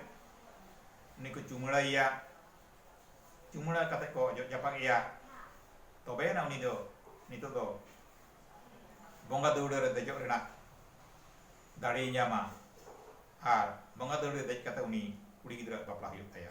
ᱩᱱᱤ ᱠᱚ ᱪᱩᱢᱟᱹᱲᱟᱭᱮᱭᱟ ᱪᱩᱢᱟᱹᱲᱟ ᱠᱟᱛᱮ ᱠᱚ ᱚᱡᱚᱜ ᱡᱟᱯᱟᱜ ᱮᱭᱟ ᱛᱚᱵᱮᱭᱮᱱᱟ ᱩᱱᱤ ᱫᱚ ᱱᱤᱛᱚᱜ ᱫᱚ ᱵᱚᱸᱜᱟ ᱫᱟᱹᱣᱲᱟᱹ ᱨᱮ ᱫᱮᱡᱚᱜ ᱨᱮᱱᱟᱜ ᱫᱟᱲᱮᱭ ᱧᱟᱢᱟ ᱟᱨ ᱵᱚᱸᱜᱟ ᱫᱟᱹᱣᱲᱟᱹ ᱨᱮ ᱫᱮᱡ ᱠᱟᱛᱮ ᱩᱱᱤ ᱠᱩᱲᱤ ᱜᱤᱫᱽᱨᱟᱹᱣᱟᱜ ᱵᱟᱯᱞᱟ ᱦᱩᱭᱩᱜ ᱛᱟᱭᱟ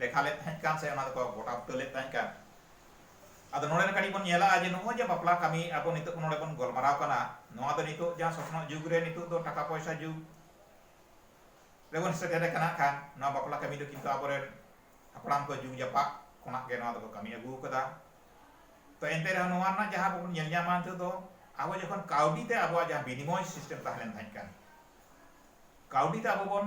ᱞᱮᱠᱷᱟ ᱞᱮᱫ ᱛᱟᱦᱮᱸᱫ ᱠᱟᱱ ᱥᱮ ᱚᱱᱟ ᱫᱚᱠᱚ ᱜᱚᱴᱟ ᱵᱩᱴᱟᱹ ᱞᱮᱫ ᱛᱟᱦᱮᱸᱫ ᱠᱟᱱ ᱟᱫᱚ ᱱᱚᱰᱮ ᱠᱟᱹᱴᱤᱡ ᱵᱚᱱ ᱧᱮᱞᱟ ᱡᱮ ᱱᱚᱜᱼᱚᱭ ᱡᱮ ᱵᱟᱯᱞᱟ ᱠᱟᱹᱢᱤ ᱟᱵᱚ ᱱᱤᱛᱚᱜ ᱱᱚᱰᱮ ᱵᱚᱱ ᱜᱚᱞᱢᱟᱨᱟᱣ ᱠᱟᱱᱟ ᱱᱚᱣᱟ ᱫᱚ ᱱᱤᱛᱚᱜ ᱡᱟᱦᱟᱸ ᱥᱚᱥᱱᱚᱜ ᱡᱩᱜᱽ ᱨᱮ ᱱᱤᱛᱚᱜ ᱫᱚ ᱴᱟᱠᱟ ᱯᱚᱭᱥᱟ ᱡᱩᱜᱽ ᱨᱮᱵᱚᱱ ᱥᱮᱴᱮᱨ ᱟᱠᱟᱱᱟ ᱠᱷᱟᱱ ᱱᱚᱣᱟ ᱵᱟᱯᱞᱟ ᱠᱟᱹᱢᱤ ᱫᱚ ᱠᱤᱱᱛᱩ ᱟᱵᱚᱨᱮᱱ ᱦᱟᱯᱲᱟᱢ ᱠᱚ ᱡᱩᱜᱽ ᱡᱟᱯᱟᱜ ᱠᱷᱚᱱᱟᱜ ᱜᱮ ᱱᱚᱣᱟ ᱫᱚᱠᱚ ᱠᱟᱹᱢᱤ ᱟᱹᱜᱩ ᱟᱠᱟᱫᱟ ᱛᱚ ᱮᱱᱛᱮ ᱨᱮᱦᱚᱸ ᱱᱚᱣᱟ ᱨᱮᱱᱟᱜ ᱡᱟᱦᱟᱸ ᱵᱚᱱ ᱧᱮᱞ ᱧᱟᱢᱟ ᱱᱤᱛᱚᱜ ᱫᱚ ᱟᱵᱚ ᱡᱚᱠᱷᱚᱱ ᱠᱟᱹᱣᱰᱤ ᱛᱮ ᱟᱵᱚᱣᱟᱜ ᱡᱟᱦᱟᱸ ᱵᱤᱱᱤᱢᱚᱭ ᱥᱤᱥᱴᱮᱢ ᱛᱟᱦᱮᱸ ᱞᱮᱱ ᱛᱟᱦᱮᱸᱫ ᱠᱟᱱ ᱠᱟᱹᱣᱰᱤ ᱛᱮ ᱟᱵᱚ ᱵᱚᱱ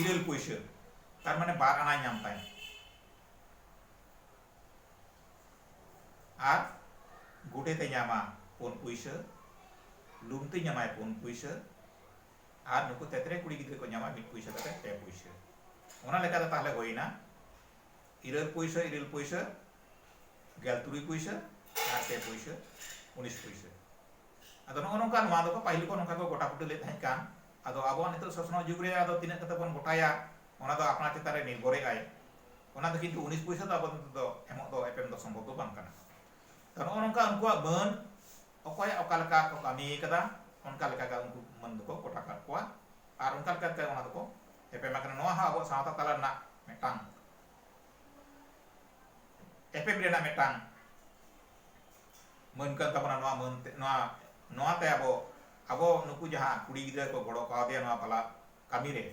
ᱤᱨᱟᱹᱞ ᱯᱩᱭᱥᱟᱹ ᱛᱟᱨ ᱢᱟᱱᱮ ᱵᱟᱨ ᱟᱱᱟᱭ ᱧᱟᱢ ᱛᱟᱭᱟ ᱟᱨ ᱜᱩᱰᱮᱛᱮ ᱧᱟᱢᱟ ᱯᱩᱱ ᱯᱩᱭᱥᱟᱹ ᱞᱩᱢᱛᱤ ᱧᱟᱢᱟᱭ ᱯᱩᱱ ᱯᱩᱭᱥᱟᱹ ᱟᱨ ᱱᱩᱠᱩ ᱛᱮᱛᱨᱮ ᱠᱩᱲᱤ ᱜᱤᱫᱽᱨᱟᱹ ᱠᱚ ᱧᱟᱢᱟ ᱢᱤᱫ ᱯᱩᱭᱥᱟᱹ ᱠᱟᱛᱮ ᱯᱮ ᱯᱩᱭᱥᱟᱹ ᱚᱱᱟ ᱞᱮᱠᱟᱛᱮ ᱛᱟᱦᱞᱮ ᱦᱩᱭᱱᱟ ᱤᱨᱟᱹᱞ ᱯᱩᱭᱥᱟᱹ ᱤᱨᱟᱹᱞ ᱯᱩᱭᱥᱟᱹ ᱜᱮᱞ ᱛᱩᱨᱩᱭ ᱯᱩᱭᱥᱟᱹ ᱟᱨ ᱯᱮ ᱯᱩᱭᱥᱟᱹ ᱩᱱᱤᱥ ᱯᱩᱭᱥᱟᱹ ᱟᱫᱚ ᱱᱚᱜᱼᱚ ᱱᱚᱝᱠᱟ ᱱᱚᱣᱟ ᱫᱚᱠᱚ ᱯᱟᱹᱦᱤᱞ ᱠᱚ ᱱᱚᱝᱠᱟ ᱠᱚ ᱜᱚᱴᱟ ᱵᱩᱴᱟᱹ ᱞᱮᱫ ᱛᱟᱦᱮᱸ ᱠᱟᱱ ᱟᱫᱚ ᱟᱵᱚᱣᱟᱜ ᱱᱤᱛᱚᱜ ᱥᱚᱥᱱᱚᱜ ᱡᱩᱜᱽ ᱨᱮ ᱟᱫᱚ ᱛᱤᱱᱟᱹᱜ ᱠᱟᱛᱮ ᱵᱚᱱ ᱜᱚᱴᱟᱭᱟ ᱚᱱᱟ ᱫᱚ ᱟᱯᱱᱟᱨ ᱪᱮᱛᱟᱱ ᱨᱮ ᱱᱤᱨᱵᱷᱚᱨᱮᱜ ᱟᱭ᱾ ᱚᱱᱟ ᱫᱚ ᱠᱤᱱᱛᱩ ᱩᱱᱤᱥ ᱯᱚᱭᱥᱟ ᱫᱚ ᱟᱵᱚ ᱫᱚ ᱱᱤᱛᱚᱜ ᱫᱚ ᱮᱢᱚᱜ ᱫᱚ ᱮᱯᱮᱢ ᱫᱚ ᱥᱚᱢᱵᱷᱚᱵᱽ ᱫᱚ ᱵᱟᱝ ᱠᱟᱱᱟ᱾ ᱛᱚ ᱱᱚᱜᱼᱚ ᱱᱚᱝᱠᱟ ᱩᱱᱠᱩᱣᱟᱜ ᱢᱟᱹᱱ ᱚᱠᱚᱭ ᱚᱠᱟ ᱞᱮᱠᱟ ᱠᱚ ᱠᱟᱹᱢᱤ ᱟᱠᱟᱫᱟ ᱚᱱᱠᱟ ᱞᱮᱠᱟ ᱜᱮ ᱩᱱᱠᱩ ᱢᱟᱹᱱ ᱫᱚᱠᱚ ᱜᱚᱴᱟ ᱠᱟᱫ ᱠᱚᱣᱟ ᱟᱨ ᱚᱱᱠᱟ ᱞᱮᱠᱟ ᱛᱮ ᱚᱱᱟ ᱫᱚᱠᱚ ᱮᱯᱮᱢ ᱟᱠᱟᱱᱟ ᱱᱚᱣᱟ ᱦᱚᱸ ᱟᱵᱚᱣᱟᱜ ᱥᱟᱶᱛᱟ ᱛᱟᱞᱟ ᱨᱮᱱᱟᱜ ᱢᱤᱫᱴᱟᱝ ᱮᱯᱮᱢ ᱨᱮᱱᱟᱜ ᱢᱤᱫᱴᱟᱝ ᱢᱟᱹᱱ ᱠᱟᱱ ᱛᱟᱵᱚᱱᱟ ᱱᱚᱣᱟ ᱢᱟᱹᱱ ᱛᱮ ᱱᱚᱣᱟ ᱱᱚᱣᱟ ᱛᱮ ᱟᱵᱚ ᱟᱵᱚ ᱱᱩᱠᱩ ᱡᱟᱦᱟᱸ ᱠᱩᱲᱤ ᱜᱤᱫᱽᱨᱟᱹ ᱠᱚ ᱜᱚᱲᱚ ᱠᱟᱣᱫᱮᱭᱟ ᱱᱚᱣᱟ ᱵᱟᱞᱟ ᱠᱟᱹᱢᱤ ᱨᱮ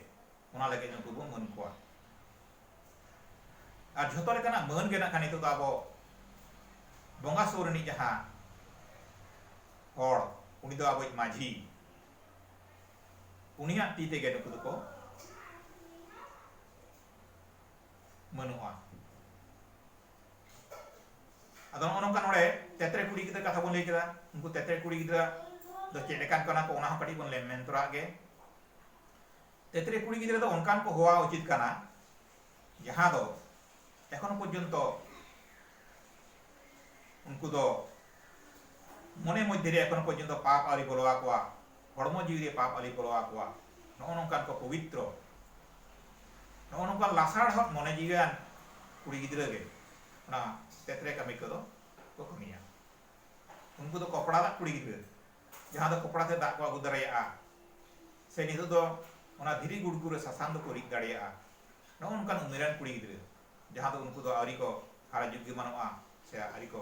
ᱚᱱᱟ ᱞᱟᱹᱜᱤᱫ ᱱᱩᱠᱩ ᱵᱚᱱ ᱢᱟᱹᱱ ᱠᱚᱣᱟ ᱟᱨ ᱡᱷᱚᱛᱚ ᱞᱮᱠᱟᱱᱟᱜ ᱢᱟᱹᱱ ᱜᱮ ᱱᱟᱜ ᱱᱤᱛᱚᱜ ᱫᱚ ᱟᱵᱚ ᱵᱚᱸᱜᱟ ᱥᱩᱨ ᱨᱤᱱᱤᱡ ᱡᱟᱦᱟᱸ ᱦᱚᱲ ᱩᱱᱤ ᱫᱚ ᱟᱵᱚᱭᱤᱡ ᱢᱟᱹᱡᱷᱤ ᱩᱱᱤᱭᱟᱜ ᱛᱤ ᱛᱮᱜᱮ ᱱᱩᱠᱩ ᱫᱚᱠᱚ ᱢᱟᱹᱱᱚᱜᱼᱟ ᱟᱫᱚ ᱱᱚᱜᱼᱚ ᱱᱚᱝᱠᱟ ᱱᱚᱰᱮ ᱛᱮᱛᱨᱮ ᱠᱩᱲᱤ ᱜᱤᱫᱽᱨᱟᱹ ᱠᱟᱛᱷᱟ ᱵᱚᱱ ᱞᱟᱹᱭ ᱠᱮᱫᱟ ᱩᱱᱠᱩ ᱛᱮᱛᱨᱮ ᱠᱩᱲᱤ ᱜᱤᱫᱽᱨᱟᱹ ᱫᱚ ᱪᱮᱫ ᱞᱮᱠᱟᱱ ᱠᱟᱱᱟ ᱠᱚ ᱚᱱᱟ ᱦᱚᱸ ᱠᱟᱹᱴᱤᱡ ᱵᱚᱱ ᱞᱟᱹᱭ ᱢᱮᱱ ᱛᱚᱨᱟᱜ ᱜᱮ ᱛᱮᱛᱨᱮ ᱠᱩᱲᱤ ᱜᱤᱫᱽᱨᱟᱹ ᱫᱚ ᱚᱱᱠᱟᱱ ᱠᱚ ᱦᱚᱣᱟ ᱩᱪᱤᱛ ᱠᱟᱱᱟ ᱡᱟᱦᱟᱸ ᱫᱚ ᱮᱠᱷᱚᱱ ᱯᱚᱨᱡᱚᱱᱛᱚ ᱩᱱᱠᱩ ᱫᱚ ᱢᱚᱱᱮ ᱢᱚᱫᱷᱭᱮ ᱨᱮ ᱮᱠᱷᱚᱱᱚ ᱯᱚᱨᱡᱚᱱᱛᱚ ᱯᱟᱯ ᱟᱹᱣᱨᱤ ᱵᱚᱞᱚ ᱟᱠᱚᱣᱟ, ᱦᱚᱲᱢᱚ ᱡᱤᱣᱤ ᱨᱮ ᱯᱟᱯ ᱟᱹᱣᱨᱤ ᱵᱚᱞᱚ ᱟᱠᱚᱣᱟ, ᱱᱚᱜᱼᱚ ᱱᱚᱝᱠᱟᱱ ᱠᱚ ᱯᱚᱵᱤᱛᱨᱚ᱾ ᱱᱚᱜᱼᱚ ᱱᱚᱝᱠᱟᱱ ᱞᱟᱥᱟᱲᱦᱚᱫ ᱢᱚᱱᱮ ᱡᱤᱣᱤᱣᱟᱱ ᱠᱩᱲᱤ ᱜᱤᱫᱽᱨᱟᱹ ᱜᱮ ᱚᱱᱟ ᱛᱮᱛᱨᱮ ᱠᱟᱹᱢᱤ ᱠᱚᱫᱚ ᱠᱚ ᱠᱟᱹᱢᱤᱭᱟ᱾ ᱩᱱᱠᱩ ᱫᱚ ᱠᱚᱯᱲᱟ ᱫᱟᱜ ᱠᱩᱲᱤ ᱜᱤᱫᱽᱨᱟᱹ, ᱡᱟᱦᱟᱸ ᱫᱚ ᱠᱚᱯᱲᱟ ᱛᱮ ᱫᱟᱜ ᱠᱚ ᱟᱹᱜᱩ ᱫᱟᱲᱮᱭᱟᱜᱼᱟ ᱥᱮ ᱱᱤᱛᱚᱜ ᱫᱚ ᱚᱱᱟ ᱫᱷᱤᱨᱤ ᱜᱩᱲᱜᱩ ᱨᱮ ᱥᱟᱥᱟᱝ ᱫᱚᱠᱚ ᱨᱤᱫ ᱫᱟᱲᱮᱭᱟᱜᱼᱟ, ᱱᱚᱜᱼᱚ ᱱᱚᱝᱠᱟᱱ ᱩᱢᱮᱨᱟᱱ ᱠᱩᱲᱤ ᱜᱤᱫᱽᱨᱟᱹ, ᱡᱟᱦᱟᱸ ᱫᱚ ᱩᱱᱠᱩ ᱫᱚ ᱟᱹᱣᱨᱤ ᱠᱚ ᱦᱟᱨᱟ ᱡᱩᱜᱽ ᱜᱮᱢᱟᱱᱚᱜᱼᱟ ᱥᱮ ᱟᱹᱣᱨᱤ ᱠᱚ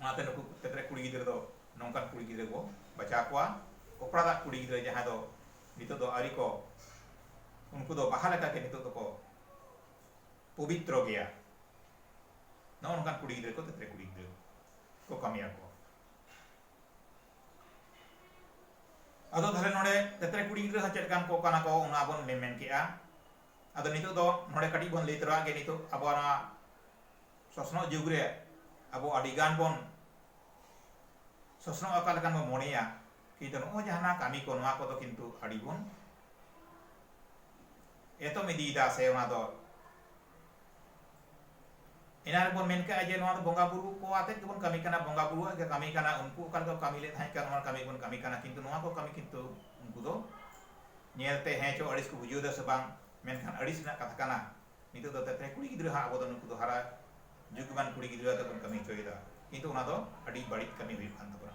ᱚᱱᱟᱛᱮ ᱱᱩᱠᱩ ᱠᱷᱮᱛ ᱨᱮ ᱠᱩᱲᱤ ᱜᱤᱫᱽᱨᱟᱹ ᱫᱚ ᱱᱚᱝᱠᱟᱱ ᱠᱩᱲᱤ ᱜᱤᱫᱽᱨᱟᱹ ᱵᱚ ᱵᱟᱪᱷᱟᱣ ᱠᱚᱣᱟ ᱚᱠᱚᱲᱟ ᱫᱟᱜ ᱠᱩᱲᱤ ᱜᱤᱫᱽᱨᱟᱹ ᱡᱟᱦᱟᱸᱭ ᱫᱚ ᱱᱤᱛᱚᱜ ᱫᱚ ᱟᱹᱣᱨᱤ ᱠᱚ ᱩᱱᱠᱩ ᱫᱚ ᱵᱟᱦᱟ ᱞᱮᱠᱟᱜᱮ ᱱᱤᱛᱚᱜ ᱫᱚᱠᱚ ᱯᱚᱵᱤᱛᱨᱚ ᱜᱮᱭᱟ ᱱᱚᱜᱼᱚ ᱱᱚᱝᱠᱟᱱ ᱠᱩᱲᱤ ᱜᱤᱫᱽᱨᱟᱹ ᱠᱚ ᱛᱮᱛᱨᱮ ᱠᱩᱲᱤ ᱜᱤᱫᱽᱨᱟᱹ ᱠᱚ ᱠᱟᱹᱢᱤᱭᱟ ᱠᱚ ᱟᱫᱚ ᱛᱟᱦᱞᱮ ᱱᱚᱰᱮ ᱛᱮᱛᱨᱮ ᱠᱩᱲᱤ ᱜᱤᱫᱽᱨᱟᱹ ᱦᱚᱸ ᱪᱮᱫ ᱞᱮᱠᱟᱱ ᱠᱚ ᱠᱟᱱᱟ ᱠᱚ ᱚᱱᱟ ᱵᱚᱱ ᱢᱮᱢᱮᱱ ᱠᱮᱜᱼᱟ ᱟᱫᱚ ᱱᱤᱛᱚᱜ ᱫᱚ ᱱᱚᱰᱮ ᱠᱟᱹᱴᱤᱡ ᱵᱚᱱ ᱞᱟᱹᱭ ᱛᱚᱨᱟᱜᱮ ᱱᱤᱛᱚᱜ ᱟᱵᱚᱣᱟᱜ ᱱᱚᱣᱟ ᱥᱚᱥᱱᱚᱜ ᱡᱩᱜᱽ ᱨᱮ ᱟᱵᱚ ᱟᱹᱰᱤ ᱜᱟᱱ ᱵᱚᱱ ᱥᱚᱥᱱᱚᱜ ᱚᱠᱟ ᱞᱮᱠᱟᱱ ᱵᱚᱱ ᱢᱚᱱᱮᱭᱟ ᱠᱤᱱᱛᱩ ᱱᱚᱜᱼᱚᱭ ᱡᱟᱦᱟᱱᱟᱜ ᱠᱟᱹᱢᱤ ᱠᱚ ᱱᱚᱣᱟ ᱠᱚᱫᱚ ᱠᱤᱱᱛᱩ ᱟᱹᱰᱤ ᱵᱚᱱ ᱮᱛᱚᱢ ᱤᱫᱤᱭᱮᱫᱟ ᱥᱮ ᱚᱱᱟ ᱫᱚ ᱮᱱᱟᱝ ᱨᱮᱵᱚᱱ ᱢᱮᱱ ᱠᱮᱫᱼᱟ ᱡᱮ ᱱᱚᱣᱟ ᱫᱚ ᱵᱚᱸᱜᱟ ᱵᱩᱨᱩ ᱠᱚ ᱟᱛᱮᱫ ᱜᱮᱵᱚᱱ ᱠᱟᱹᱢᱤ ᱠᱟᱱᱟ ᱵᱚᱸᱜᱟ ᱵᱩᱨᱩᱣᱟᱜ ᱜᱮ ᱠᱟᱹᱢᱤ ᱠᱟᱱᱟ ᱩᱱᱠᱩ ᱚᱠᱟ ᱞᱮᱠᱟ ᱠᱟᱹᱢᱤ ᱞᱮᱫ ᱛᱟᱦᱮᱸ ᱠᱟᱱᱟ ᱚᱱᱟ ᱠᱟᱹᱢᱤ ᱵᱚᱱ ᱠᱟᱹᱢᱤ ᱠᱟᱱᱟ ᱠᱤᱱᱛᱩ ᱱᱚᱣᱟ ᱠᱚ ᱠᱟᱹᱢᱤ ᱠᱤᱱᱛᱩ ᱩᱱᱠᱩ ᱫᱚ ᱧᱮᱞᱛᱮ ᱦᱮᱸ ᱪᱚ ᱟᱹᱲᱤᱥ ᱠᱚ ᱵᱩᱡᱷᱟᱹᱣ ᱮᱫᱟ ᱥᱮ ᱵᱟᱝ ᱢᱮᱱᱠᱷᱟᱱ ᱟᱹᱲᱤᱥ ᱨᱮᱱᱟᱜ ᱠᱟᱛᱷᱟ ᱠᱟᱱᱟ ᱱᱤᱛᱚᱜ ᱫᱚ ᱛᱮᱛᱨᱮ ᱠᱩᱲᱤ ᱜᱤᱫᱽᱨᱟᱹ ᱦᱟᱸᱜ ᱟᱵᱚ ᱫᱚ ᱱᱩᱠᱩ ᱫᱚ ᱦᱟᱨᱟ ᱡᱩᱜᱽᱢᱟᱱ ᱠᱩᱲᱤ ᱜᱤᱫᱽᱨᱟᱹ ᱟᱛᱮᱫ ᱵᱚᱱ ᱠᱟᱹᱢᱤ ᱦᱚᱪᱚᱭᱮᱫᱟ ᱠᱤᱱᱛᱩ ᱚᱱᱟ ᱫᱚ ᱟᱹᱰᱤ ᱵᱟᱹᱲᱤᱡ ᱠᱟᱹᱢᱤ ᱦᱩᱭᱩᱜ ᱠᱟᱱ ᱛᱟᱵᱚᱱᱟ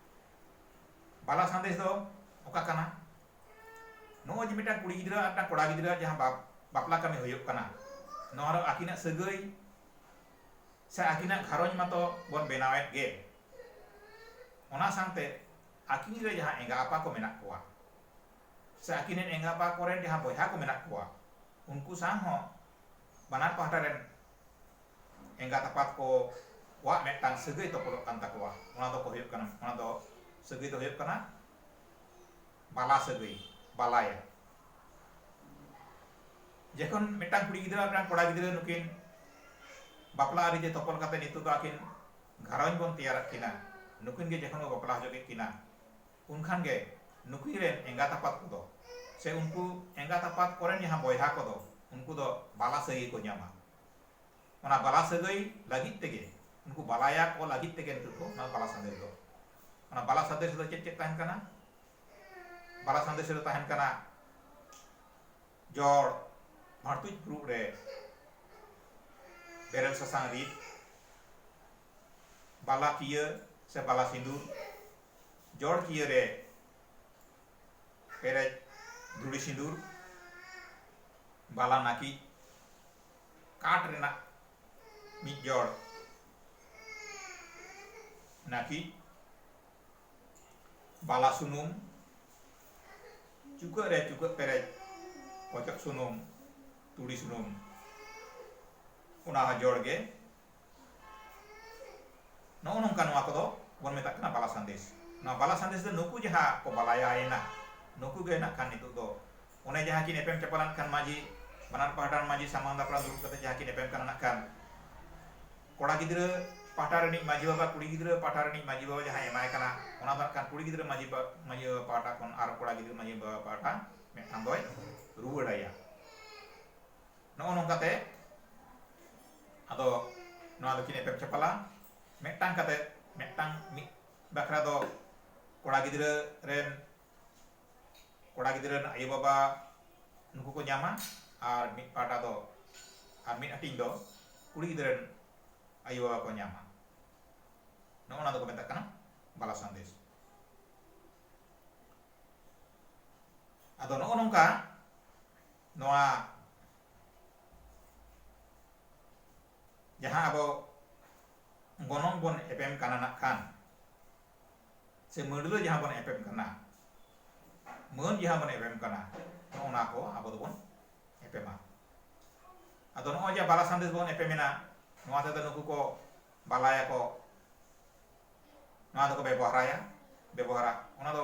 ᱵᱟᱞᱟ ᱥᱟᱸᱫᱮᱥ ᱫᱚ ᱚᱠᱟ ᱠᱟᱱᱟ ᱱᱚᱜᱼᱚᱭ ᱡᱮ ᱢᱤᱫᱴᱟᱝ ᱠᱩᱲᱤ ᱜᱤᱫᱽᱨᱟᱹ ᱟᱨ ᱢᱤᱫᱴᱟᱝ ᱠᱚᱲᱟ ᱜᱤᱫᱽᱨᱟᱹ ᱡᱟᱦᱟᱸ ᱵᱟᱯ ᱵᱟᱯᱞᱟ ᱠᱟᱹᱢᱤ ᱦᱩᱭᱩᱜ ᱠᱟᱱᱟ ᱱᱚᱣᱟ ᱨᱮ ᱟᱹᱠᱤᱱᱟᱜ ᱥᱟᱹᱜᱟᱹᱭ ᱥᱮ ᱟᱹᱠᱤᱱᱟᱜ ᱜᱷᱟᱨᱚᱸᱡᱽ ᱢᱟᱛᱚ ᱵᱚᱱ ᱵᱮᱱᱟᱣᱮᱫ ᱜᱮ ᱚᱱᱟ ᱥᱟᱶᱛᱮ ᱟᱹᱠᱤᱱ ᱨᱮ ᱡᱟᱦᱟᱸ ᱮᱸᱜᱟ ᱟᱯᱟ ᱠᱚ ᱢᱮᱱᱟᱜ ᱠᱚᱣᱟ ᱥᱮ ᱟᱹᱠᱤᱱ ᱨᱮᱱ ᱮᱸᱜᱟ ᱟᱯᱟ ᱠᱚᱨᱮᱱ ᱡᱟᱦᱟᱸ ᱵᱚᱭᱦᱟ ᱠᱚ ᱢᱮᱱᱟᱜ ᱠᱚᱣᱟ ᱩᱱᱠᱩ ᱥᱟᱶ ᱦᱚᱸ ᱵᱟᱱᱟᱨ ᱯᱟᱦᱴᱟ ᱨᱮᱱ ᱮᱸᱜᱟᱛ ᱟᱯᱟᱛ ᱠᱚ ᱠᱚᱣᱟᱜ ᱢᱤᱫᱴᱟᱝ ᱥᱟᱹᱜᱟᱹᱭ ᱛᱚᱯᱚᱞᱚᱜ ᱠᱟᱱ ᱛᱟᱠᱚᱣᱟ ᱚᱱᱟ ᱫᱚᱠᱚ ᱦᱩᱭᱩᱜ ᱠᱟᱱᱟ ᱚᱱᱟ ᱫᱚ ᱥᱟᱹᱜᱟᱹᱭ ᱫᱚ ᱦᱩᱭᱩᱜ ᱠᱟᱱᱟ ᱵᱟᱞᱟ ᱥᱟᱹᱜᱟᱹᱭ ᱵᱟᱞᱟᱭᱟ ᱡᱚᱠᱷᱚᱱ ᱢᱤᱫᱴᱟᱝ ᱠᱩᱲᱤ ᱜᱤᱫᱽᱨᱟᱹ ᱢᱤᱫᱴᱟᱝ ᱠᱚᱲᱟ ᱜᱤᱫᱽᱨᱟᱹ ᱱᱩᱠᱤᱱ ᱵᱟᱯᱞᱟ ᱟᱹᱨᱤ ᱡᱮ ᱛᱚᱯᱚᱞ ᱠᱟᱛᱮ ᱱᱤᱛᱚᱜ ᱫᱚ ᱟᱹᱠᱤᱱ ᱜᱷᱟᱨᱚᱸᱡᱽ ᱵᱚᱱ ᱛᱮᱭᱟᱨᱟᱜ ᱠᱤᱱᱟ ᱱᱩᱠᱤᱱ ᱜᱮ ᱡᱚᱠᱷᱚᱱ ᱵᱚ ᱵᱟᱯᱞᱟ ᱦᱚᱪᱚ ᱠᱮᱫ ᱠᱤᱱᱟ ᱩᱱᱠᱷᱟᱱ ᱜᱮ ᱱᱩᱠᱤᱱ ᱨᱮᱱ ᱮᱸᱜᱟᱛ ᱟᱯᱟᱛ ᱠᱚᱫᱚ ᱥᱮ ᱩᱱᱠᱩ ᱮᱸᱜᱟᱛ ᱟᱯᱟᱛ ᱠᱚᱨᱮᱱ ᱡᱟᱦᱟᱸ ᱵᱚᱭᱦᱟ ᱠᱚᱫᱚ ᱩᱱᱠᱩ ᱫᱚ ᱵᱟᱞᱟ ᱥᱟᱹᱜᱟᱹᱭ ᱠᱚ ᱧᱟᱢᱟ ᱚᱱᱟ ᱵᱟᱞᱟ ᱥᱟᱹᱜᱟᱹᱭ ᱞᱟᱹᱜᱤᱫ ᱛᱮᱜᱮ ᱩᱱᱠᱩ ᱵᱟᱞᱟᱭᱟ ᱠᱚ ᱞᱟᱹᱜᱤᱫ ᱛᱮᱜᱮ ᱱᱤᱛᱚᱜ ᱫᱚ ᱚᱱᱟ ᱵᱟᱞᱟ ᱥᱟᱸᱫᱮᱥ ᱫᱚ ᱚᱱᱟ ᱵᱟᱞᱟ ᱥᱟᱸᱫᱮᱥ ᱨᱮᱫᱚ ᱪᱮᱫ ᱪᱮᱫ ᱛᱟᱦᱮᱱ ᱠᱟᱱᱟ ᱵᱟᱞᱟ ᱥᱟᱸᱫᱮᱥ ᱨᱮ ᱛᱟᱦᱮᱱ ᱠᱟᱱᱟ ᱡᱚᱲ ᱵᱷᱟᱲᱛᱩᱡ ᱯᱷᱩᱲᱩᱜ ᱨᱮ ᱵᱮᱨᱮᱞ ᱥᱟᱥᱟᱝ ᱨᱤᱫ ᱵᱟᱞᱟ ᱠᱤᱭᱟᱹ ᱥᱮ ᱵᱟᱞᱟ ᱥᱤᱸᱫᱩᱨ ᱡᱚᱲ ᱠᱤᱭᱟᱹ ᱨᱮ ᱯᱮᱨᱮᱡ ᱫᱷᱩᱲᱤ ᱥᱤᱸᱫᱩᱨ ᱵᱟᱞᱟ ᱱᱟᱹᱠᱤᱡ ᱠᱟᱴ ᱨᱮᱱᱟᱜ ᱢᱤᱫ ᱡᱚᱲ ᱱᱟᱹᱠᱤᱡ ᱵᱟᱞᱟ ᱥᱩᱱᱩᱢ ᱪᱩᱠᱟᱹᱜ ᱨᱮ ᱪᱩᱠᱟᱹᱜ ᱯᱮᱨᱮᱡ ᱚᱪᱚᱜ ᱥᱩᱱᱩᱢ ᱛᱩᱲᱤ ᱥᱩᱱᱩᱢ ᱚᱱᱟ ᱦᱚᱸ ᱡᱚᱲ ᱜᱮ ᱱᱚᱜᱼᱚ ᱱᱚᱝᱠᱟ ᱱᱚᱣᱟ ᱠᱚᱫᱚ ᱵᱚᱱ ᱢᱮᱛᱟᱜ ᱠᱟᱱᱟ ᱵᱟᱞᱟ ᱥᱟᱸᱫᱮᱥ ᱱᱚᱣᱟ ᱵᱟᱞᱟ ᱥᱟᱸᱫᱮᱥ ᱫᱚ ᱱᱩᱠᱩ ᱡᱟᱦᱟᱸ ᱠᱚ ᱵᱟᱞᱟᱭᱟᱭᱮᱱᱟ ᱱᱩᱠᱩ ᱜᱮ ᱱᱟᱜ ᱠᱷᱟᱱ ᱱᱤᱛᱚᱜ ᱫᱚ ᱚᱱᱮ ᱡᱟᱦᱟᱸ ᱠᱤᱱ ᱮᱯᱮᱢ ᱪᱟᱯᱟᱞ ᱱᱟᱜ ᱠᱷᱟᱱ ᱢᱟᱺᱡᱷᱤ ᱵᱟᱱᱟᱨ ᱯᱟᱦᱴᱟ ᱨᱮᱱ ᱢᱟᱺᱡᱷᱤ ᱥᱟᱢᱟᱝ ᱫᱟᱯᱨᱟᱢ ᱫᱩᱲᱩᱵ ᱠᱟᱛᱮ ᱡᱟᱦᱟᱸ ᱠᱤᱱ ᱮᱯᱮᱢ ᱠᱟᱱᱟ ᱱᱟᱜ ᱠᱷᱟᱱ ᱠᱚᱲᱟ ᱜᱤᱫᱽᱨᱟᱹ ᱯᱟᱦᱴᱟ ᱨᱤᱱᱤᱡ ᱢᱟᱺᱡᱷᱤ ᱵᱟᱵᱟ ᱠᱩᱲᱤ ᱜᱤᱫᱽᱨᱟᱹ ᱯᱟᱦᱴᱟ ᱨᱤᱱᱤᱡ ᱢᱟᱺᱡᱷᱤ ᱵᱟᱵᱟ ᱡᱟᱦᱟᱸᱭ ᱮᱢᱟᱭ ᱠᱟᱱᱟ ᱚᱱᱟ ᱫᱚ ᱱᱟᱜ ᱠᱷᱟᱱ ᱠᱩᱲᱤ ᱜᱤᱫᱽᱨᱟᱹ ᱢᱟᱺᱡᱷᱤ ᱢᱟᱺᱡᱷᱤ ᱵᱟᱵᱟ ᱯᱟᱦᱴᱟ ᱠᱷᱚᱱ ᱟᱨ ᱠᱚᱲᱟ ᱜᱤᱫᱽᱨᱟᱹ ᱢᱟᱺᱡᱷᱤ ᱵᱟᱵᱟ ᱯᱟᱦᱴᱟ ᱢᱤᱫᱴᱟᱝ ᱫᱚᱭ ᱨᱩᱣᱟᱹᱲᱟᱭᱟ ᱱᱚᱜᱼᱚ ᱱᱚᱝᱠᱟᱛᱮ ᱟᱫᱚ ᱱᱚᱣᱟ ᱫᱚᱠᱤᱱ ᱮᱯᱮᱢ ᱪᱟᱯᱟᱞᱟ ᱢᱤᱫᱴᱟᱝ ᱠᱟᱛᱮ ᱢᱤᱫᱴᱟᱝ ᱢᱤᱫ ᱵᱟᱠᱷᱨᱟ ᱫᱚ ᱠᱚᱲᱟ ᱜᱤᱫᱽᱨᱟᱹ ᱨᱮᱱ ᱠᱚᱲᱟ ᱜᱤᱫᱽᱨᱟᱹ ᱨᱮᱱ ᱟᱭᱳ ᱵᱟᱵᱟ ᱱᱩᱠᱩ ᱠᱚ ᱧᱟᱢᱟ ᱟᱨ ᱢᱤᱫ ᱯᱟᱦᱴᱟ ᱫᱚ ᱟᱨ ᱢᱤᱫ ᱦᱟᱹᱴᱤᱧ ᱫᱚ ᱠᱩᱲᱤ ᱜᱤᱫᱽᱨᱟᱹ ᱨᱮᱱ ᱟᱭᱳ ᱵᱟᱵᱟ ᱠᱚ ᱧᱟᱢᱟ ᱱᱚᱜᱼᱚ ᱱᱟ ᱫᱚᱠᱚ ᱢᱮᱛᱟᱜ ᱠᱟᱱᱟ ᱵᱟᱞᱟ ᱥᱟᱸᱫᱮᱥ ᱟᱫᱚ ᱱᱚᱜᱼᱚ ᱱᱚᱝᱠᱟ ᱱᱚᱣᱟ ᱡᱟᱦᱟᱸ ᱟᱵᱚ ᱜᱚᱱᱚᱝ ᱵᱚᱱ ᱮᱯᱮᱢ ᱠᱟᱱᱟ ᱱᱟᱜ ᱠᱷᱟᱱ ᱥᱮ ᱢᱟᱹᱰᱞᱟᱹ ᱡᱟᱦᱟᱸ ᱵᱚᱱ ᱮᱯᱮᱢ ᱠᱟᱱᱟ ᱢᱟᱹᱱ ᱡᱟᱦᱟᱸ ᱵᱚᱱ ᱮᱯᱮᱢ ᱠᱟᱱᱟ ᱱᱚᱜᱼᱚ ᱱᱟ ᱠᱚ ᱟᱵᱚ ᱫᱚᱵᱚᱱ ᱮᱯᱮᱢᱟ ᱟᱫᱚ ᱱᱚᱜᱼᱚᱭ ᱡᱮ ᱵᱟᱞᱟ ᱥᱟᱸᱫᱮᱥ ᱵᱚᱱ ᱮᱯᱮᱢᱮᱱᱟ ᱱᱚᱣᱟ ᱛᱮᱫᱚ ᱱᱩᱠᱩ ᱠᱚ ᱵᱟᱞᱟᱭᱟᱠᱚ ᱱᱚᱣᱟ ᱫᱚᱠᱚ ᱵᱮᱵᱚᱦᱟᱨᱟᱭᱟ ᱵᱮᱵᱚᱦᱟᱨᱟ ᱚᱱᱟ ᱫᱚ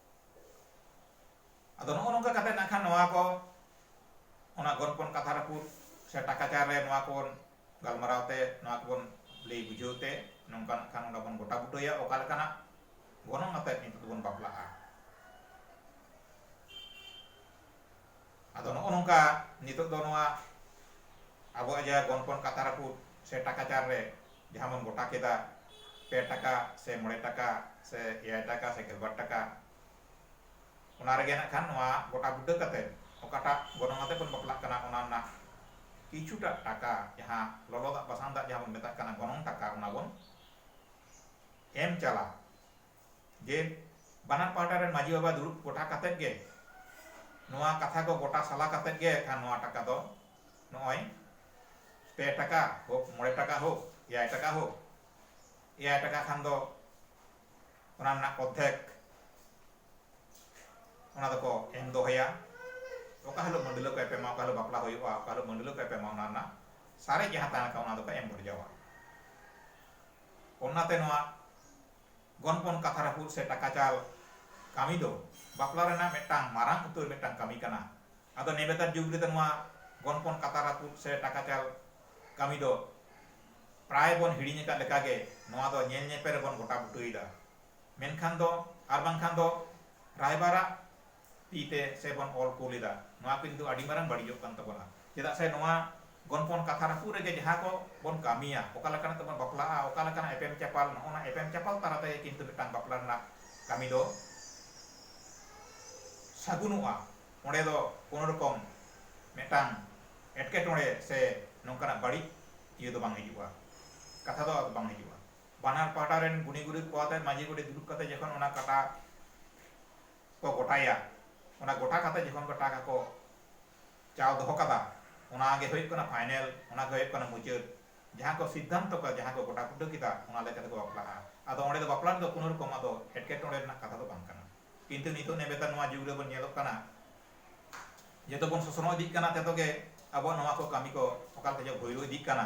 ᱟᱫᱚ ᱱᱚᱜᱼᱚ ᱱᱚᱝᱠᱟ ᱠᱟᱛᱮ ᱱᱟᱜ ᱠᱷᱟᱱ ᱱᱚᱣᱟ ᱠᱚ ᱚᱱᱟ ᱜᱚᱞᱯᱚᱱ ᱠᱟᱛᱷᱟ ᱨᱟᱹᱯᱩᱫ ᱥᱮ ᱴᱟᱠᱟ ᱪᱟᱨ ᱨᱮ ᱱᱚᱣᱟ ᱠᱚᱵᱚᱱ ᱜᱟᱞᱢᱟᱨᱟᱣ ᱛᱮ ᱱᱚᱣᱟ ᱠᱚᱵᱚᱱ ᱞᱟᱹᱭ ᱵᱩᱡᱷᱟᱹᱣ ᱛᱮ ᱱᱚᱝᱠᱟ ᱱᱟᱜ ᱠᱷᱟᱱ ᱚᱸᱰᱮ ᱵᱚᱱ ᱜᱚᱴᱟ ᱵᱩᱴᱟᱹᱭᱟ ᱚᱠᱟ ᱞᱮᱠᱟᱱᱟᱜ ᱜᱚᱱᱚᱝ ᱟᱛᱮᱫ ᱱᱤᱛᱚᱜ ᱫᱚᱵᱚᱱ ᱵᱟᱯᱞᱟᱜᱼᱟ ᱟᱫᱚ ᱱᱚᱜᱼᱚ ᱱᱚᱝᱠᱟ ᱱᱤᱛᱚᱜ ᱫᱚ ᱱᱚᱣᱟ ᱟᱵᱚᱣᱟᱜ ᱡᱟᱦᱟᱸ ᱜᱚᱱᱯᱚᱱ ᱠᱟᱛᱷᱟ ᱨᱟᱹᱯᱩᱫ ᱥᱮ ᱴᱟᱠᱟ ᱪᱟᱞ ᱨᱮ ᱡᱟᱦᱟᱸ ᱵᱚᱱ ᱜᱚᱴᱟ ᱠᱮᱫᱟ ᱯᱮ ᱴᱟᱠᱟ ᱥᱮ ᱢᱚᱬᱮ ᱴᱟᱠᱟ ᱥᱮ ᱮᱭᱟᱭ ᱴᱟᱠᱟ ᱥᱮ ᱜᱮᱞᱵᱟᱨ ᱴᱟᱠᱟ ᱚᱱᱟ ᱨᱮᱜᱮ ᱱᱟᱜ ᱠᱷᱟᱱ ᱱᱚᱣᱟ ᱜᱚᱴᱟ ᱵᱩᱴᱟᱹ ᱠᱟᱛᱮ ᱚᱠᱟᱴᱟᱜ ᱜᱚᱱᱚᱝ ᱟᱛᱮ ᱵᱚᱱ ᱵᱟᱯᱞᱟᱜ ᱠᱟᱱᱟ ᱚᱱᱟ ᱨᱮᱱᱟᱜ ᱠᱤᱪᱷᱩᱴᱟᱜ ᱴᱟᱠᱟ ᱡᱟᱦᱟᱸ ᱞᱚᱞᱚ ᱫᱟᱜ ᱵᱟᱥᱟᱝ ᱫᱟᱜ ᱡᱟᱦᱟᱸ ᱵᱚᱱ ᱢᱮᱛᱟᱜ ᱠᱟᱱᱟ ᱜᱚᱱᱚᱝ ᱴᱟᱠᱟ ᱚᱱᱟ ᱵᱚᱱ ᱮᱢ ᱪᱟᱞᱟ ᱜᱮ ᱵᱟᱱᱟᱨ ᱯᱟᱦᱴᱟ ᱨᱮᱱ ᱢᱟᱹᱡᱷᱤ ᱵᱟᱵᱟ ᱫᱩᱲᱩᱵ ᱜᱚᱴᱟ ᱠᱟᱛᱮ ᱜᱮ ᱱᱚᱣᱟ ᱠᱟᱛᱷᱟ ᱠᱚ ᱜᱚᱴᱟ ᱥᱟᱞᱟ ᱠᱟᱛᱮ ᱜᱮ ᱠᱷᱟᱱ ᱱᱚᱣᱟ ᱴᱟᱠᱟ ᱫᱚ ᱱᱚᱜᱼᱚᱭ ᱯᱮ ᱴᱟᱠᱟ ᱦᱳᱠ ᱢᱚᱬᱮ ᱴᱟᱠᱟ ᱦᱳᱠ ᱮᱭᱟᱭ ᱴᱟᱠᱟ ᱦᱳᱠ ᱮᱭᱟᱭ ᱴᱟᱠᱟ ᱠᱷᱟᱱ ᱫᱚ ᱚᱱᱟ ᱨᱮᱱᱟᱜ ᱚᱨᱫᱷᱮᱠ ᱚᱱᱟ ᱫᱚᱠᱚ ᱮᱢ ᱫᱚᱦᱚᱭᱟ ᱚᱠᱟ ᱦᱤᱞᱳᱜ ᱢᱟᱹᱰᱤᱞᱟᱹ ᱠᱚ ᱮᱯᱮᱢᱟ ᱚᱠᱟ ᱦᱤᱞᱳᱜ ᱵᱟᱯᱞᱟ ᱦᱩᱭᱩᱜᱼᱟ ᱚᱠᱟ ᱦᱤᱞᱳᱜ ᱢᱟᱹᱰᱤᱞᱟᱹ ᱠᱚ ᱮᱯᱮᱢᱟ ᱚᱱᱟ ᱨᱮᱱᱟᱜ ᱥᱟᱨᱮᱡ ᱡᱟᱦᱟᱸ ᱛᱟᱦᱮᱱ ᱠᱟᱱᱟ ᱚᱱᱟ ᱫᱚᱠᱚ ᱮᱢ ᱵᱷᱚᱨᱡᱟᱣᱟ ᱚᱱᱟᱛᱮ ᱱᱚᱣᱟ ᱜᱚᱱᱯᱚᱱ ᱠᱟᱛᱷᱟ ᱨᱟᱹᱯᱩᱫ ᱥᱮ ᱴᱟᱠᱟ ᱪᱟᱞ ᱠᱟᱹᱢᱤ ᱫᱚ ᱵᱟᱯᱞᱟ ᱨᱮᱱᱟᱜ ᱢᱤᱫᱴᱟᱝ ᱢᱟᱨᱟᱝ ᱩᱛᱟᱹᱨ ᱢᱤᱫᱴᱟᱝ ᱠᱟᱹᱢᱤ ᱠᱟᱱᱟ᱾ ᱟᱫᱚ ᱱᱮᱵᱮᱛᱟᱨ ᱡᱩᱜᱽ ᱨᱮᱫᱚ ᱱᱚᱣᱟ ᱜᱚᱱᱯᱚᱱ ᱠᱟᱛᱷᱟ ᱨᱟᱹᱯᱩᱫ ᱥᱮ ᱴᱟᱠᱟ ᱪᱟᱞ ᱠᱟᱹᱢᱤ ᱫᱚ ᱯᱨᱟᱭ ᱵᱚᱱ ᱦᱤᱲᱤᱧ ᱟᱠᱟᱫ ᱞᱮᱠᱟ ᱜᱮ ᱱᱚᱣᱟ ᱫᱚ ᱧᱮᱞ ᱧᱮᱯᱮᱞ ᱨᱮᱵᱚᱱ ᱜᱚᱴᱟ ᱵᱩᱴᱟᱹ ᱮᱫᱟ᱾ ᱢᱮᱱᱠᱷᱟᱱ ᱫᱚ ᱟᱨ ᱵᱟᱝᱠᱷᱟᱱ ᱫᱚ ᱨᱟᱭᱵᱟᱨᱟᱜ ᱛᱤ ᱛᱮ ᱥᱮ ᱵᱚᱱ ᱚᱞ ᱠᱩᱞ ᱮᱫᱟ ᱱᱚᱣᱟ ᱠᱚ ᱠᱤᱱᱛᱩ ᱟᱹᱰᱤ ᱢᱟᱨᱟᱝ ᱵᱟᱹᱲᱤᱡᱚᱜ ᱠᱟᱱ ᱛᱟᱵᱚᱱᱟ ᱪᱮᱫᱟᱜ ᱥᱮ ᱱᱚᱣᱟ ᱜᱚᱱᱯᱚᱱ ᱠᱟᱛᱷᱟ ᱨᱟᱹᱯᱩᱫ ᱨᱮᱜᱮ ᱡᱟᱦᱟᱸ ᱠᱚ ᱵᱚᱱ ᱠᱟᱹᱢᱤᱭᱟ ᱚᱠᱟ ᱞᱮᱠᱟᱱᱟᱜ ᱛᱮᱵᱚᱱ ᱵᱟᱯᱞᱟᱜᱼᱟ ᱚᱠᱟ ᱞᱮᱠᱟᱱᱟᱜ ᱮᱯᱮᱢ ᱪᱟᱯᱟᱞ ᱱᱚᱜᱼᱚ ᱱᱟ ᱮᱯᱮᱢ ᱪᱟᱯᱟᱞ ᱛᱟᱞᱟ ᱛᱮᱜᱮ ᱠᱤᱱᱛᱩ ᱢᱤᱫᱴᱟᱝ ᱵᱟᱯᱞᱟ ᱨᱮᱱᱟᱜ ᱠᱟᱹᱢᱤ ᱫᱚ ᱥᱟᱹᱜᱩᱱᱚᱜᱼᱟ ᱚᱸᱰᱮ ᱫᱚ ᱠᱳᱱᱳ ᱨᱚᱠᱚᱢ ᱢᱤᱫᱴᱟᱝ ᱮᱴᱠᱮᱴᱚᱬᱮ ᱥᱮ ᱱᱚᱝᱠᱟᱱᱟᱜ ᱵᱟᱹᱲᱤᱡ ᱤᱭᱟᱹ ᱫᱚ ᱵᱟᱝ ᱦᱤᱡᱩᱜᱼᱟ ᱠᱟᱛᱷᱟ ᱫᱚ ᱟᱫᱚ ᱵᱟᱝ ᱦᱤᱡᱩᱜᱼᱟ ᱵᱟᱱᱟᱨ ᱯᱟᱦᱴᱟ ᱨᱮᱱ ᱜᱩᱱᱤ ᱜᱩᱨᱤᱵ ᱠᱚ ᱟᱛᱮᱫ ᱢᱟᱹᱡᱷᱤ ᱜᱚᱰᱮᱛ ᱫᱩᱲᱩᱵ ᱠᱟᱛᱮᱫ ᱡᱚᱠᱷᱚᱱ ᱚᱱᱟ ᱠᱟᱴᱟ ᱠᱚ ᱜᱚᱴᱟᱭᱟ ᱚᱱᱟ ᱜᱚᱴᱟ ᱠᱟᱛᱮ ᱡᱚᱠᱷᱚᱱ ᱠᱚ ᱴᱟᱠᱟ ᱠᱚ ᱪᱟᱣ ᱫᱚᱦᱚ ᱠᱟᱫᱟ ᱚᱱᱟ ᱜᱮ ᱦᱩᱭᱩᱜ ᱠᱟᱱᱟ ᱯᱷᱟᱭᱱᱮᱞ ᱚᱱᱟ ᱜᱮ ᱦᱩᱭᱩᱜ ᱠᱟᱱᱟ ᱢᱩᱪᱟᱹᱫ ᱡᱟᱦᱟᱸ ᱠᱚ ᱥᱤᱫᱽᱫᱷᱟᱱᱛᱚ ᱠᱚ ᱡᱟᱦᱟᱸ ᱠᱚ ᱜᱚᱴᱟ ᱜᱩᱴᱟᱹ ᱠᱮᱫᱟ ᱚᱱᱟ ᱞᱮᱠᱟ ᱛᱮᱠᱚ ᱵᱟᱯᱞᱟᱜᱼᱟ ᱟᱫᱚ ᱚᱸᱰᱮ ᱫᱚ ᱵᱟᱯᱞᱟ ᱨᱮᱫᱚ ᱠᱳᱱᱳ ᱨᱚᱠᱚᱢ ᱟᱫᱚ ᱮᱴᱠᱮᱴᱚᱬᱮ ᱨᱮᱱᱟᱜ ᱠᱟᱛᱷᱟ ᱫᱚ ᱵᱟᱝ ᱠᱟᱱᱟ ᱠᱤᱱᱛᱩ ᱱᱤᱛᱚᱜ ᱱᱮᱵᱮᱛᱟᱨ ᱱᱚᱣᱟ ᱡᱩᱜᱽ ᱨᱮᱵᱚᱱ ᱧᱮᱞᱚᱜ ᱠᱟᱱᱟ ᱡᱚᱛᱚ ᱵᱚᱱ ᱥᱚᱥᱱᱚᱜ ᱤᱫᱤᱜ ᱠᱟᱱᱟ ᱛᱮᱫᱚ ᱜᱮ ᱟᱵᱚᱣᱟᱜ ᱱᱚᱣᱟ ᱠᱚ ᱠᱟᱹᱢᱤ ᱠᱚ ᱚᱠᱟ ᱞᱮᱠᱟ ᱪᱚ ᱵᱷᱩᱭᱞᱩ ᱤᱫᱤᱜ ᱠᱟᱱᱟ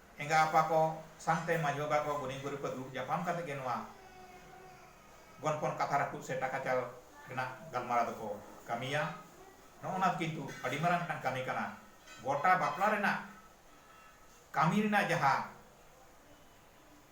ᱮᱸᱜᱟ ᱟᱯᱟ ᱠᱚ ᱥᱟᱝ ᱛᱮ ᱢᱟᱹᱡᱷᱤ ᱵᱟᱵᱟ ᱠᱚ ᱜᱩᱱᱤ ᱜᱩᱨᱤᱵᱽ ᱠᱚ ᱫᱩᱲᱩᱵ ᱧᱟᱯᱟᱢ ᱠᱟᱛᱮ ᱜᱮ ᱱᱚᱣᱟ ᱜᱚᱱᱯᱚᱱ ᱠᱟᱛᱷᱟ ᱨᱟᱹᱯᱩᱫ ᱥᱮ ᱴᱟᱠᱟ ᱪᱟᱞ ᱨᱮᱱᱟᱜ ᱜᱟᱞᱢᱟᱨᱟᱣ ᱫᱚ ᱠᱚ ᱠᱟᱹᱢᱤᱭᱟ᱾ ᱱᱚᱜᱼᱚ ᱱᱚᱣᱟ ᱫᱚ ᱠᱤᱱᱛᱩ ᱟᱹᱰᱤ ᱢᱟᱨᱟᱝ ᱢᱤᱫᱴᱟᱝ ᱠᱟᱹᱢᱤ ᱠᱟᱱᱟ᱾ ᱜᱚᱴᱟ ᱵᱟᱯᱞᱟ ᱨᱮᱱᱟᱜ ᱠᱟᱹᱢᱤ ᱨᱮᱱᱟᱜ ᱡᱟᱦᱟᱸ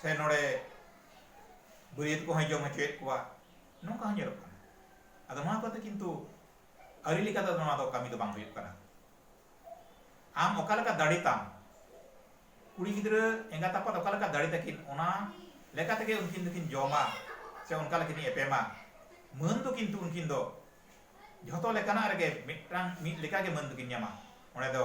ᱥᱮ ᱱᱚᱰᱮ ᱵᱟᱹᱨᱭᱟᱹᱛ ᱠᱚᱦᱚᱸᱭ ᱡᱚᱢ ᱦᱚᱪᱚᱭᱮᱫ ᱠᱚᱣᱟ ᱱᱚᱝᱠᱟ ᱦᱚᱸ ᱧᱮᱞᱚᱜ ᱠᱟᱱᱟ ᱟᱫᱚ ᱱᱚᱣᱟ ᱠᱚᱫᱚ ᱠᱤᱱᱛᱩ ᱟᱹᱨᱤ ᱞᱮᱠᱟᱛᱮ ᱱᱚᱣᱟ ᱫᱚ ᱠᱟᱹᱢᱤ ᱫᱚ ᱵᱟᱝ ᱦᱩᱭᱩᱜ ᱠᱟᱱᱟ ᱟᱢ ᱚᱠᱟ ᱞᱮᱠᱟ ᱫᱟᱲᱮ ᱛᱟᱢ ᱠᱩᱲᱤ ᱜᱤᱫᱽᱨᱟᱹ ᱮᱸᱜᱟᱛ ᱟᱯᱟᱛ ᱚᱠᱟ ᱞᱮᱠᱟ ᱫᱟᱲᱮ ᱛᱟᱹᱠᱤᱱ ᱚᱱᱟ ᱞᱮᱠᱟ ᱛᱮᱜᱮ ᱩᱱᱠᱤᱱ ᱫᱚᱠᱤᱱ ᱡᱚᱢᱟ ᱥᱮ ᱚᱱᱠᱟ ᱞᱮᱠᱤᱱ ᱮᱯᱮᱢᱟ ᱢᱟᱹᱱ ᱫᱚ ᱠᱤᱱᱛᱩ ᱩᱱᱠᱤᱱ ᱫᱚ ᱡᱷᱚᱛᱚ ᱞᱮᱠᱟᱱᱟᱜ ᱨᱮᱜᱮ ᱢᱤᱫᱴᱟᱝ ᱢᱤᱫ ᱞᱮᱠᱟᱜᱮ ᱢᱟᱹᱱ ᱫᱚᱠᱤᱱ ᱧᱟᱢᱟ ᱚᱸᱰᱮ ᱫᱚ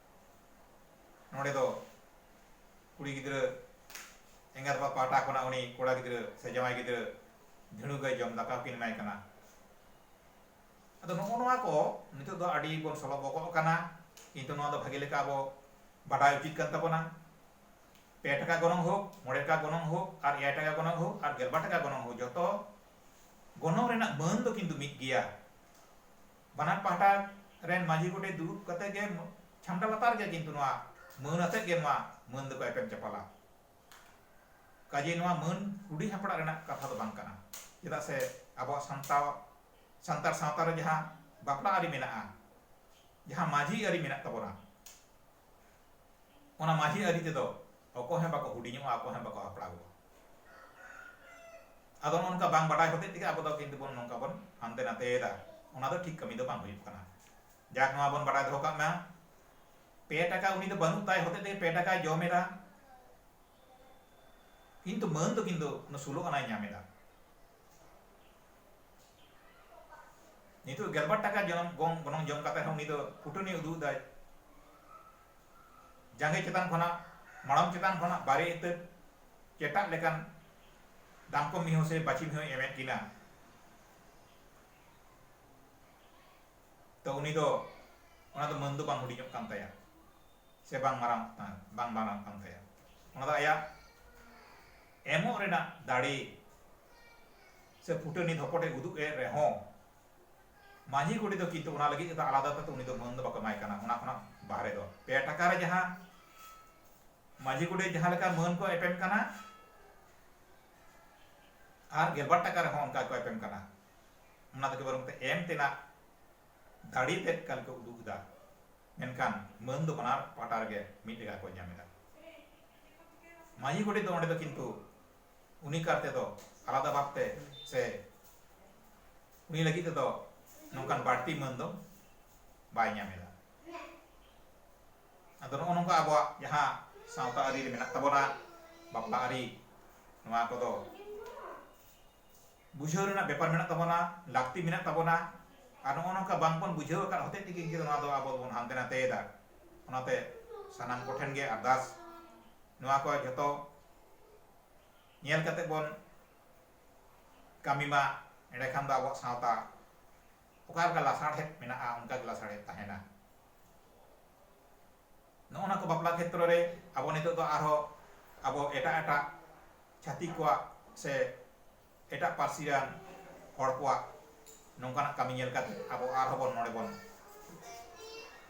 ᱱᱚᱸᱰᱮ ᱫᱚ ᱠᱩᱲᱤ ᱜᱤᱫᱽᱨᱟᱹ ᱮᱸᱜᱟᱛ ᱟᱯᱟᱛ ᱯᱟᱦᱴᱟ ᱠᱷᱚᱱᱟᱜ ᱩᱱᱤ ᱠᱚᱲᱟ ᱜᱤᱫᱽᱨᱟᱹ ᱥᱮ ᱡᱟᱶᱟᱭ ᱜᱤᱫᱽᱨᱟᱹ ᱫᱷᱤᱲᱩ ᱜᱟᱹᱭ ᱡᱚᱢ ᱫᱟᱠᱟ ᱠᱤᱱ ᱮᱢᱟᱭ ᱠᱟᱱᱟ ᱟᱫᱚ ᱱᱚᱜᱼᱚ ᱱᱚᱣᱟ ᱠᱚ ᱱᱤᱛᱚᱜ ᱫᱚ ᱟᱹᱰᱤ ᱵᱚᱱ ᱥᱚᱞᱚ ᱵᱚᱠᱚᱜ ᱠᱟᱱᱟ ᱠᱤᱱᱛᱩ ᱱᱚᱣᱟ ᱫᱚ ᱵᱷᱟᱜᱮ ᱞᱮᱠᱟ ᱟᱵᱚ ᱵᱟᱰᱟᱭ ᱩᱪᱤᱛ ᱠᱟᱱ ᱛᱟᱵᱚᱱᱟ ᱯᱮ ᱴᱟᱠᱟ ᱜᱚᱱᱚᱝ ᱦᱳᱠ ᱢᱚᱬᱮ ᱴᱟᱠᱟ ᱜᱚᱱᱚᱝ ᱦᱳᱠ ᱟᱨ ᱮᱭᱟᱭ ᱴᱟᱠᱟ ᱜᱚᱱᱚᱝ ᱦᱳᱠ ᱟᱨ ᱜᱮᱞᱵᱟᱨ ᱴᱟᱠᱟ ᱜᱚᱱᱚᱝ ᱦᱳᱠ ᱡᱚᱛᱚ ᱜᱚᱱᱚᱝ ᱨᱮᱱᱟᱜ ᱢᱟᱹᱱ ᱫᱚ ᱠᱤᱱᱛᱩ ᱢᱤᱫ ᱜᱮᱭᱟ ᱵᱟᱱᱟᱨ ᱯᱟᱦᱴᱟ ᱨᱮᱱ ᱢᱟᱹᱡᱷᱤ ᱜᱚᱰᱮᱛ ᱫᱩᱲᱩᱵ ᱠᱟᱛᱮ ᱜᱮ ᱪᱷᱟᱢᱰᱟ ᱞᱟᱛᱟᱨ ᱨᱮᱜᱮ ᱠᱤᱱᱛᱩ ᱱᱚᱣᱟ ᱢᱟᱹᱱ ᱟᱛᱮ ᱜᱮ ᱱᱚᱣᱟ ᱢᱟᱹᱱ ᱫᱚᱠᱚ ᱮᱯᱮᱢ ᱪᱟᱯᱟᱞᱟ᱾ ᱠᱟᱡᱮ ᱱᱚᱣᱟ ᱢᱟᱹᱱ ᱦᱩᱰᱤᱧ ᱦᱟᱯᱲᱟᱜ ᱨᱮᱱᱟᱜ ᱠᱟᱛᱷᱟ ᱫᱚ ᱵᱟᱝ ᱠᱟᱱᱟ᱾ ᱪᱮᱫᱟᱜ ᱥᱮ ᱟᱵᱚᱣᱟᱜ ᱥᱟᱱᱛᱟᱣ ᱥᱟᱱᱛᱟᱲ ᱥᱟᱶᱛᱟ ᱨᱮ ᱡᱟᱦᱟᱸ ᱵᱟᱯᱞᱟ ᱟᱹᱨᱤ ᱢᱮᱱᱟᱜᱼᱟ, ᱡᱟᱦᱟᱸ ᱢᱟᱹᱡᱷᱤ ᱟᱹᱨᱤ ᱢᱮᱱᱟᱜ ᱛᱟᱵᱚᱱᱟ, ᱚᱱᱟ ᱢᱟᱹᱡᱷᱤ ᱟᱹᱨᱤ ᱛᱮᱫᱚ ᱚᱠᱚᱭ ᱦᱚᱸ ᱵᱟᱠᱚ ᱦᱩᱰᱤᱧᱚᱜᱼᱟ ᱚᱠᱚᱭ ᱦᱚᱸ ᱵᱟᱠᱚ ᱦᱟᱯᱲᱟᱜᱚᱜᱼᱟ ᱟᱫᱚ ᱱᱚᱝᱠᱟ ᱵᱟᱝ ᱵᱟᱰᱟᱭ ᱦᱚᱛᱮᱡ ᱛᱮᱜᱮ ᱟᱵᱚ ᱫᱚ ᱠᱤᱱᱛᱩ ᱵᱚᱱ ᱱᱚᱝᱠᱟ ᱵᱚᱱ ᱦᱟᱱᱛᱮ ᱱᱟᱛᱮᱭᱮᱫᱟ ᱚᱱᱟ ᱫᱚ ᱴᱷᱤᱠ ᱠᱟᱹᱢᱤ ᱫᱚ ᱵᱟᱝ ᱦᱩᱭᱩᱜ ᱠᱟᱱᱟ ᱡᱟᱠ ᱱᱚᱣᱟ ᱵᱚᱱ ᱵᱟᱰᱟᱭ ᱫᱚᱦᱚ ᱠᱟᱜ ᱢᱟ ᱯᱮ ᱴᱟᱠᱟ ᱩᱱᱤ ᱫᱚ ᱵᱟᱹᱱᱩᱜ ᱛᱟᱭ ᱦᱚᱛᱮᱡ ᱛᱮᱜᱮ ᱯᱮ ᱴᱟᱠᱟᱭ ᱡᱚᱢᱮᱫᱟ ᱠᱤᱱᱛᱩ ᱢᱟᱹᱱ ᱫᱚ ᱠᱤᱱᱛᱩ ᱥᱩᱞᱚ ᱟᱱᱟᱭ ᱧᱟᱢᱮᱫᱟ ᱱᱤᱛᱚᱜ ᱜᱮᱞᱵᱟᱨ ᱴᱟᱠᱟ ᱡᱚᱱᱚᱢ ᱜᱚᱝ ᱜᱚᱱᱚᱝ ᱡᱚᱢ ᱠᱟᱛᱮ ᱦᱚᱸ ᱩᱱᱤ ᱫᱚ ᱠᱩᱴᱟᱹᱱᱤ ᱩᱫᱩᱜ ᱫᱟᱭ ᱡᱟᱸᱜᱮ ᱪᱮᱛᱟᱱ ᱠᱷᱚᱱᱟᱜ ᱢᱟᱲᱟᱝ ᱪᱮᱛᱟᱱ ᱠᱷᱚᱱᱟᱜ ᱵᱟᱨᱮ ᱤᱛᱟᱹ ᱪᱮᱴᱟᱜ ᱞᱮᱠᱟᱱ ᱫᱟᱢᱠᱚ ᱢᱤᱦᱩ ᱥᱮ ᱵᱟᱹᱪᱤ ᱢᱤᱦᱩ ᱮᱢᱮᱫ ᱠᱤᱱᱟ ᱛᱚ ᱩᱱᱤ ᱫᱚ ᱚᱱᱟ ᱫᱚ ᱢᱟᱹᱱ ᱫᱚ ᱵᱟᱝ ᱦᱩᱰᱤᱧᱚᱜ ᱠᱟᱱ ᱛᱟᱭᱟ ᱥᱮ ᱵᱟᱝ ᱢᱟᱨᱟᱝ ᱵᱟᱝ ᱢᱟᱨᱟᱝ ᱠᱟᱱ ᱛᱟᱭᱟ ᱚᱱᱟ ᱫᱚ ᱟᱭᱟᱜ ᱮᱢᱚᱜ ᱨᱮᱱᱟᱜ ᱫᱟᱲᱮ ᱥᱮ ᱯᱷᱩᱴᱟᱹᱱᱤ ᱫᱷᱚᱯᱚᱴ ᱮ ᱩᱫᱩᱜ ᱮᱫ ᱨᱮᱦᱚᱸ ᱢᱟᱹᱡᱷᱤ ᱜᱚᱰᱮᱛ ᱫᱚ ᱠᱤᱱᱛᱩ ᱚᱱᱟ ᱞᱟᱹᱜᱤᱫ ᱛᱮᱫᱚ ᱟᱞᱟᱫᱟ ᱛᱮᱫᱚ ᱩᱱᱤ ᱫᱚ ᱢᱟᱹᱱ ᱫᱚ ᱵᱟᱠᱚ ᱮᱢᱟᱭ ᱠᱟᱱᱟ ᱚᱱᱟ ᱠᱷᱚᱱᱟᱜ ᱵᱟᱦᱨᱮ ᱫᱚ ᱯᱮ ᱴᱟᱠᱟ ᱨᱮ ᱡᱟᱦᱟᱸ ᱢᱟᱹᱡᱷᱤ ᱜᱚᱰᱮᱛ ᱡᱟᱦᱟᱸ ᱞᱮᱠᱟ ᱢᱟᱹᱱ ᱠᱚ ᱮᱯᱮᱢ ᱠᱟᱱᱟ ᱟᱨ ᱜᱮᱞᱵᱟᱨ ᱴᱟᱠᱟ ᱨᱮᱦᱚᱸ ᱚᱱᱠᱟ ᱠᱚ ᱮᱯᱮᱢ ᱠᱟᱱᱟ ᱚᱱᱟ ᱫᱚ ᱵᱚᱨᱚᱝ ᱛᱮ ᱮᱢ ᱛᱮᱱᱟᱜ ᱫᱟᱲᱮ ᱛᱮᱫ ᱠᱟᱞ ᱠᱚ ᱩᱫᱩᱜ ᱮᱫᱟ ᱢᱮᱱᱠᱷᱟᱱ ᱢᱟᱹᱱ ᱫᱚ ᱵᱟᱱᱟᱨ ᱯᱟᱦᱴᱟ ᱨᱮᱜᱮ ᱢᱤᱫ ᱞᱮᱠᱟ ᱠᱚ ᱧᱟᱢ ᱮᱫᱟ ᱢᱟᱹᱡᱷᱤ ᱜᱚᱰᱮᱛ ᱫᱚ ᱚᱸᱰᱮ ᱫᱚ ᱠᱤᱱᱛᱩ ᱩᱱᱤ ᱠᱟᱨ ᱛᱮᱫᱚ ᱟᱞᱟᱫᱟ ᱵᱷᱟᱵᱽ ᱛᱮ ᱥᱮ ᱩᱱᱤ ᱞᱟᱹᱜᱤᱫ ᱛᱮᱫᱚ ᱱᱚᱝᱠᱟᱱ ᱵᱟᱹᱲᱛᱤ ᱢᱟᱹᱱ ᱫᱚ ᱵᱟᱭ ᱧᱟᱢ ᱮᱫᱟ ᱟᱫᱚ ᱱᱚᱜᱼᱚ ᱱᱚᱝᱠᱟ ᱟᱵᱚᱣᱟᱜ ᱡᱟᱦᱟᱸ ᱥᱟᱶᱛᱟ ᱟᱹᱨᱤ ᱨᱮ ᱢᱮᱱᱟᱜ ᱛᱟᱵᱚᱱᱟ ᱵᱟᱯᱞᱟ ᱟᱹᱨᱤ ᱱᱚᱣᱟ ᱠᱚᱫᱚ ᱵᱩᱡᱷᱟᱹᱣ ᱨᱮᱱᱟᱜ ᱵᱮᱯᱟᱨ ᱢᱮᱱᱟᱜ ᱛᱟᱵᱚᱱᱟ, ᱞᱟᱹᱠᱛᱤ ᱢᱮᱱᱟᱜ ᱛᱟᱵᱚᱱᱟ ᱟᱨ ᱱᱚᱜᱼᱚ ᱱᱚᱝᱠᱟ ᱵᱟᱝ ᱵᱚᱱ ᱵᱩᱡᱷᱟᱹᱣ ᱟᱠᱟᱫ ᱦᱚᱛᱮᱡ ᱛᱮᱜᱮ ᱤᱱᱠᱟᱹ ᱫᱚ ᱱᱚᱣᱟ ᱫᱚ ᱟᱵᱚ ᱫᱚᱵᱚᱱ ᱦᱟᱱᱛᱮ ᱱᱟᱛᱮ ᱮᱫᱟ᱾ ᱚᱱᱟᱛᱮ ᱥᱟᱱᱟᱢ ᱠᱚᱴᱷᱮᱱ ᱜᱮ ᱟᱨᱫᱟᱥ ᱱᱚᱣᱟ ᱠᱚ ᱡᱷᱚᱛᱚ ᱧᱮᱞ ᱠᱟᱛᱮ ᱵᱚᱱ ᱠᱟᱹᱢᱤ ᱢᱟ ᱮᱸᱰᱮ ᱠᱷᱟᱱ ᱫᱚ ᱟᱵᱚᱣᱟᱜ ᱥᱟᱶᱛᱟ ᱚᱠᱟ ᱞᱮᱠᱟ ᱞᱟᱥᱟᱲᱦᱮᱫ ᱢᱮᱱᱟᱜᱼᱟ ᱚᱱᱠᱟ ᱜᱮ ᱞᱟᱥᱟᱲᱦᱮᱫ ᱛᱟᱦᱮᱱᱟ ᱱᱚᱜᱼᱚ ᱱᱟ ᱠᱚ ᱵᱟᱯᱞᱟ ᱠᱷᱮᱛᱨᱚ ᱨᱮ ᱟᱵᱚ ᱱᱤᱛᱚᱜ ᱫᱚ ᱟᱨᱦᱚᱸ ᱟᱵᱚ ᱮᱴᱟᱜ ᱮᱴᱟᱜ ᱪᱷᱟᱹᱛᱤᱠ ᱠᱚᱣᱟᱜ ᱥᱮ ᱮᱴᱟᱜ ᱯᱟᱹᱨᱥᱤ ᱨᱮᱱ ᱦᱚᱲ ᱠᱚᱣᱟᱜ ᱱᱚᱝᱠᱟᱱᱟᱜ ᱠᱟᱹᱢᱤ ᱧᱮᱞ ᱠᱟᱛᱮ ᱟᱵᱚ ᱟᱨᱦᱚᱸ ᱵᱚᱱ ᱱᱚᱰᱮ ᱵᱚᱱ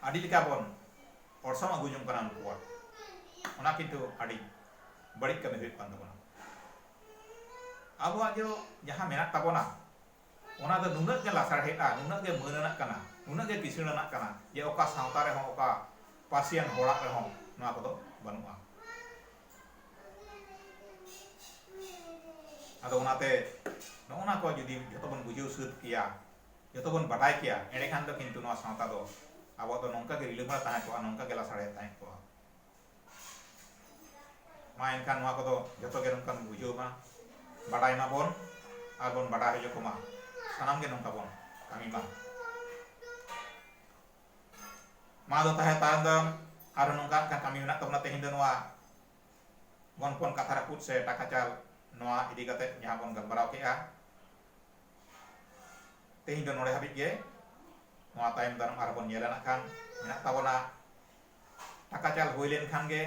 ᱟᱹᱰᱤ ᱞᱮᱠᱟ ᱵᱚᱱ ᱚᱨᱥᱚᱝ ᱟᱹᱜᱩ ᱡᱚᱝ ᱠᱟᱱᱟ ᱩᱱᱠᱩᱣᱟᱜ ᱚᱱᱟ ᱠᱤᱱᱛᱩ ᱟᱹᱰᱤ ᱵᱟᱹᱲᱤᱡ ᱠᱟᱹᱢᱤ ᱦᱩᱭᱩᱜ ᱠᱟᱱ ᱛᱟᱵᱚᱱᱟ ᱟᱵᱚᱣᱟᱜ ᱡᱚ ᱡᱟᱦᱟᱸ ᱢᱮᱱᱟᱜ ᱛᱟᱵᱚᱱᱟ ᱚᱱᱟ ᱫᱚ ᱱᱩᱱᱟᱹᱜ ᱜᱮ ᱞᱟᱥᱟᱲᱦᱮᱫᱼᱟ, ᱱᱩᱱᱟᱹᱜ ᱜᱮ ᱢᱟᱹᱱ ᱟᱱᱟᱜ ᱠᱟᱱᱟ, ᱱᱩᱱᱟᱹᱜ ᱜᱮ ᱠᱤᱥᱟᱹᱬ ᱟᱱᱟᱜ ᱠᱟᱱᱟ ᱡᱮ ᱚᱠᱟ ᱥᱟᱶᱛᱟ ᱨᱮᱦᱚᱸ, ᱚᱠᱟ ᱯᱟᱹᱨᱥᱤᱭᱟᱱ ᱦᱚᱲᱟᱜ ᱨᱮᱦᱚᱸ ᱱᱚᱣᱟ ᱠᱚᱫᱚ ᱵᱟᱹᱱᱩᱜᱼᱟ᱾ ᱟᱫᱚ ᱚᱱᱟᱛᱮ ᱱᱚᱜᱼᱚ ᱱᱟ ᱠᱚ ᱡᱩᱫᱤ ᱡᱷᱚᱛᱚ ᱵᱚᱱ ᱵᱩᱡᱷᱟᱹᱣ ᱥᱟᱹᱛ ᱠᱮᱭᱟ, ᱡᱷᱚᱛᱚ ᱵᱚᱱ ᱵᱟᱰᱟᱭ ᱠᱮᱭᱟ, ᱮᱸᱰᱮᱠᱷᱟᱱ ᱫᱚ ᱠᱤᱱᱛᱩ ᱱᱚᱣᱟ ᱥᱟᱶᱛᱟ ᱫᱚ ᱟᱵᱚᱣᱟᱜ ᱫᱚ ᱱᱚᱝᱠᱟ ᱜᱮ ᱨᱤᱞᱟᱹᱢᱟᱞᱟ ᱛᱟᱦᱮᱸ ᱠᱚᱜᱼᱟ, ᱱᱚᱝᱠᱟ ᱜᱮ ᱞᱟᱥᱟᱲᱦᱮᱫ ᱛᱟᱦᱮᱸ ᱠᱚᱜᱼᱟ᱾ ᱢᱟ ᱮᱱᱠᱷᱟᱱ ᱱᱚᱣᱟ ᱠᱚᱫᱚ ᱡᱚᱛᱚ ᱜᱮ ᱱᱚᱝᱠᱟ ᱵᱚᱱ ᱵᱩᱡᱷᱟᱹᱣ ᱢᱟ ᱵᱟᱰᱟᱭ ᱢᱟᱵᱚᱱ ᱟᱨ ᱵᱚᱱ ᱵᱟᱰᱟᱭ ᱦᱚᱪᱚ ᱠᱚᱢᱟ ᱥᱟᱱᱟᱢ ᱜᱮ ᱱᱚᱝᱠᱟ ᱵᱚᱱ ᱠᱟᱹᱢᱤ ᱢᱟ ᱢᱟ ᱫᱚ ᱛᱟᱦᱮᱸ ᱛᱟᱭᱚᱢ ᱫᱚ ᱟᱨ ᱱᱚᱝᱠᱟ ᱢᱤᱫᱴᱟᱝ ᱠᱟᱹᱢᱤ ᱢᱮᱱᱟᱜ ᱛᱟᱵᱚᱱᱟ ᱛᱮᱦᱮᱧ ᱫᱚ ᱱᱚᱣᱟ ᱜᱚᱱᱯᱚᱱ ᱠᱟᱛᱷᱟ ᱨᱟᱹᱯᱩᱫ ᱥᱮ ᱴᱟᱠᱟ ᱪᱟᱞ ᱱᱚᱣᱟ ᱤᱫᱤ ᱠᱟᱛᱮ ᱡᱟᱦᱟᱸ ᱵᱚᱱ ᱜᱟᱞᱢᱟᱨᱟᱣ ᱠᱮᱜᱼᱟ ᱛᱮᱦᱮᱧ ᱫᱚ ᱱᱚᱰᱮ ᱦᱟᱹᱵᱤᱡ ᱜᱮ ᱱᱚᱣᱟ ᱛᱟᱭᱚᱢ ᱫᱟᱨᱟᱢ ᱟᱨᱦᱚᱸ ᱵᱚᱱ ᱧᱮᱞᱟ ᱱᱟᱜ ᱠᱷᱟᱱ ᱢᱮᱱᱟᱜ ᱛᱟᱵᱚᱱᱟ ᱴᱟᱠᱟ ᱪᱟᱞ ᱦᱩᱭ ᱞᱮᱱ ᱠᱷᱟᱱ ᱜᱮ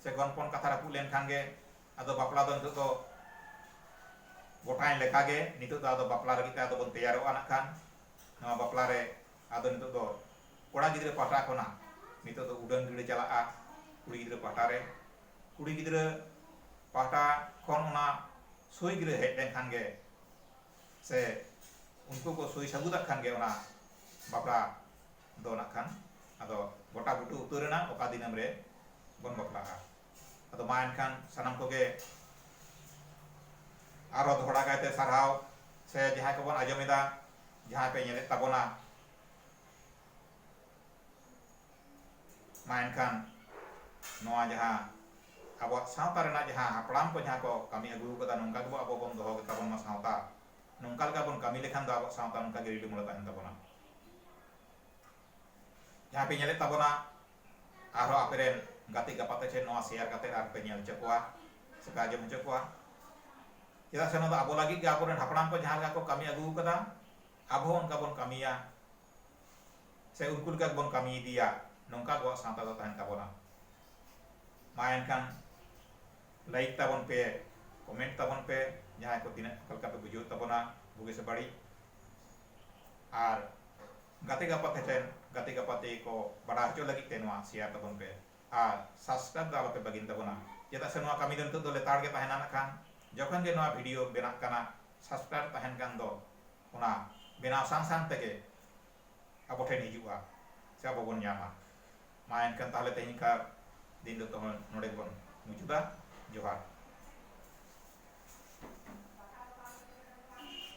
ᱥᱮ ᱜᱚᱱᱯᱚᱱ ᱠᱟᱛᱷᱟ ᱨᱟᱹᱯᱩᱫ ᱞᱮᱱ ᱠᱷᱟᱱ ᱜᱮ ᱟᱫᱚ ᱵᱟᱯᱞᱟ ᱫᱚ ᱱᱤᱛᱚᱜ ᱫᱚ ᱜᱚᱴᱟᱭᱮᱱ ᱞᱮᱠᱟ ᱜᱮ ᱱᱤᱛᱚᱜ ᱫᱚ ᱟᱫᱚ ᱵᱟᱯᱞᱟ ᱞᱟᱹᱜᱤᱫ ᱛᱮ ᱟᱫᱚ ᱵᱚᱱ ᱛᱮᱭᱟᱨᱚᱜᱼᱟ ᱱᱟᱜ ᱠᱷᱟᱱ ᱱᱚᱣᱟ ᱵᱟᱯᱞᱟ ᱨᱮ ᱟᱫᱚ ᱱᱤᱛᱚᱜ ᱫᱚ ᱠᱚᱲᱟ ᱜᱤᱫᱽᱨᱟᱹ ᱯᱟᱦᱴᱟ ᱠᱷᱚᱱᱟᱜ ᱱᱤᱛᱚᱜ ᱫᱚ ᱩᱰᱟᱹᱱ ᱜᱟᱹᱰᱤ ᱪᱟᱞᱟᱜᱼᱟ ᱠᱩᱲᱤ ᱜᱤᱫᱽᱨᱟᱹ ᱯᱟᱦᱴᱟ ᱨᱮ ᱠᱩᱲᱤ ᱜᱤᱫᱽᱨᱟᱹ ᱯᱟᱦᱴᱟ ᱠᱷᱚᱱ ᱚᱱᱟ ᱥᱩᱭ ᱜᱤᱨᱟᱹ ᱦᱮᱡ ᱞᱮᱱ ᱠᱷᱟᱱ ᱜᱮ ᱥᱮ ᱩᱱᱠᱩ ᱠᱚ ᱥᱩᱭ ᱥᱟᱹᱵᱩᱫᱟᱜ ᱠᱷᱟᱱ ᱜᱮ ᱚᱱᱟ ᱵᱟᱯᱞᱟ ᱫᱚ ᱱᱟᱜ ᱠᱷᱟᱱ ᱟᱫᱚ ᱜᱚᱴᱟ ᱵᱩᱴᱟᱹ ᱩᱛᱟᱹᱨ ᱮᱱᱟ ᱚᱠᱟ ᱫᱤᱱᱟᱹᱢ ᱨᱮ ᱵᱚᱱ ᱵᱟᱯᱞᱟᱜᱼᱟ ᱟᱫᱚ ᱢᱟ ᱮᱱᱠᱷᱟᱱ ᱥᱟᱱᱟᱢ ᱠᱚᱜᱮ ᱟᱨᱚ ᱫᱚᱦᱲᱟ ᱠᱟᱭᱛᱮ ᱥᱟᱨᱦᱟᱣ ᱥᱮ ᱡᱟᱦᱟᱸᱭ ᱠᱚᱵᱚᱱ ᱟᱸᱡᱚᱢᱮᱫᱟ ᱡᱟᱦᱟᱸᱭ ᱯᱮ ᱧᱮᱞᱮᱫ ᱛᱟᱵᱚᱱᱟ ᱢᱟ ᱮᱱᱠᱷᱟᱱ ᱱᱚᱣᱟ ᱡᱟᱦᱟᱸ ᱟᱵᱚᱣᱟᱜ ᱥᱟᱶᱛᱟ ᱨᱮᱱᱟᱜ ᱡᱟᱦᱟᱸ ᱦᱟᱯᱲᱟᱢ ᱠᱚ ᱡᱟᱦᱟᱸ ᱠᱚ ᱠᱟᱹᱢᱤ ᱟᱹᱜᱩ ᱟᱠᱟᱫᱟ ᱱᱚᱝᱠᱟ ᱜᱮᱵᱚ ᱟᱵᱚ ᱵᱚᱱ ᱫᱚᱦᱚ ᱜᱮᱛᱟ ᱵᱚᱱ ᱢᱟ ᱥᱟᱶᱛᱟ ᱱᱚᱝᱠᱟ ᱞᱮᱠᱟ ᱵᱚᱱ ᱠᱟᱹᱢᱤ ᱞᱮᱠᱷᱟᱱ ᱫᱚ ᱟᱵᱚᱣᱟᱜ ᱥᱟᱶᱛᱟ ᱱᱚᱝᱠᱟ ᱜᱮ ᱨᱤᱞᱟᱹᱢᱟᱞᱟ ᱛᱟᱦᱮᱱ ᱛᱟᱵᱚᱱᱟ ᱡᱟᱦᱟᱸᱭ ᱯᱮ ᱧᱮᱞᱮᱫ ᱛᱟᱵᱚᱱᱟ ᱟᱨᱦᱚᱸ ᱟᱯᱮ ᱨᱮᱱ ᱜᱟᱛᱮ ᱜᱟᱯᱟᱛᱮ ᱴᱷᱮᱱ ᱱᱚᱣᱟ ᱥᱮᱭᱟᱨ ᱠᱟᱛᱮ ᱟᱨ ᱯᱮ ᱧᱮᱞ ᱦᱚᱪᱚ ᱠᱚᱣᱟ ᱥᱮ ᱯᱮ ᱟᱸᱡᱚᱢ ᱦᱚᱪᱚ ᱠᱚᱣᱟ ᱪᱮᱫᱟᱜ ᱥᱮ ᱱᱚᱣᱟ ᱫᱚ ᱟᱵᱚ ᱞᱟᱹᱜᱤᱫ ᱜᱮ ᱟᱵᱚ ᱨᱮᱱ ᱦᱟᱯᱲᱟᱢ ᱠᱚ ᱡᱟᱦᱟᱸ ᱞᱮᱠᱟ ᱠᱚ ᱠᱟᱹᱢᱤ ᱟᱹᱜᱩ ᱟᱠᱟᱫᱟ ᱟᱵᱚ ᱦᱚᱸ ᱚᱱᱠᱟ ᱵᱚᱱ ᱠᱟᱹᱢᱤᱭᱟ ᱥᱮ ᱩᱱᱠᱩ ᱞᱮᱠᱟ ᱜᱮᱵᱚᱱ ᱠᱟᱹᱢᱤ ᱤᱫᱤᱭᱟ ᱱᱚᱝᱠᱟ ᱟᱵᱚᱣᱟᱜ ᱥᱟᱶᱛᱟ ᱫᱚ ᱛᱟᱦᱮᱱ ᱛᱟᱵᱚᱱᱟ ᱢᱟ ᱮᱱᱠᱷᱟᱱ ᱞᱟᱭᱤᱠ ᱛᱟᱵᱚᱱ ᱯᱮ ᱠᱚᱢᱮᱱᱴ ᱛᱟᱵᱚᱱ ᱯᱮ ᱡᱟᱦᱟᱸᱭ ᱠᱚ ᱛᱤᱱᱟᱹᱜ ᱚᱠᱟ ᱞᱮᱠᱟ ᱯᱮ ᱵᱩᱡᱷᱟᱹᱣ ᱛᱟᱵᱚᱱᱟ ᱵᱩᱜᱤ ᱥᱮ ᱵᱟᱹᱲᱤᱡ ᱟᱨ ᱜᱟᱛᱮ ᱜᱟᱯᱟᱛᱮ ᱴᱷᱮᱱ ᱜᱟᱛᱮ ᱜᱟᱯᱟᱛᱮ ᱠᱚ ᱵᱟᱰᱟᱭ ᱦᱚᱪᱚ ᱞᱟᱹᱜᱤᱫ ᱛᱮ ᱱᱚᱣᱟ ᱥᱮᱭᱟᱨ ᱛᱟᱵᱚᱱ ᱯᱮ ᱟᱨ ᱥᱟᱵᱥᱠᱨᱟᱭᱤᱵ ᱫᱚ ᱟᱞᱚᱯᱮ ᱵᱟᱹᱜᱤᱱ ᱛᱟᱵᱚᱱᱟ ᱪᱮᱫᱟᱜ ᱥᱮ ᱱᱚᱣᱟ ᱠᱟᱹᱢᱤ ᱫᱚ ᱱᱤᱛᱚᱜ ᱫᱚ ᱞᱮᱛᱟᱲ ᱜᱮ ᱛᱟᱦᱮᱱᱟ ᱱᱟᱜᱠᱷᱟᱱ ᱡᱚᱠᱷᱚᱱ ᱜᱮ ᱱᱚᱣᱟ ᱵᱷᱤᱰᱤᱭᱳ ᱵᱮᱱᱟᱜ ᱠᱟᱱᱟ ᱥᱟᱵᱥᱠᱨᱟᱭᱤᱵ ᱛᱟᱦᱮᱱ ᱠᱟᱱ ᱫᱚ ᱚᱱᱟ ᱵᱮᱱᱟᱣ ᱥᱟᱝ ᱥᱟᱝ ᱛᱮᱜᱮ ᱟᱵᱚ ᱴᱷᱮᱱ ᱦᱤᱡᱩᱜᱼᱟ ᱥᱮ ᱟᱵᱚ ᱵᱚᱱ ᱧᱟᱢᱟ ᱢᱟ ᱮᱱᱠᱷᱟᱱ ᱛᱟᱦᱚᱞᱮ ᱛᱮᱦᱮᱧ ᱠᱟᱨ ᱫᱤᱱ ᱫᱚ ᱛᱚᱦᱚᱸ ᱱᱚᱰᱮ ᱜᱮᱵᱚᱱ ᱢᱩᱪᱟᱹᱫᱟ ᱡᱚᱦᱟᱨ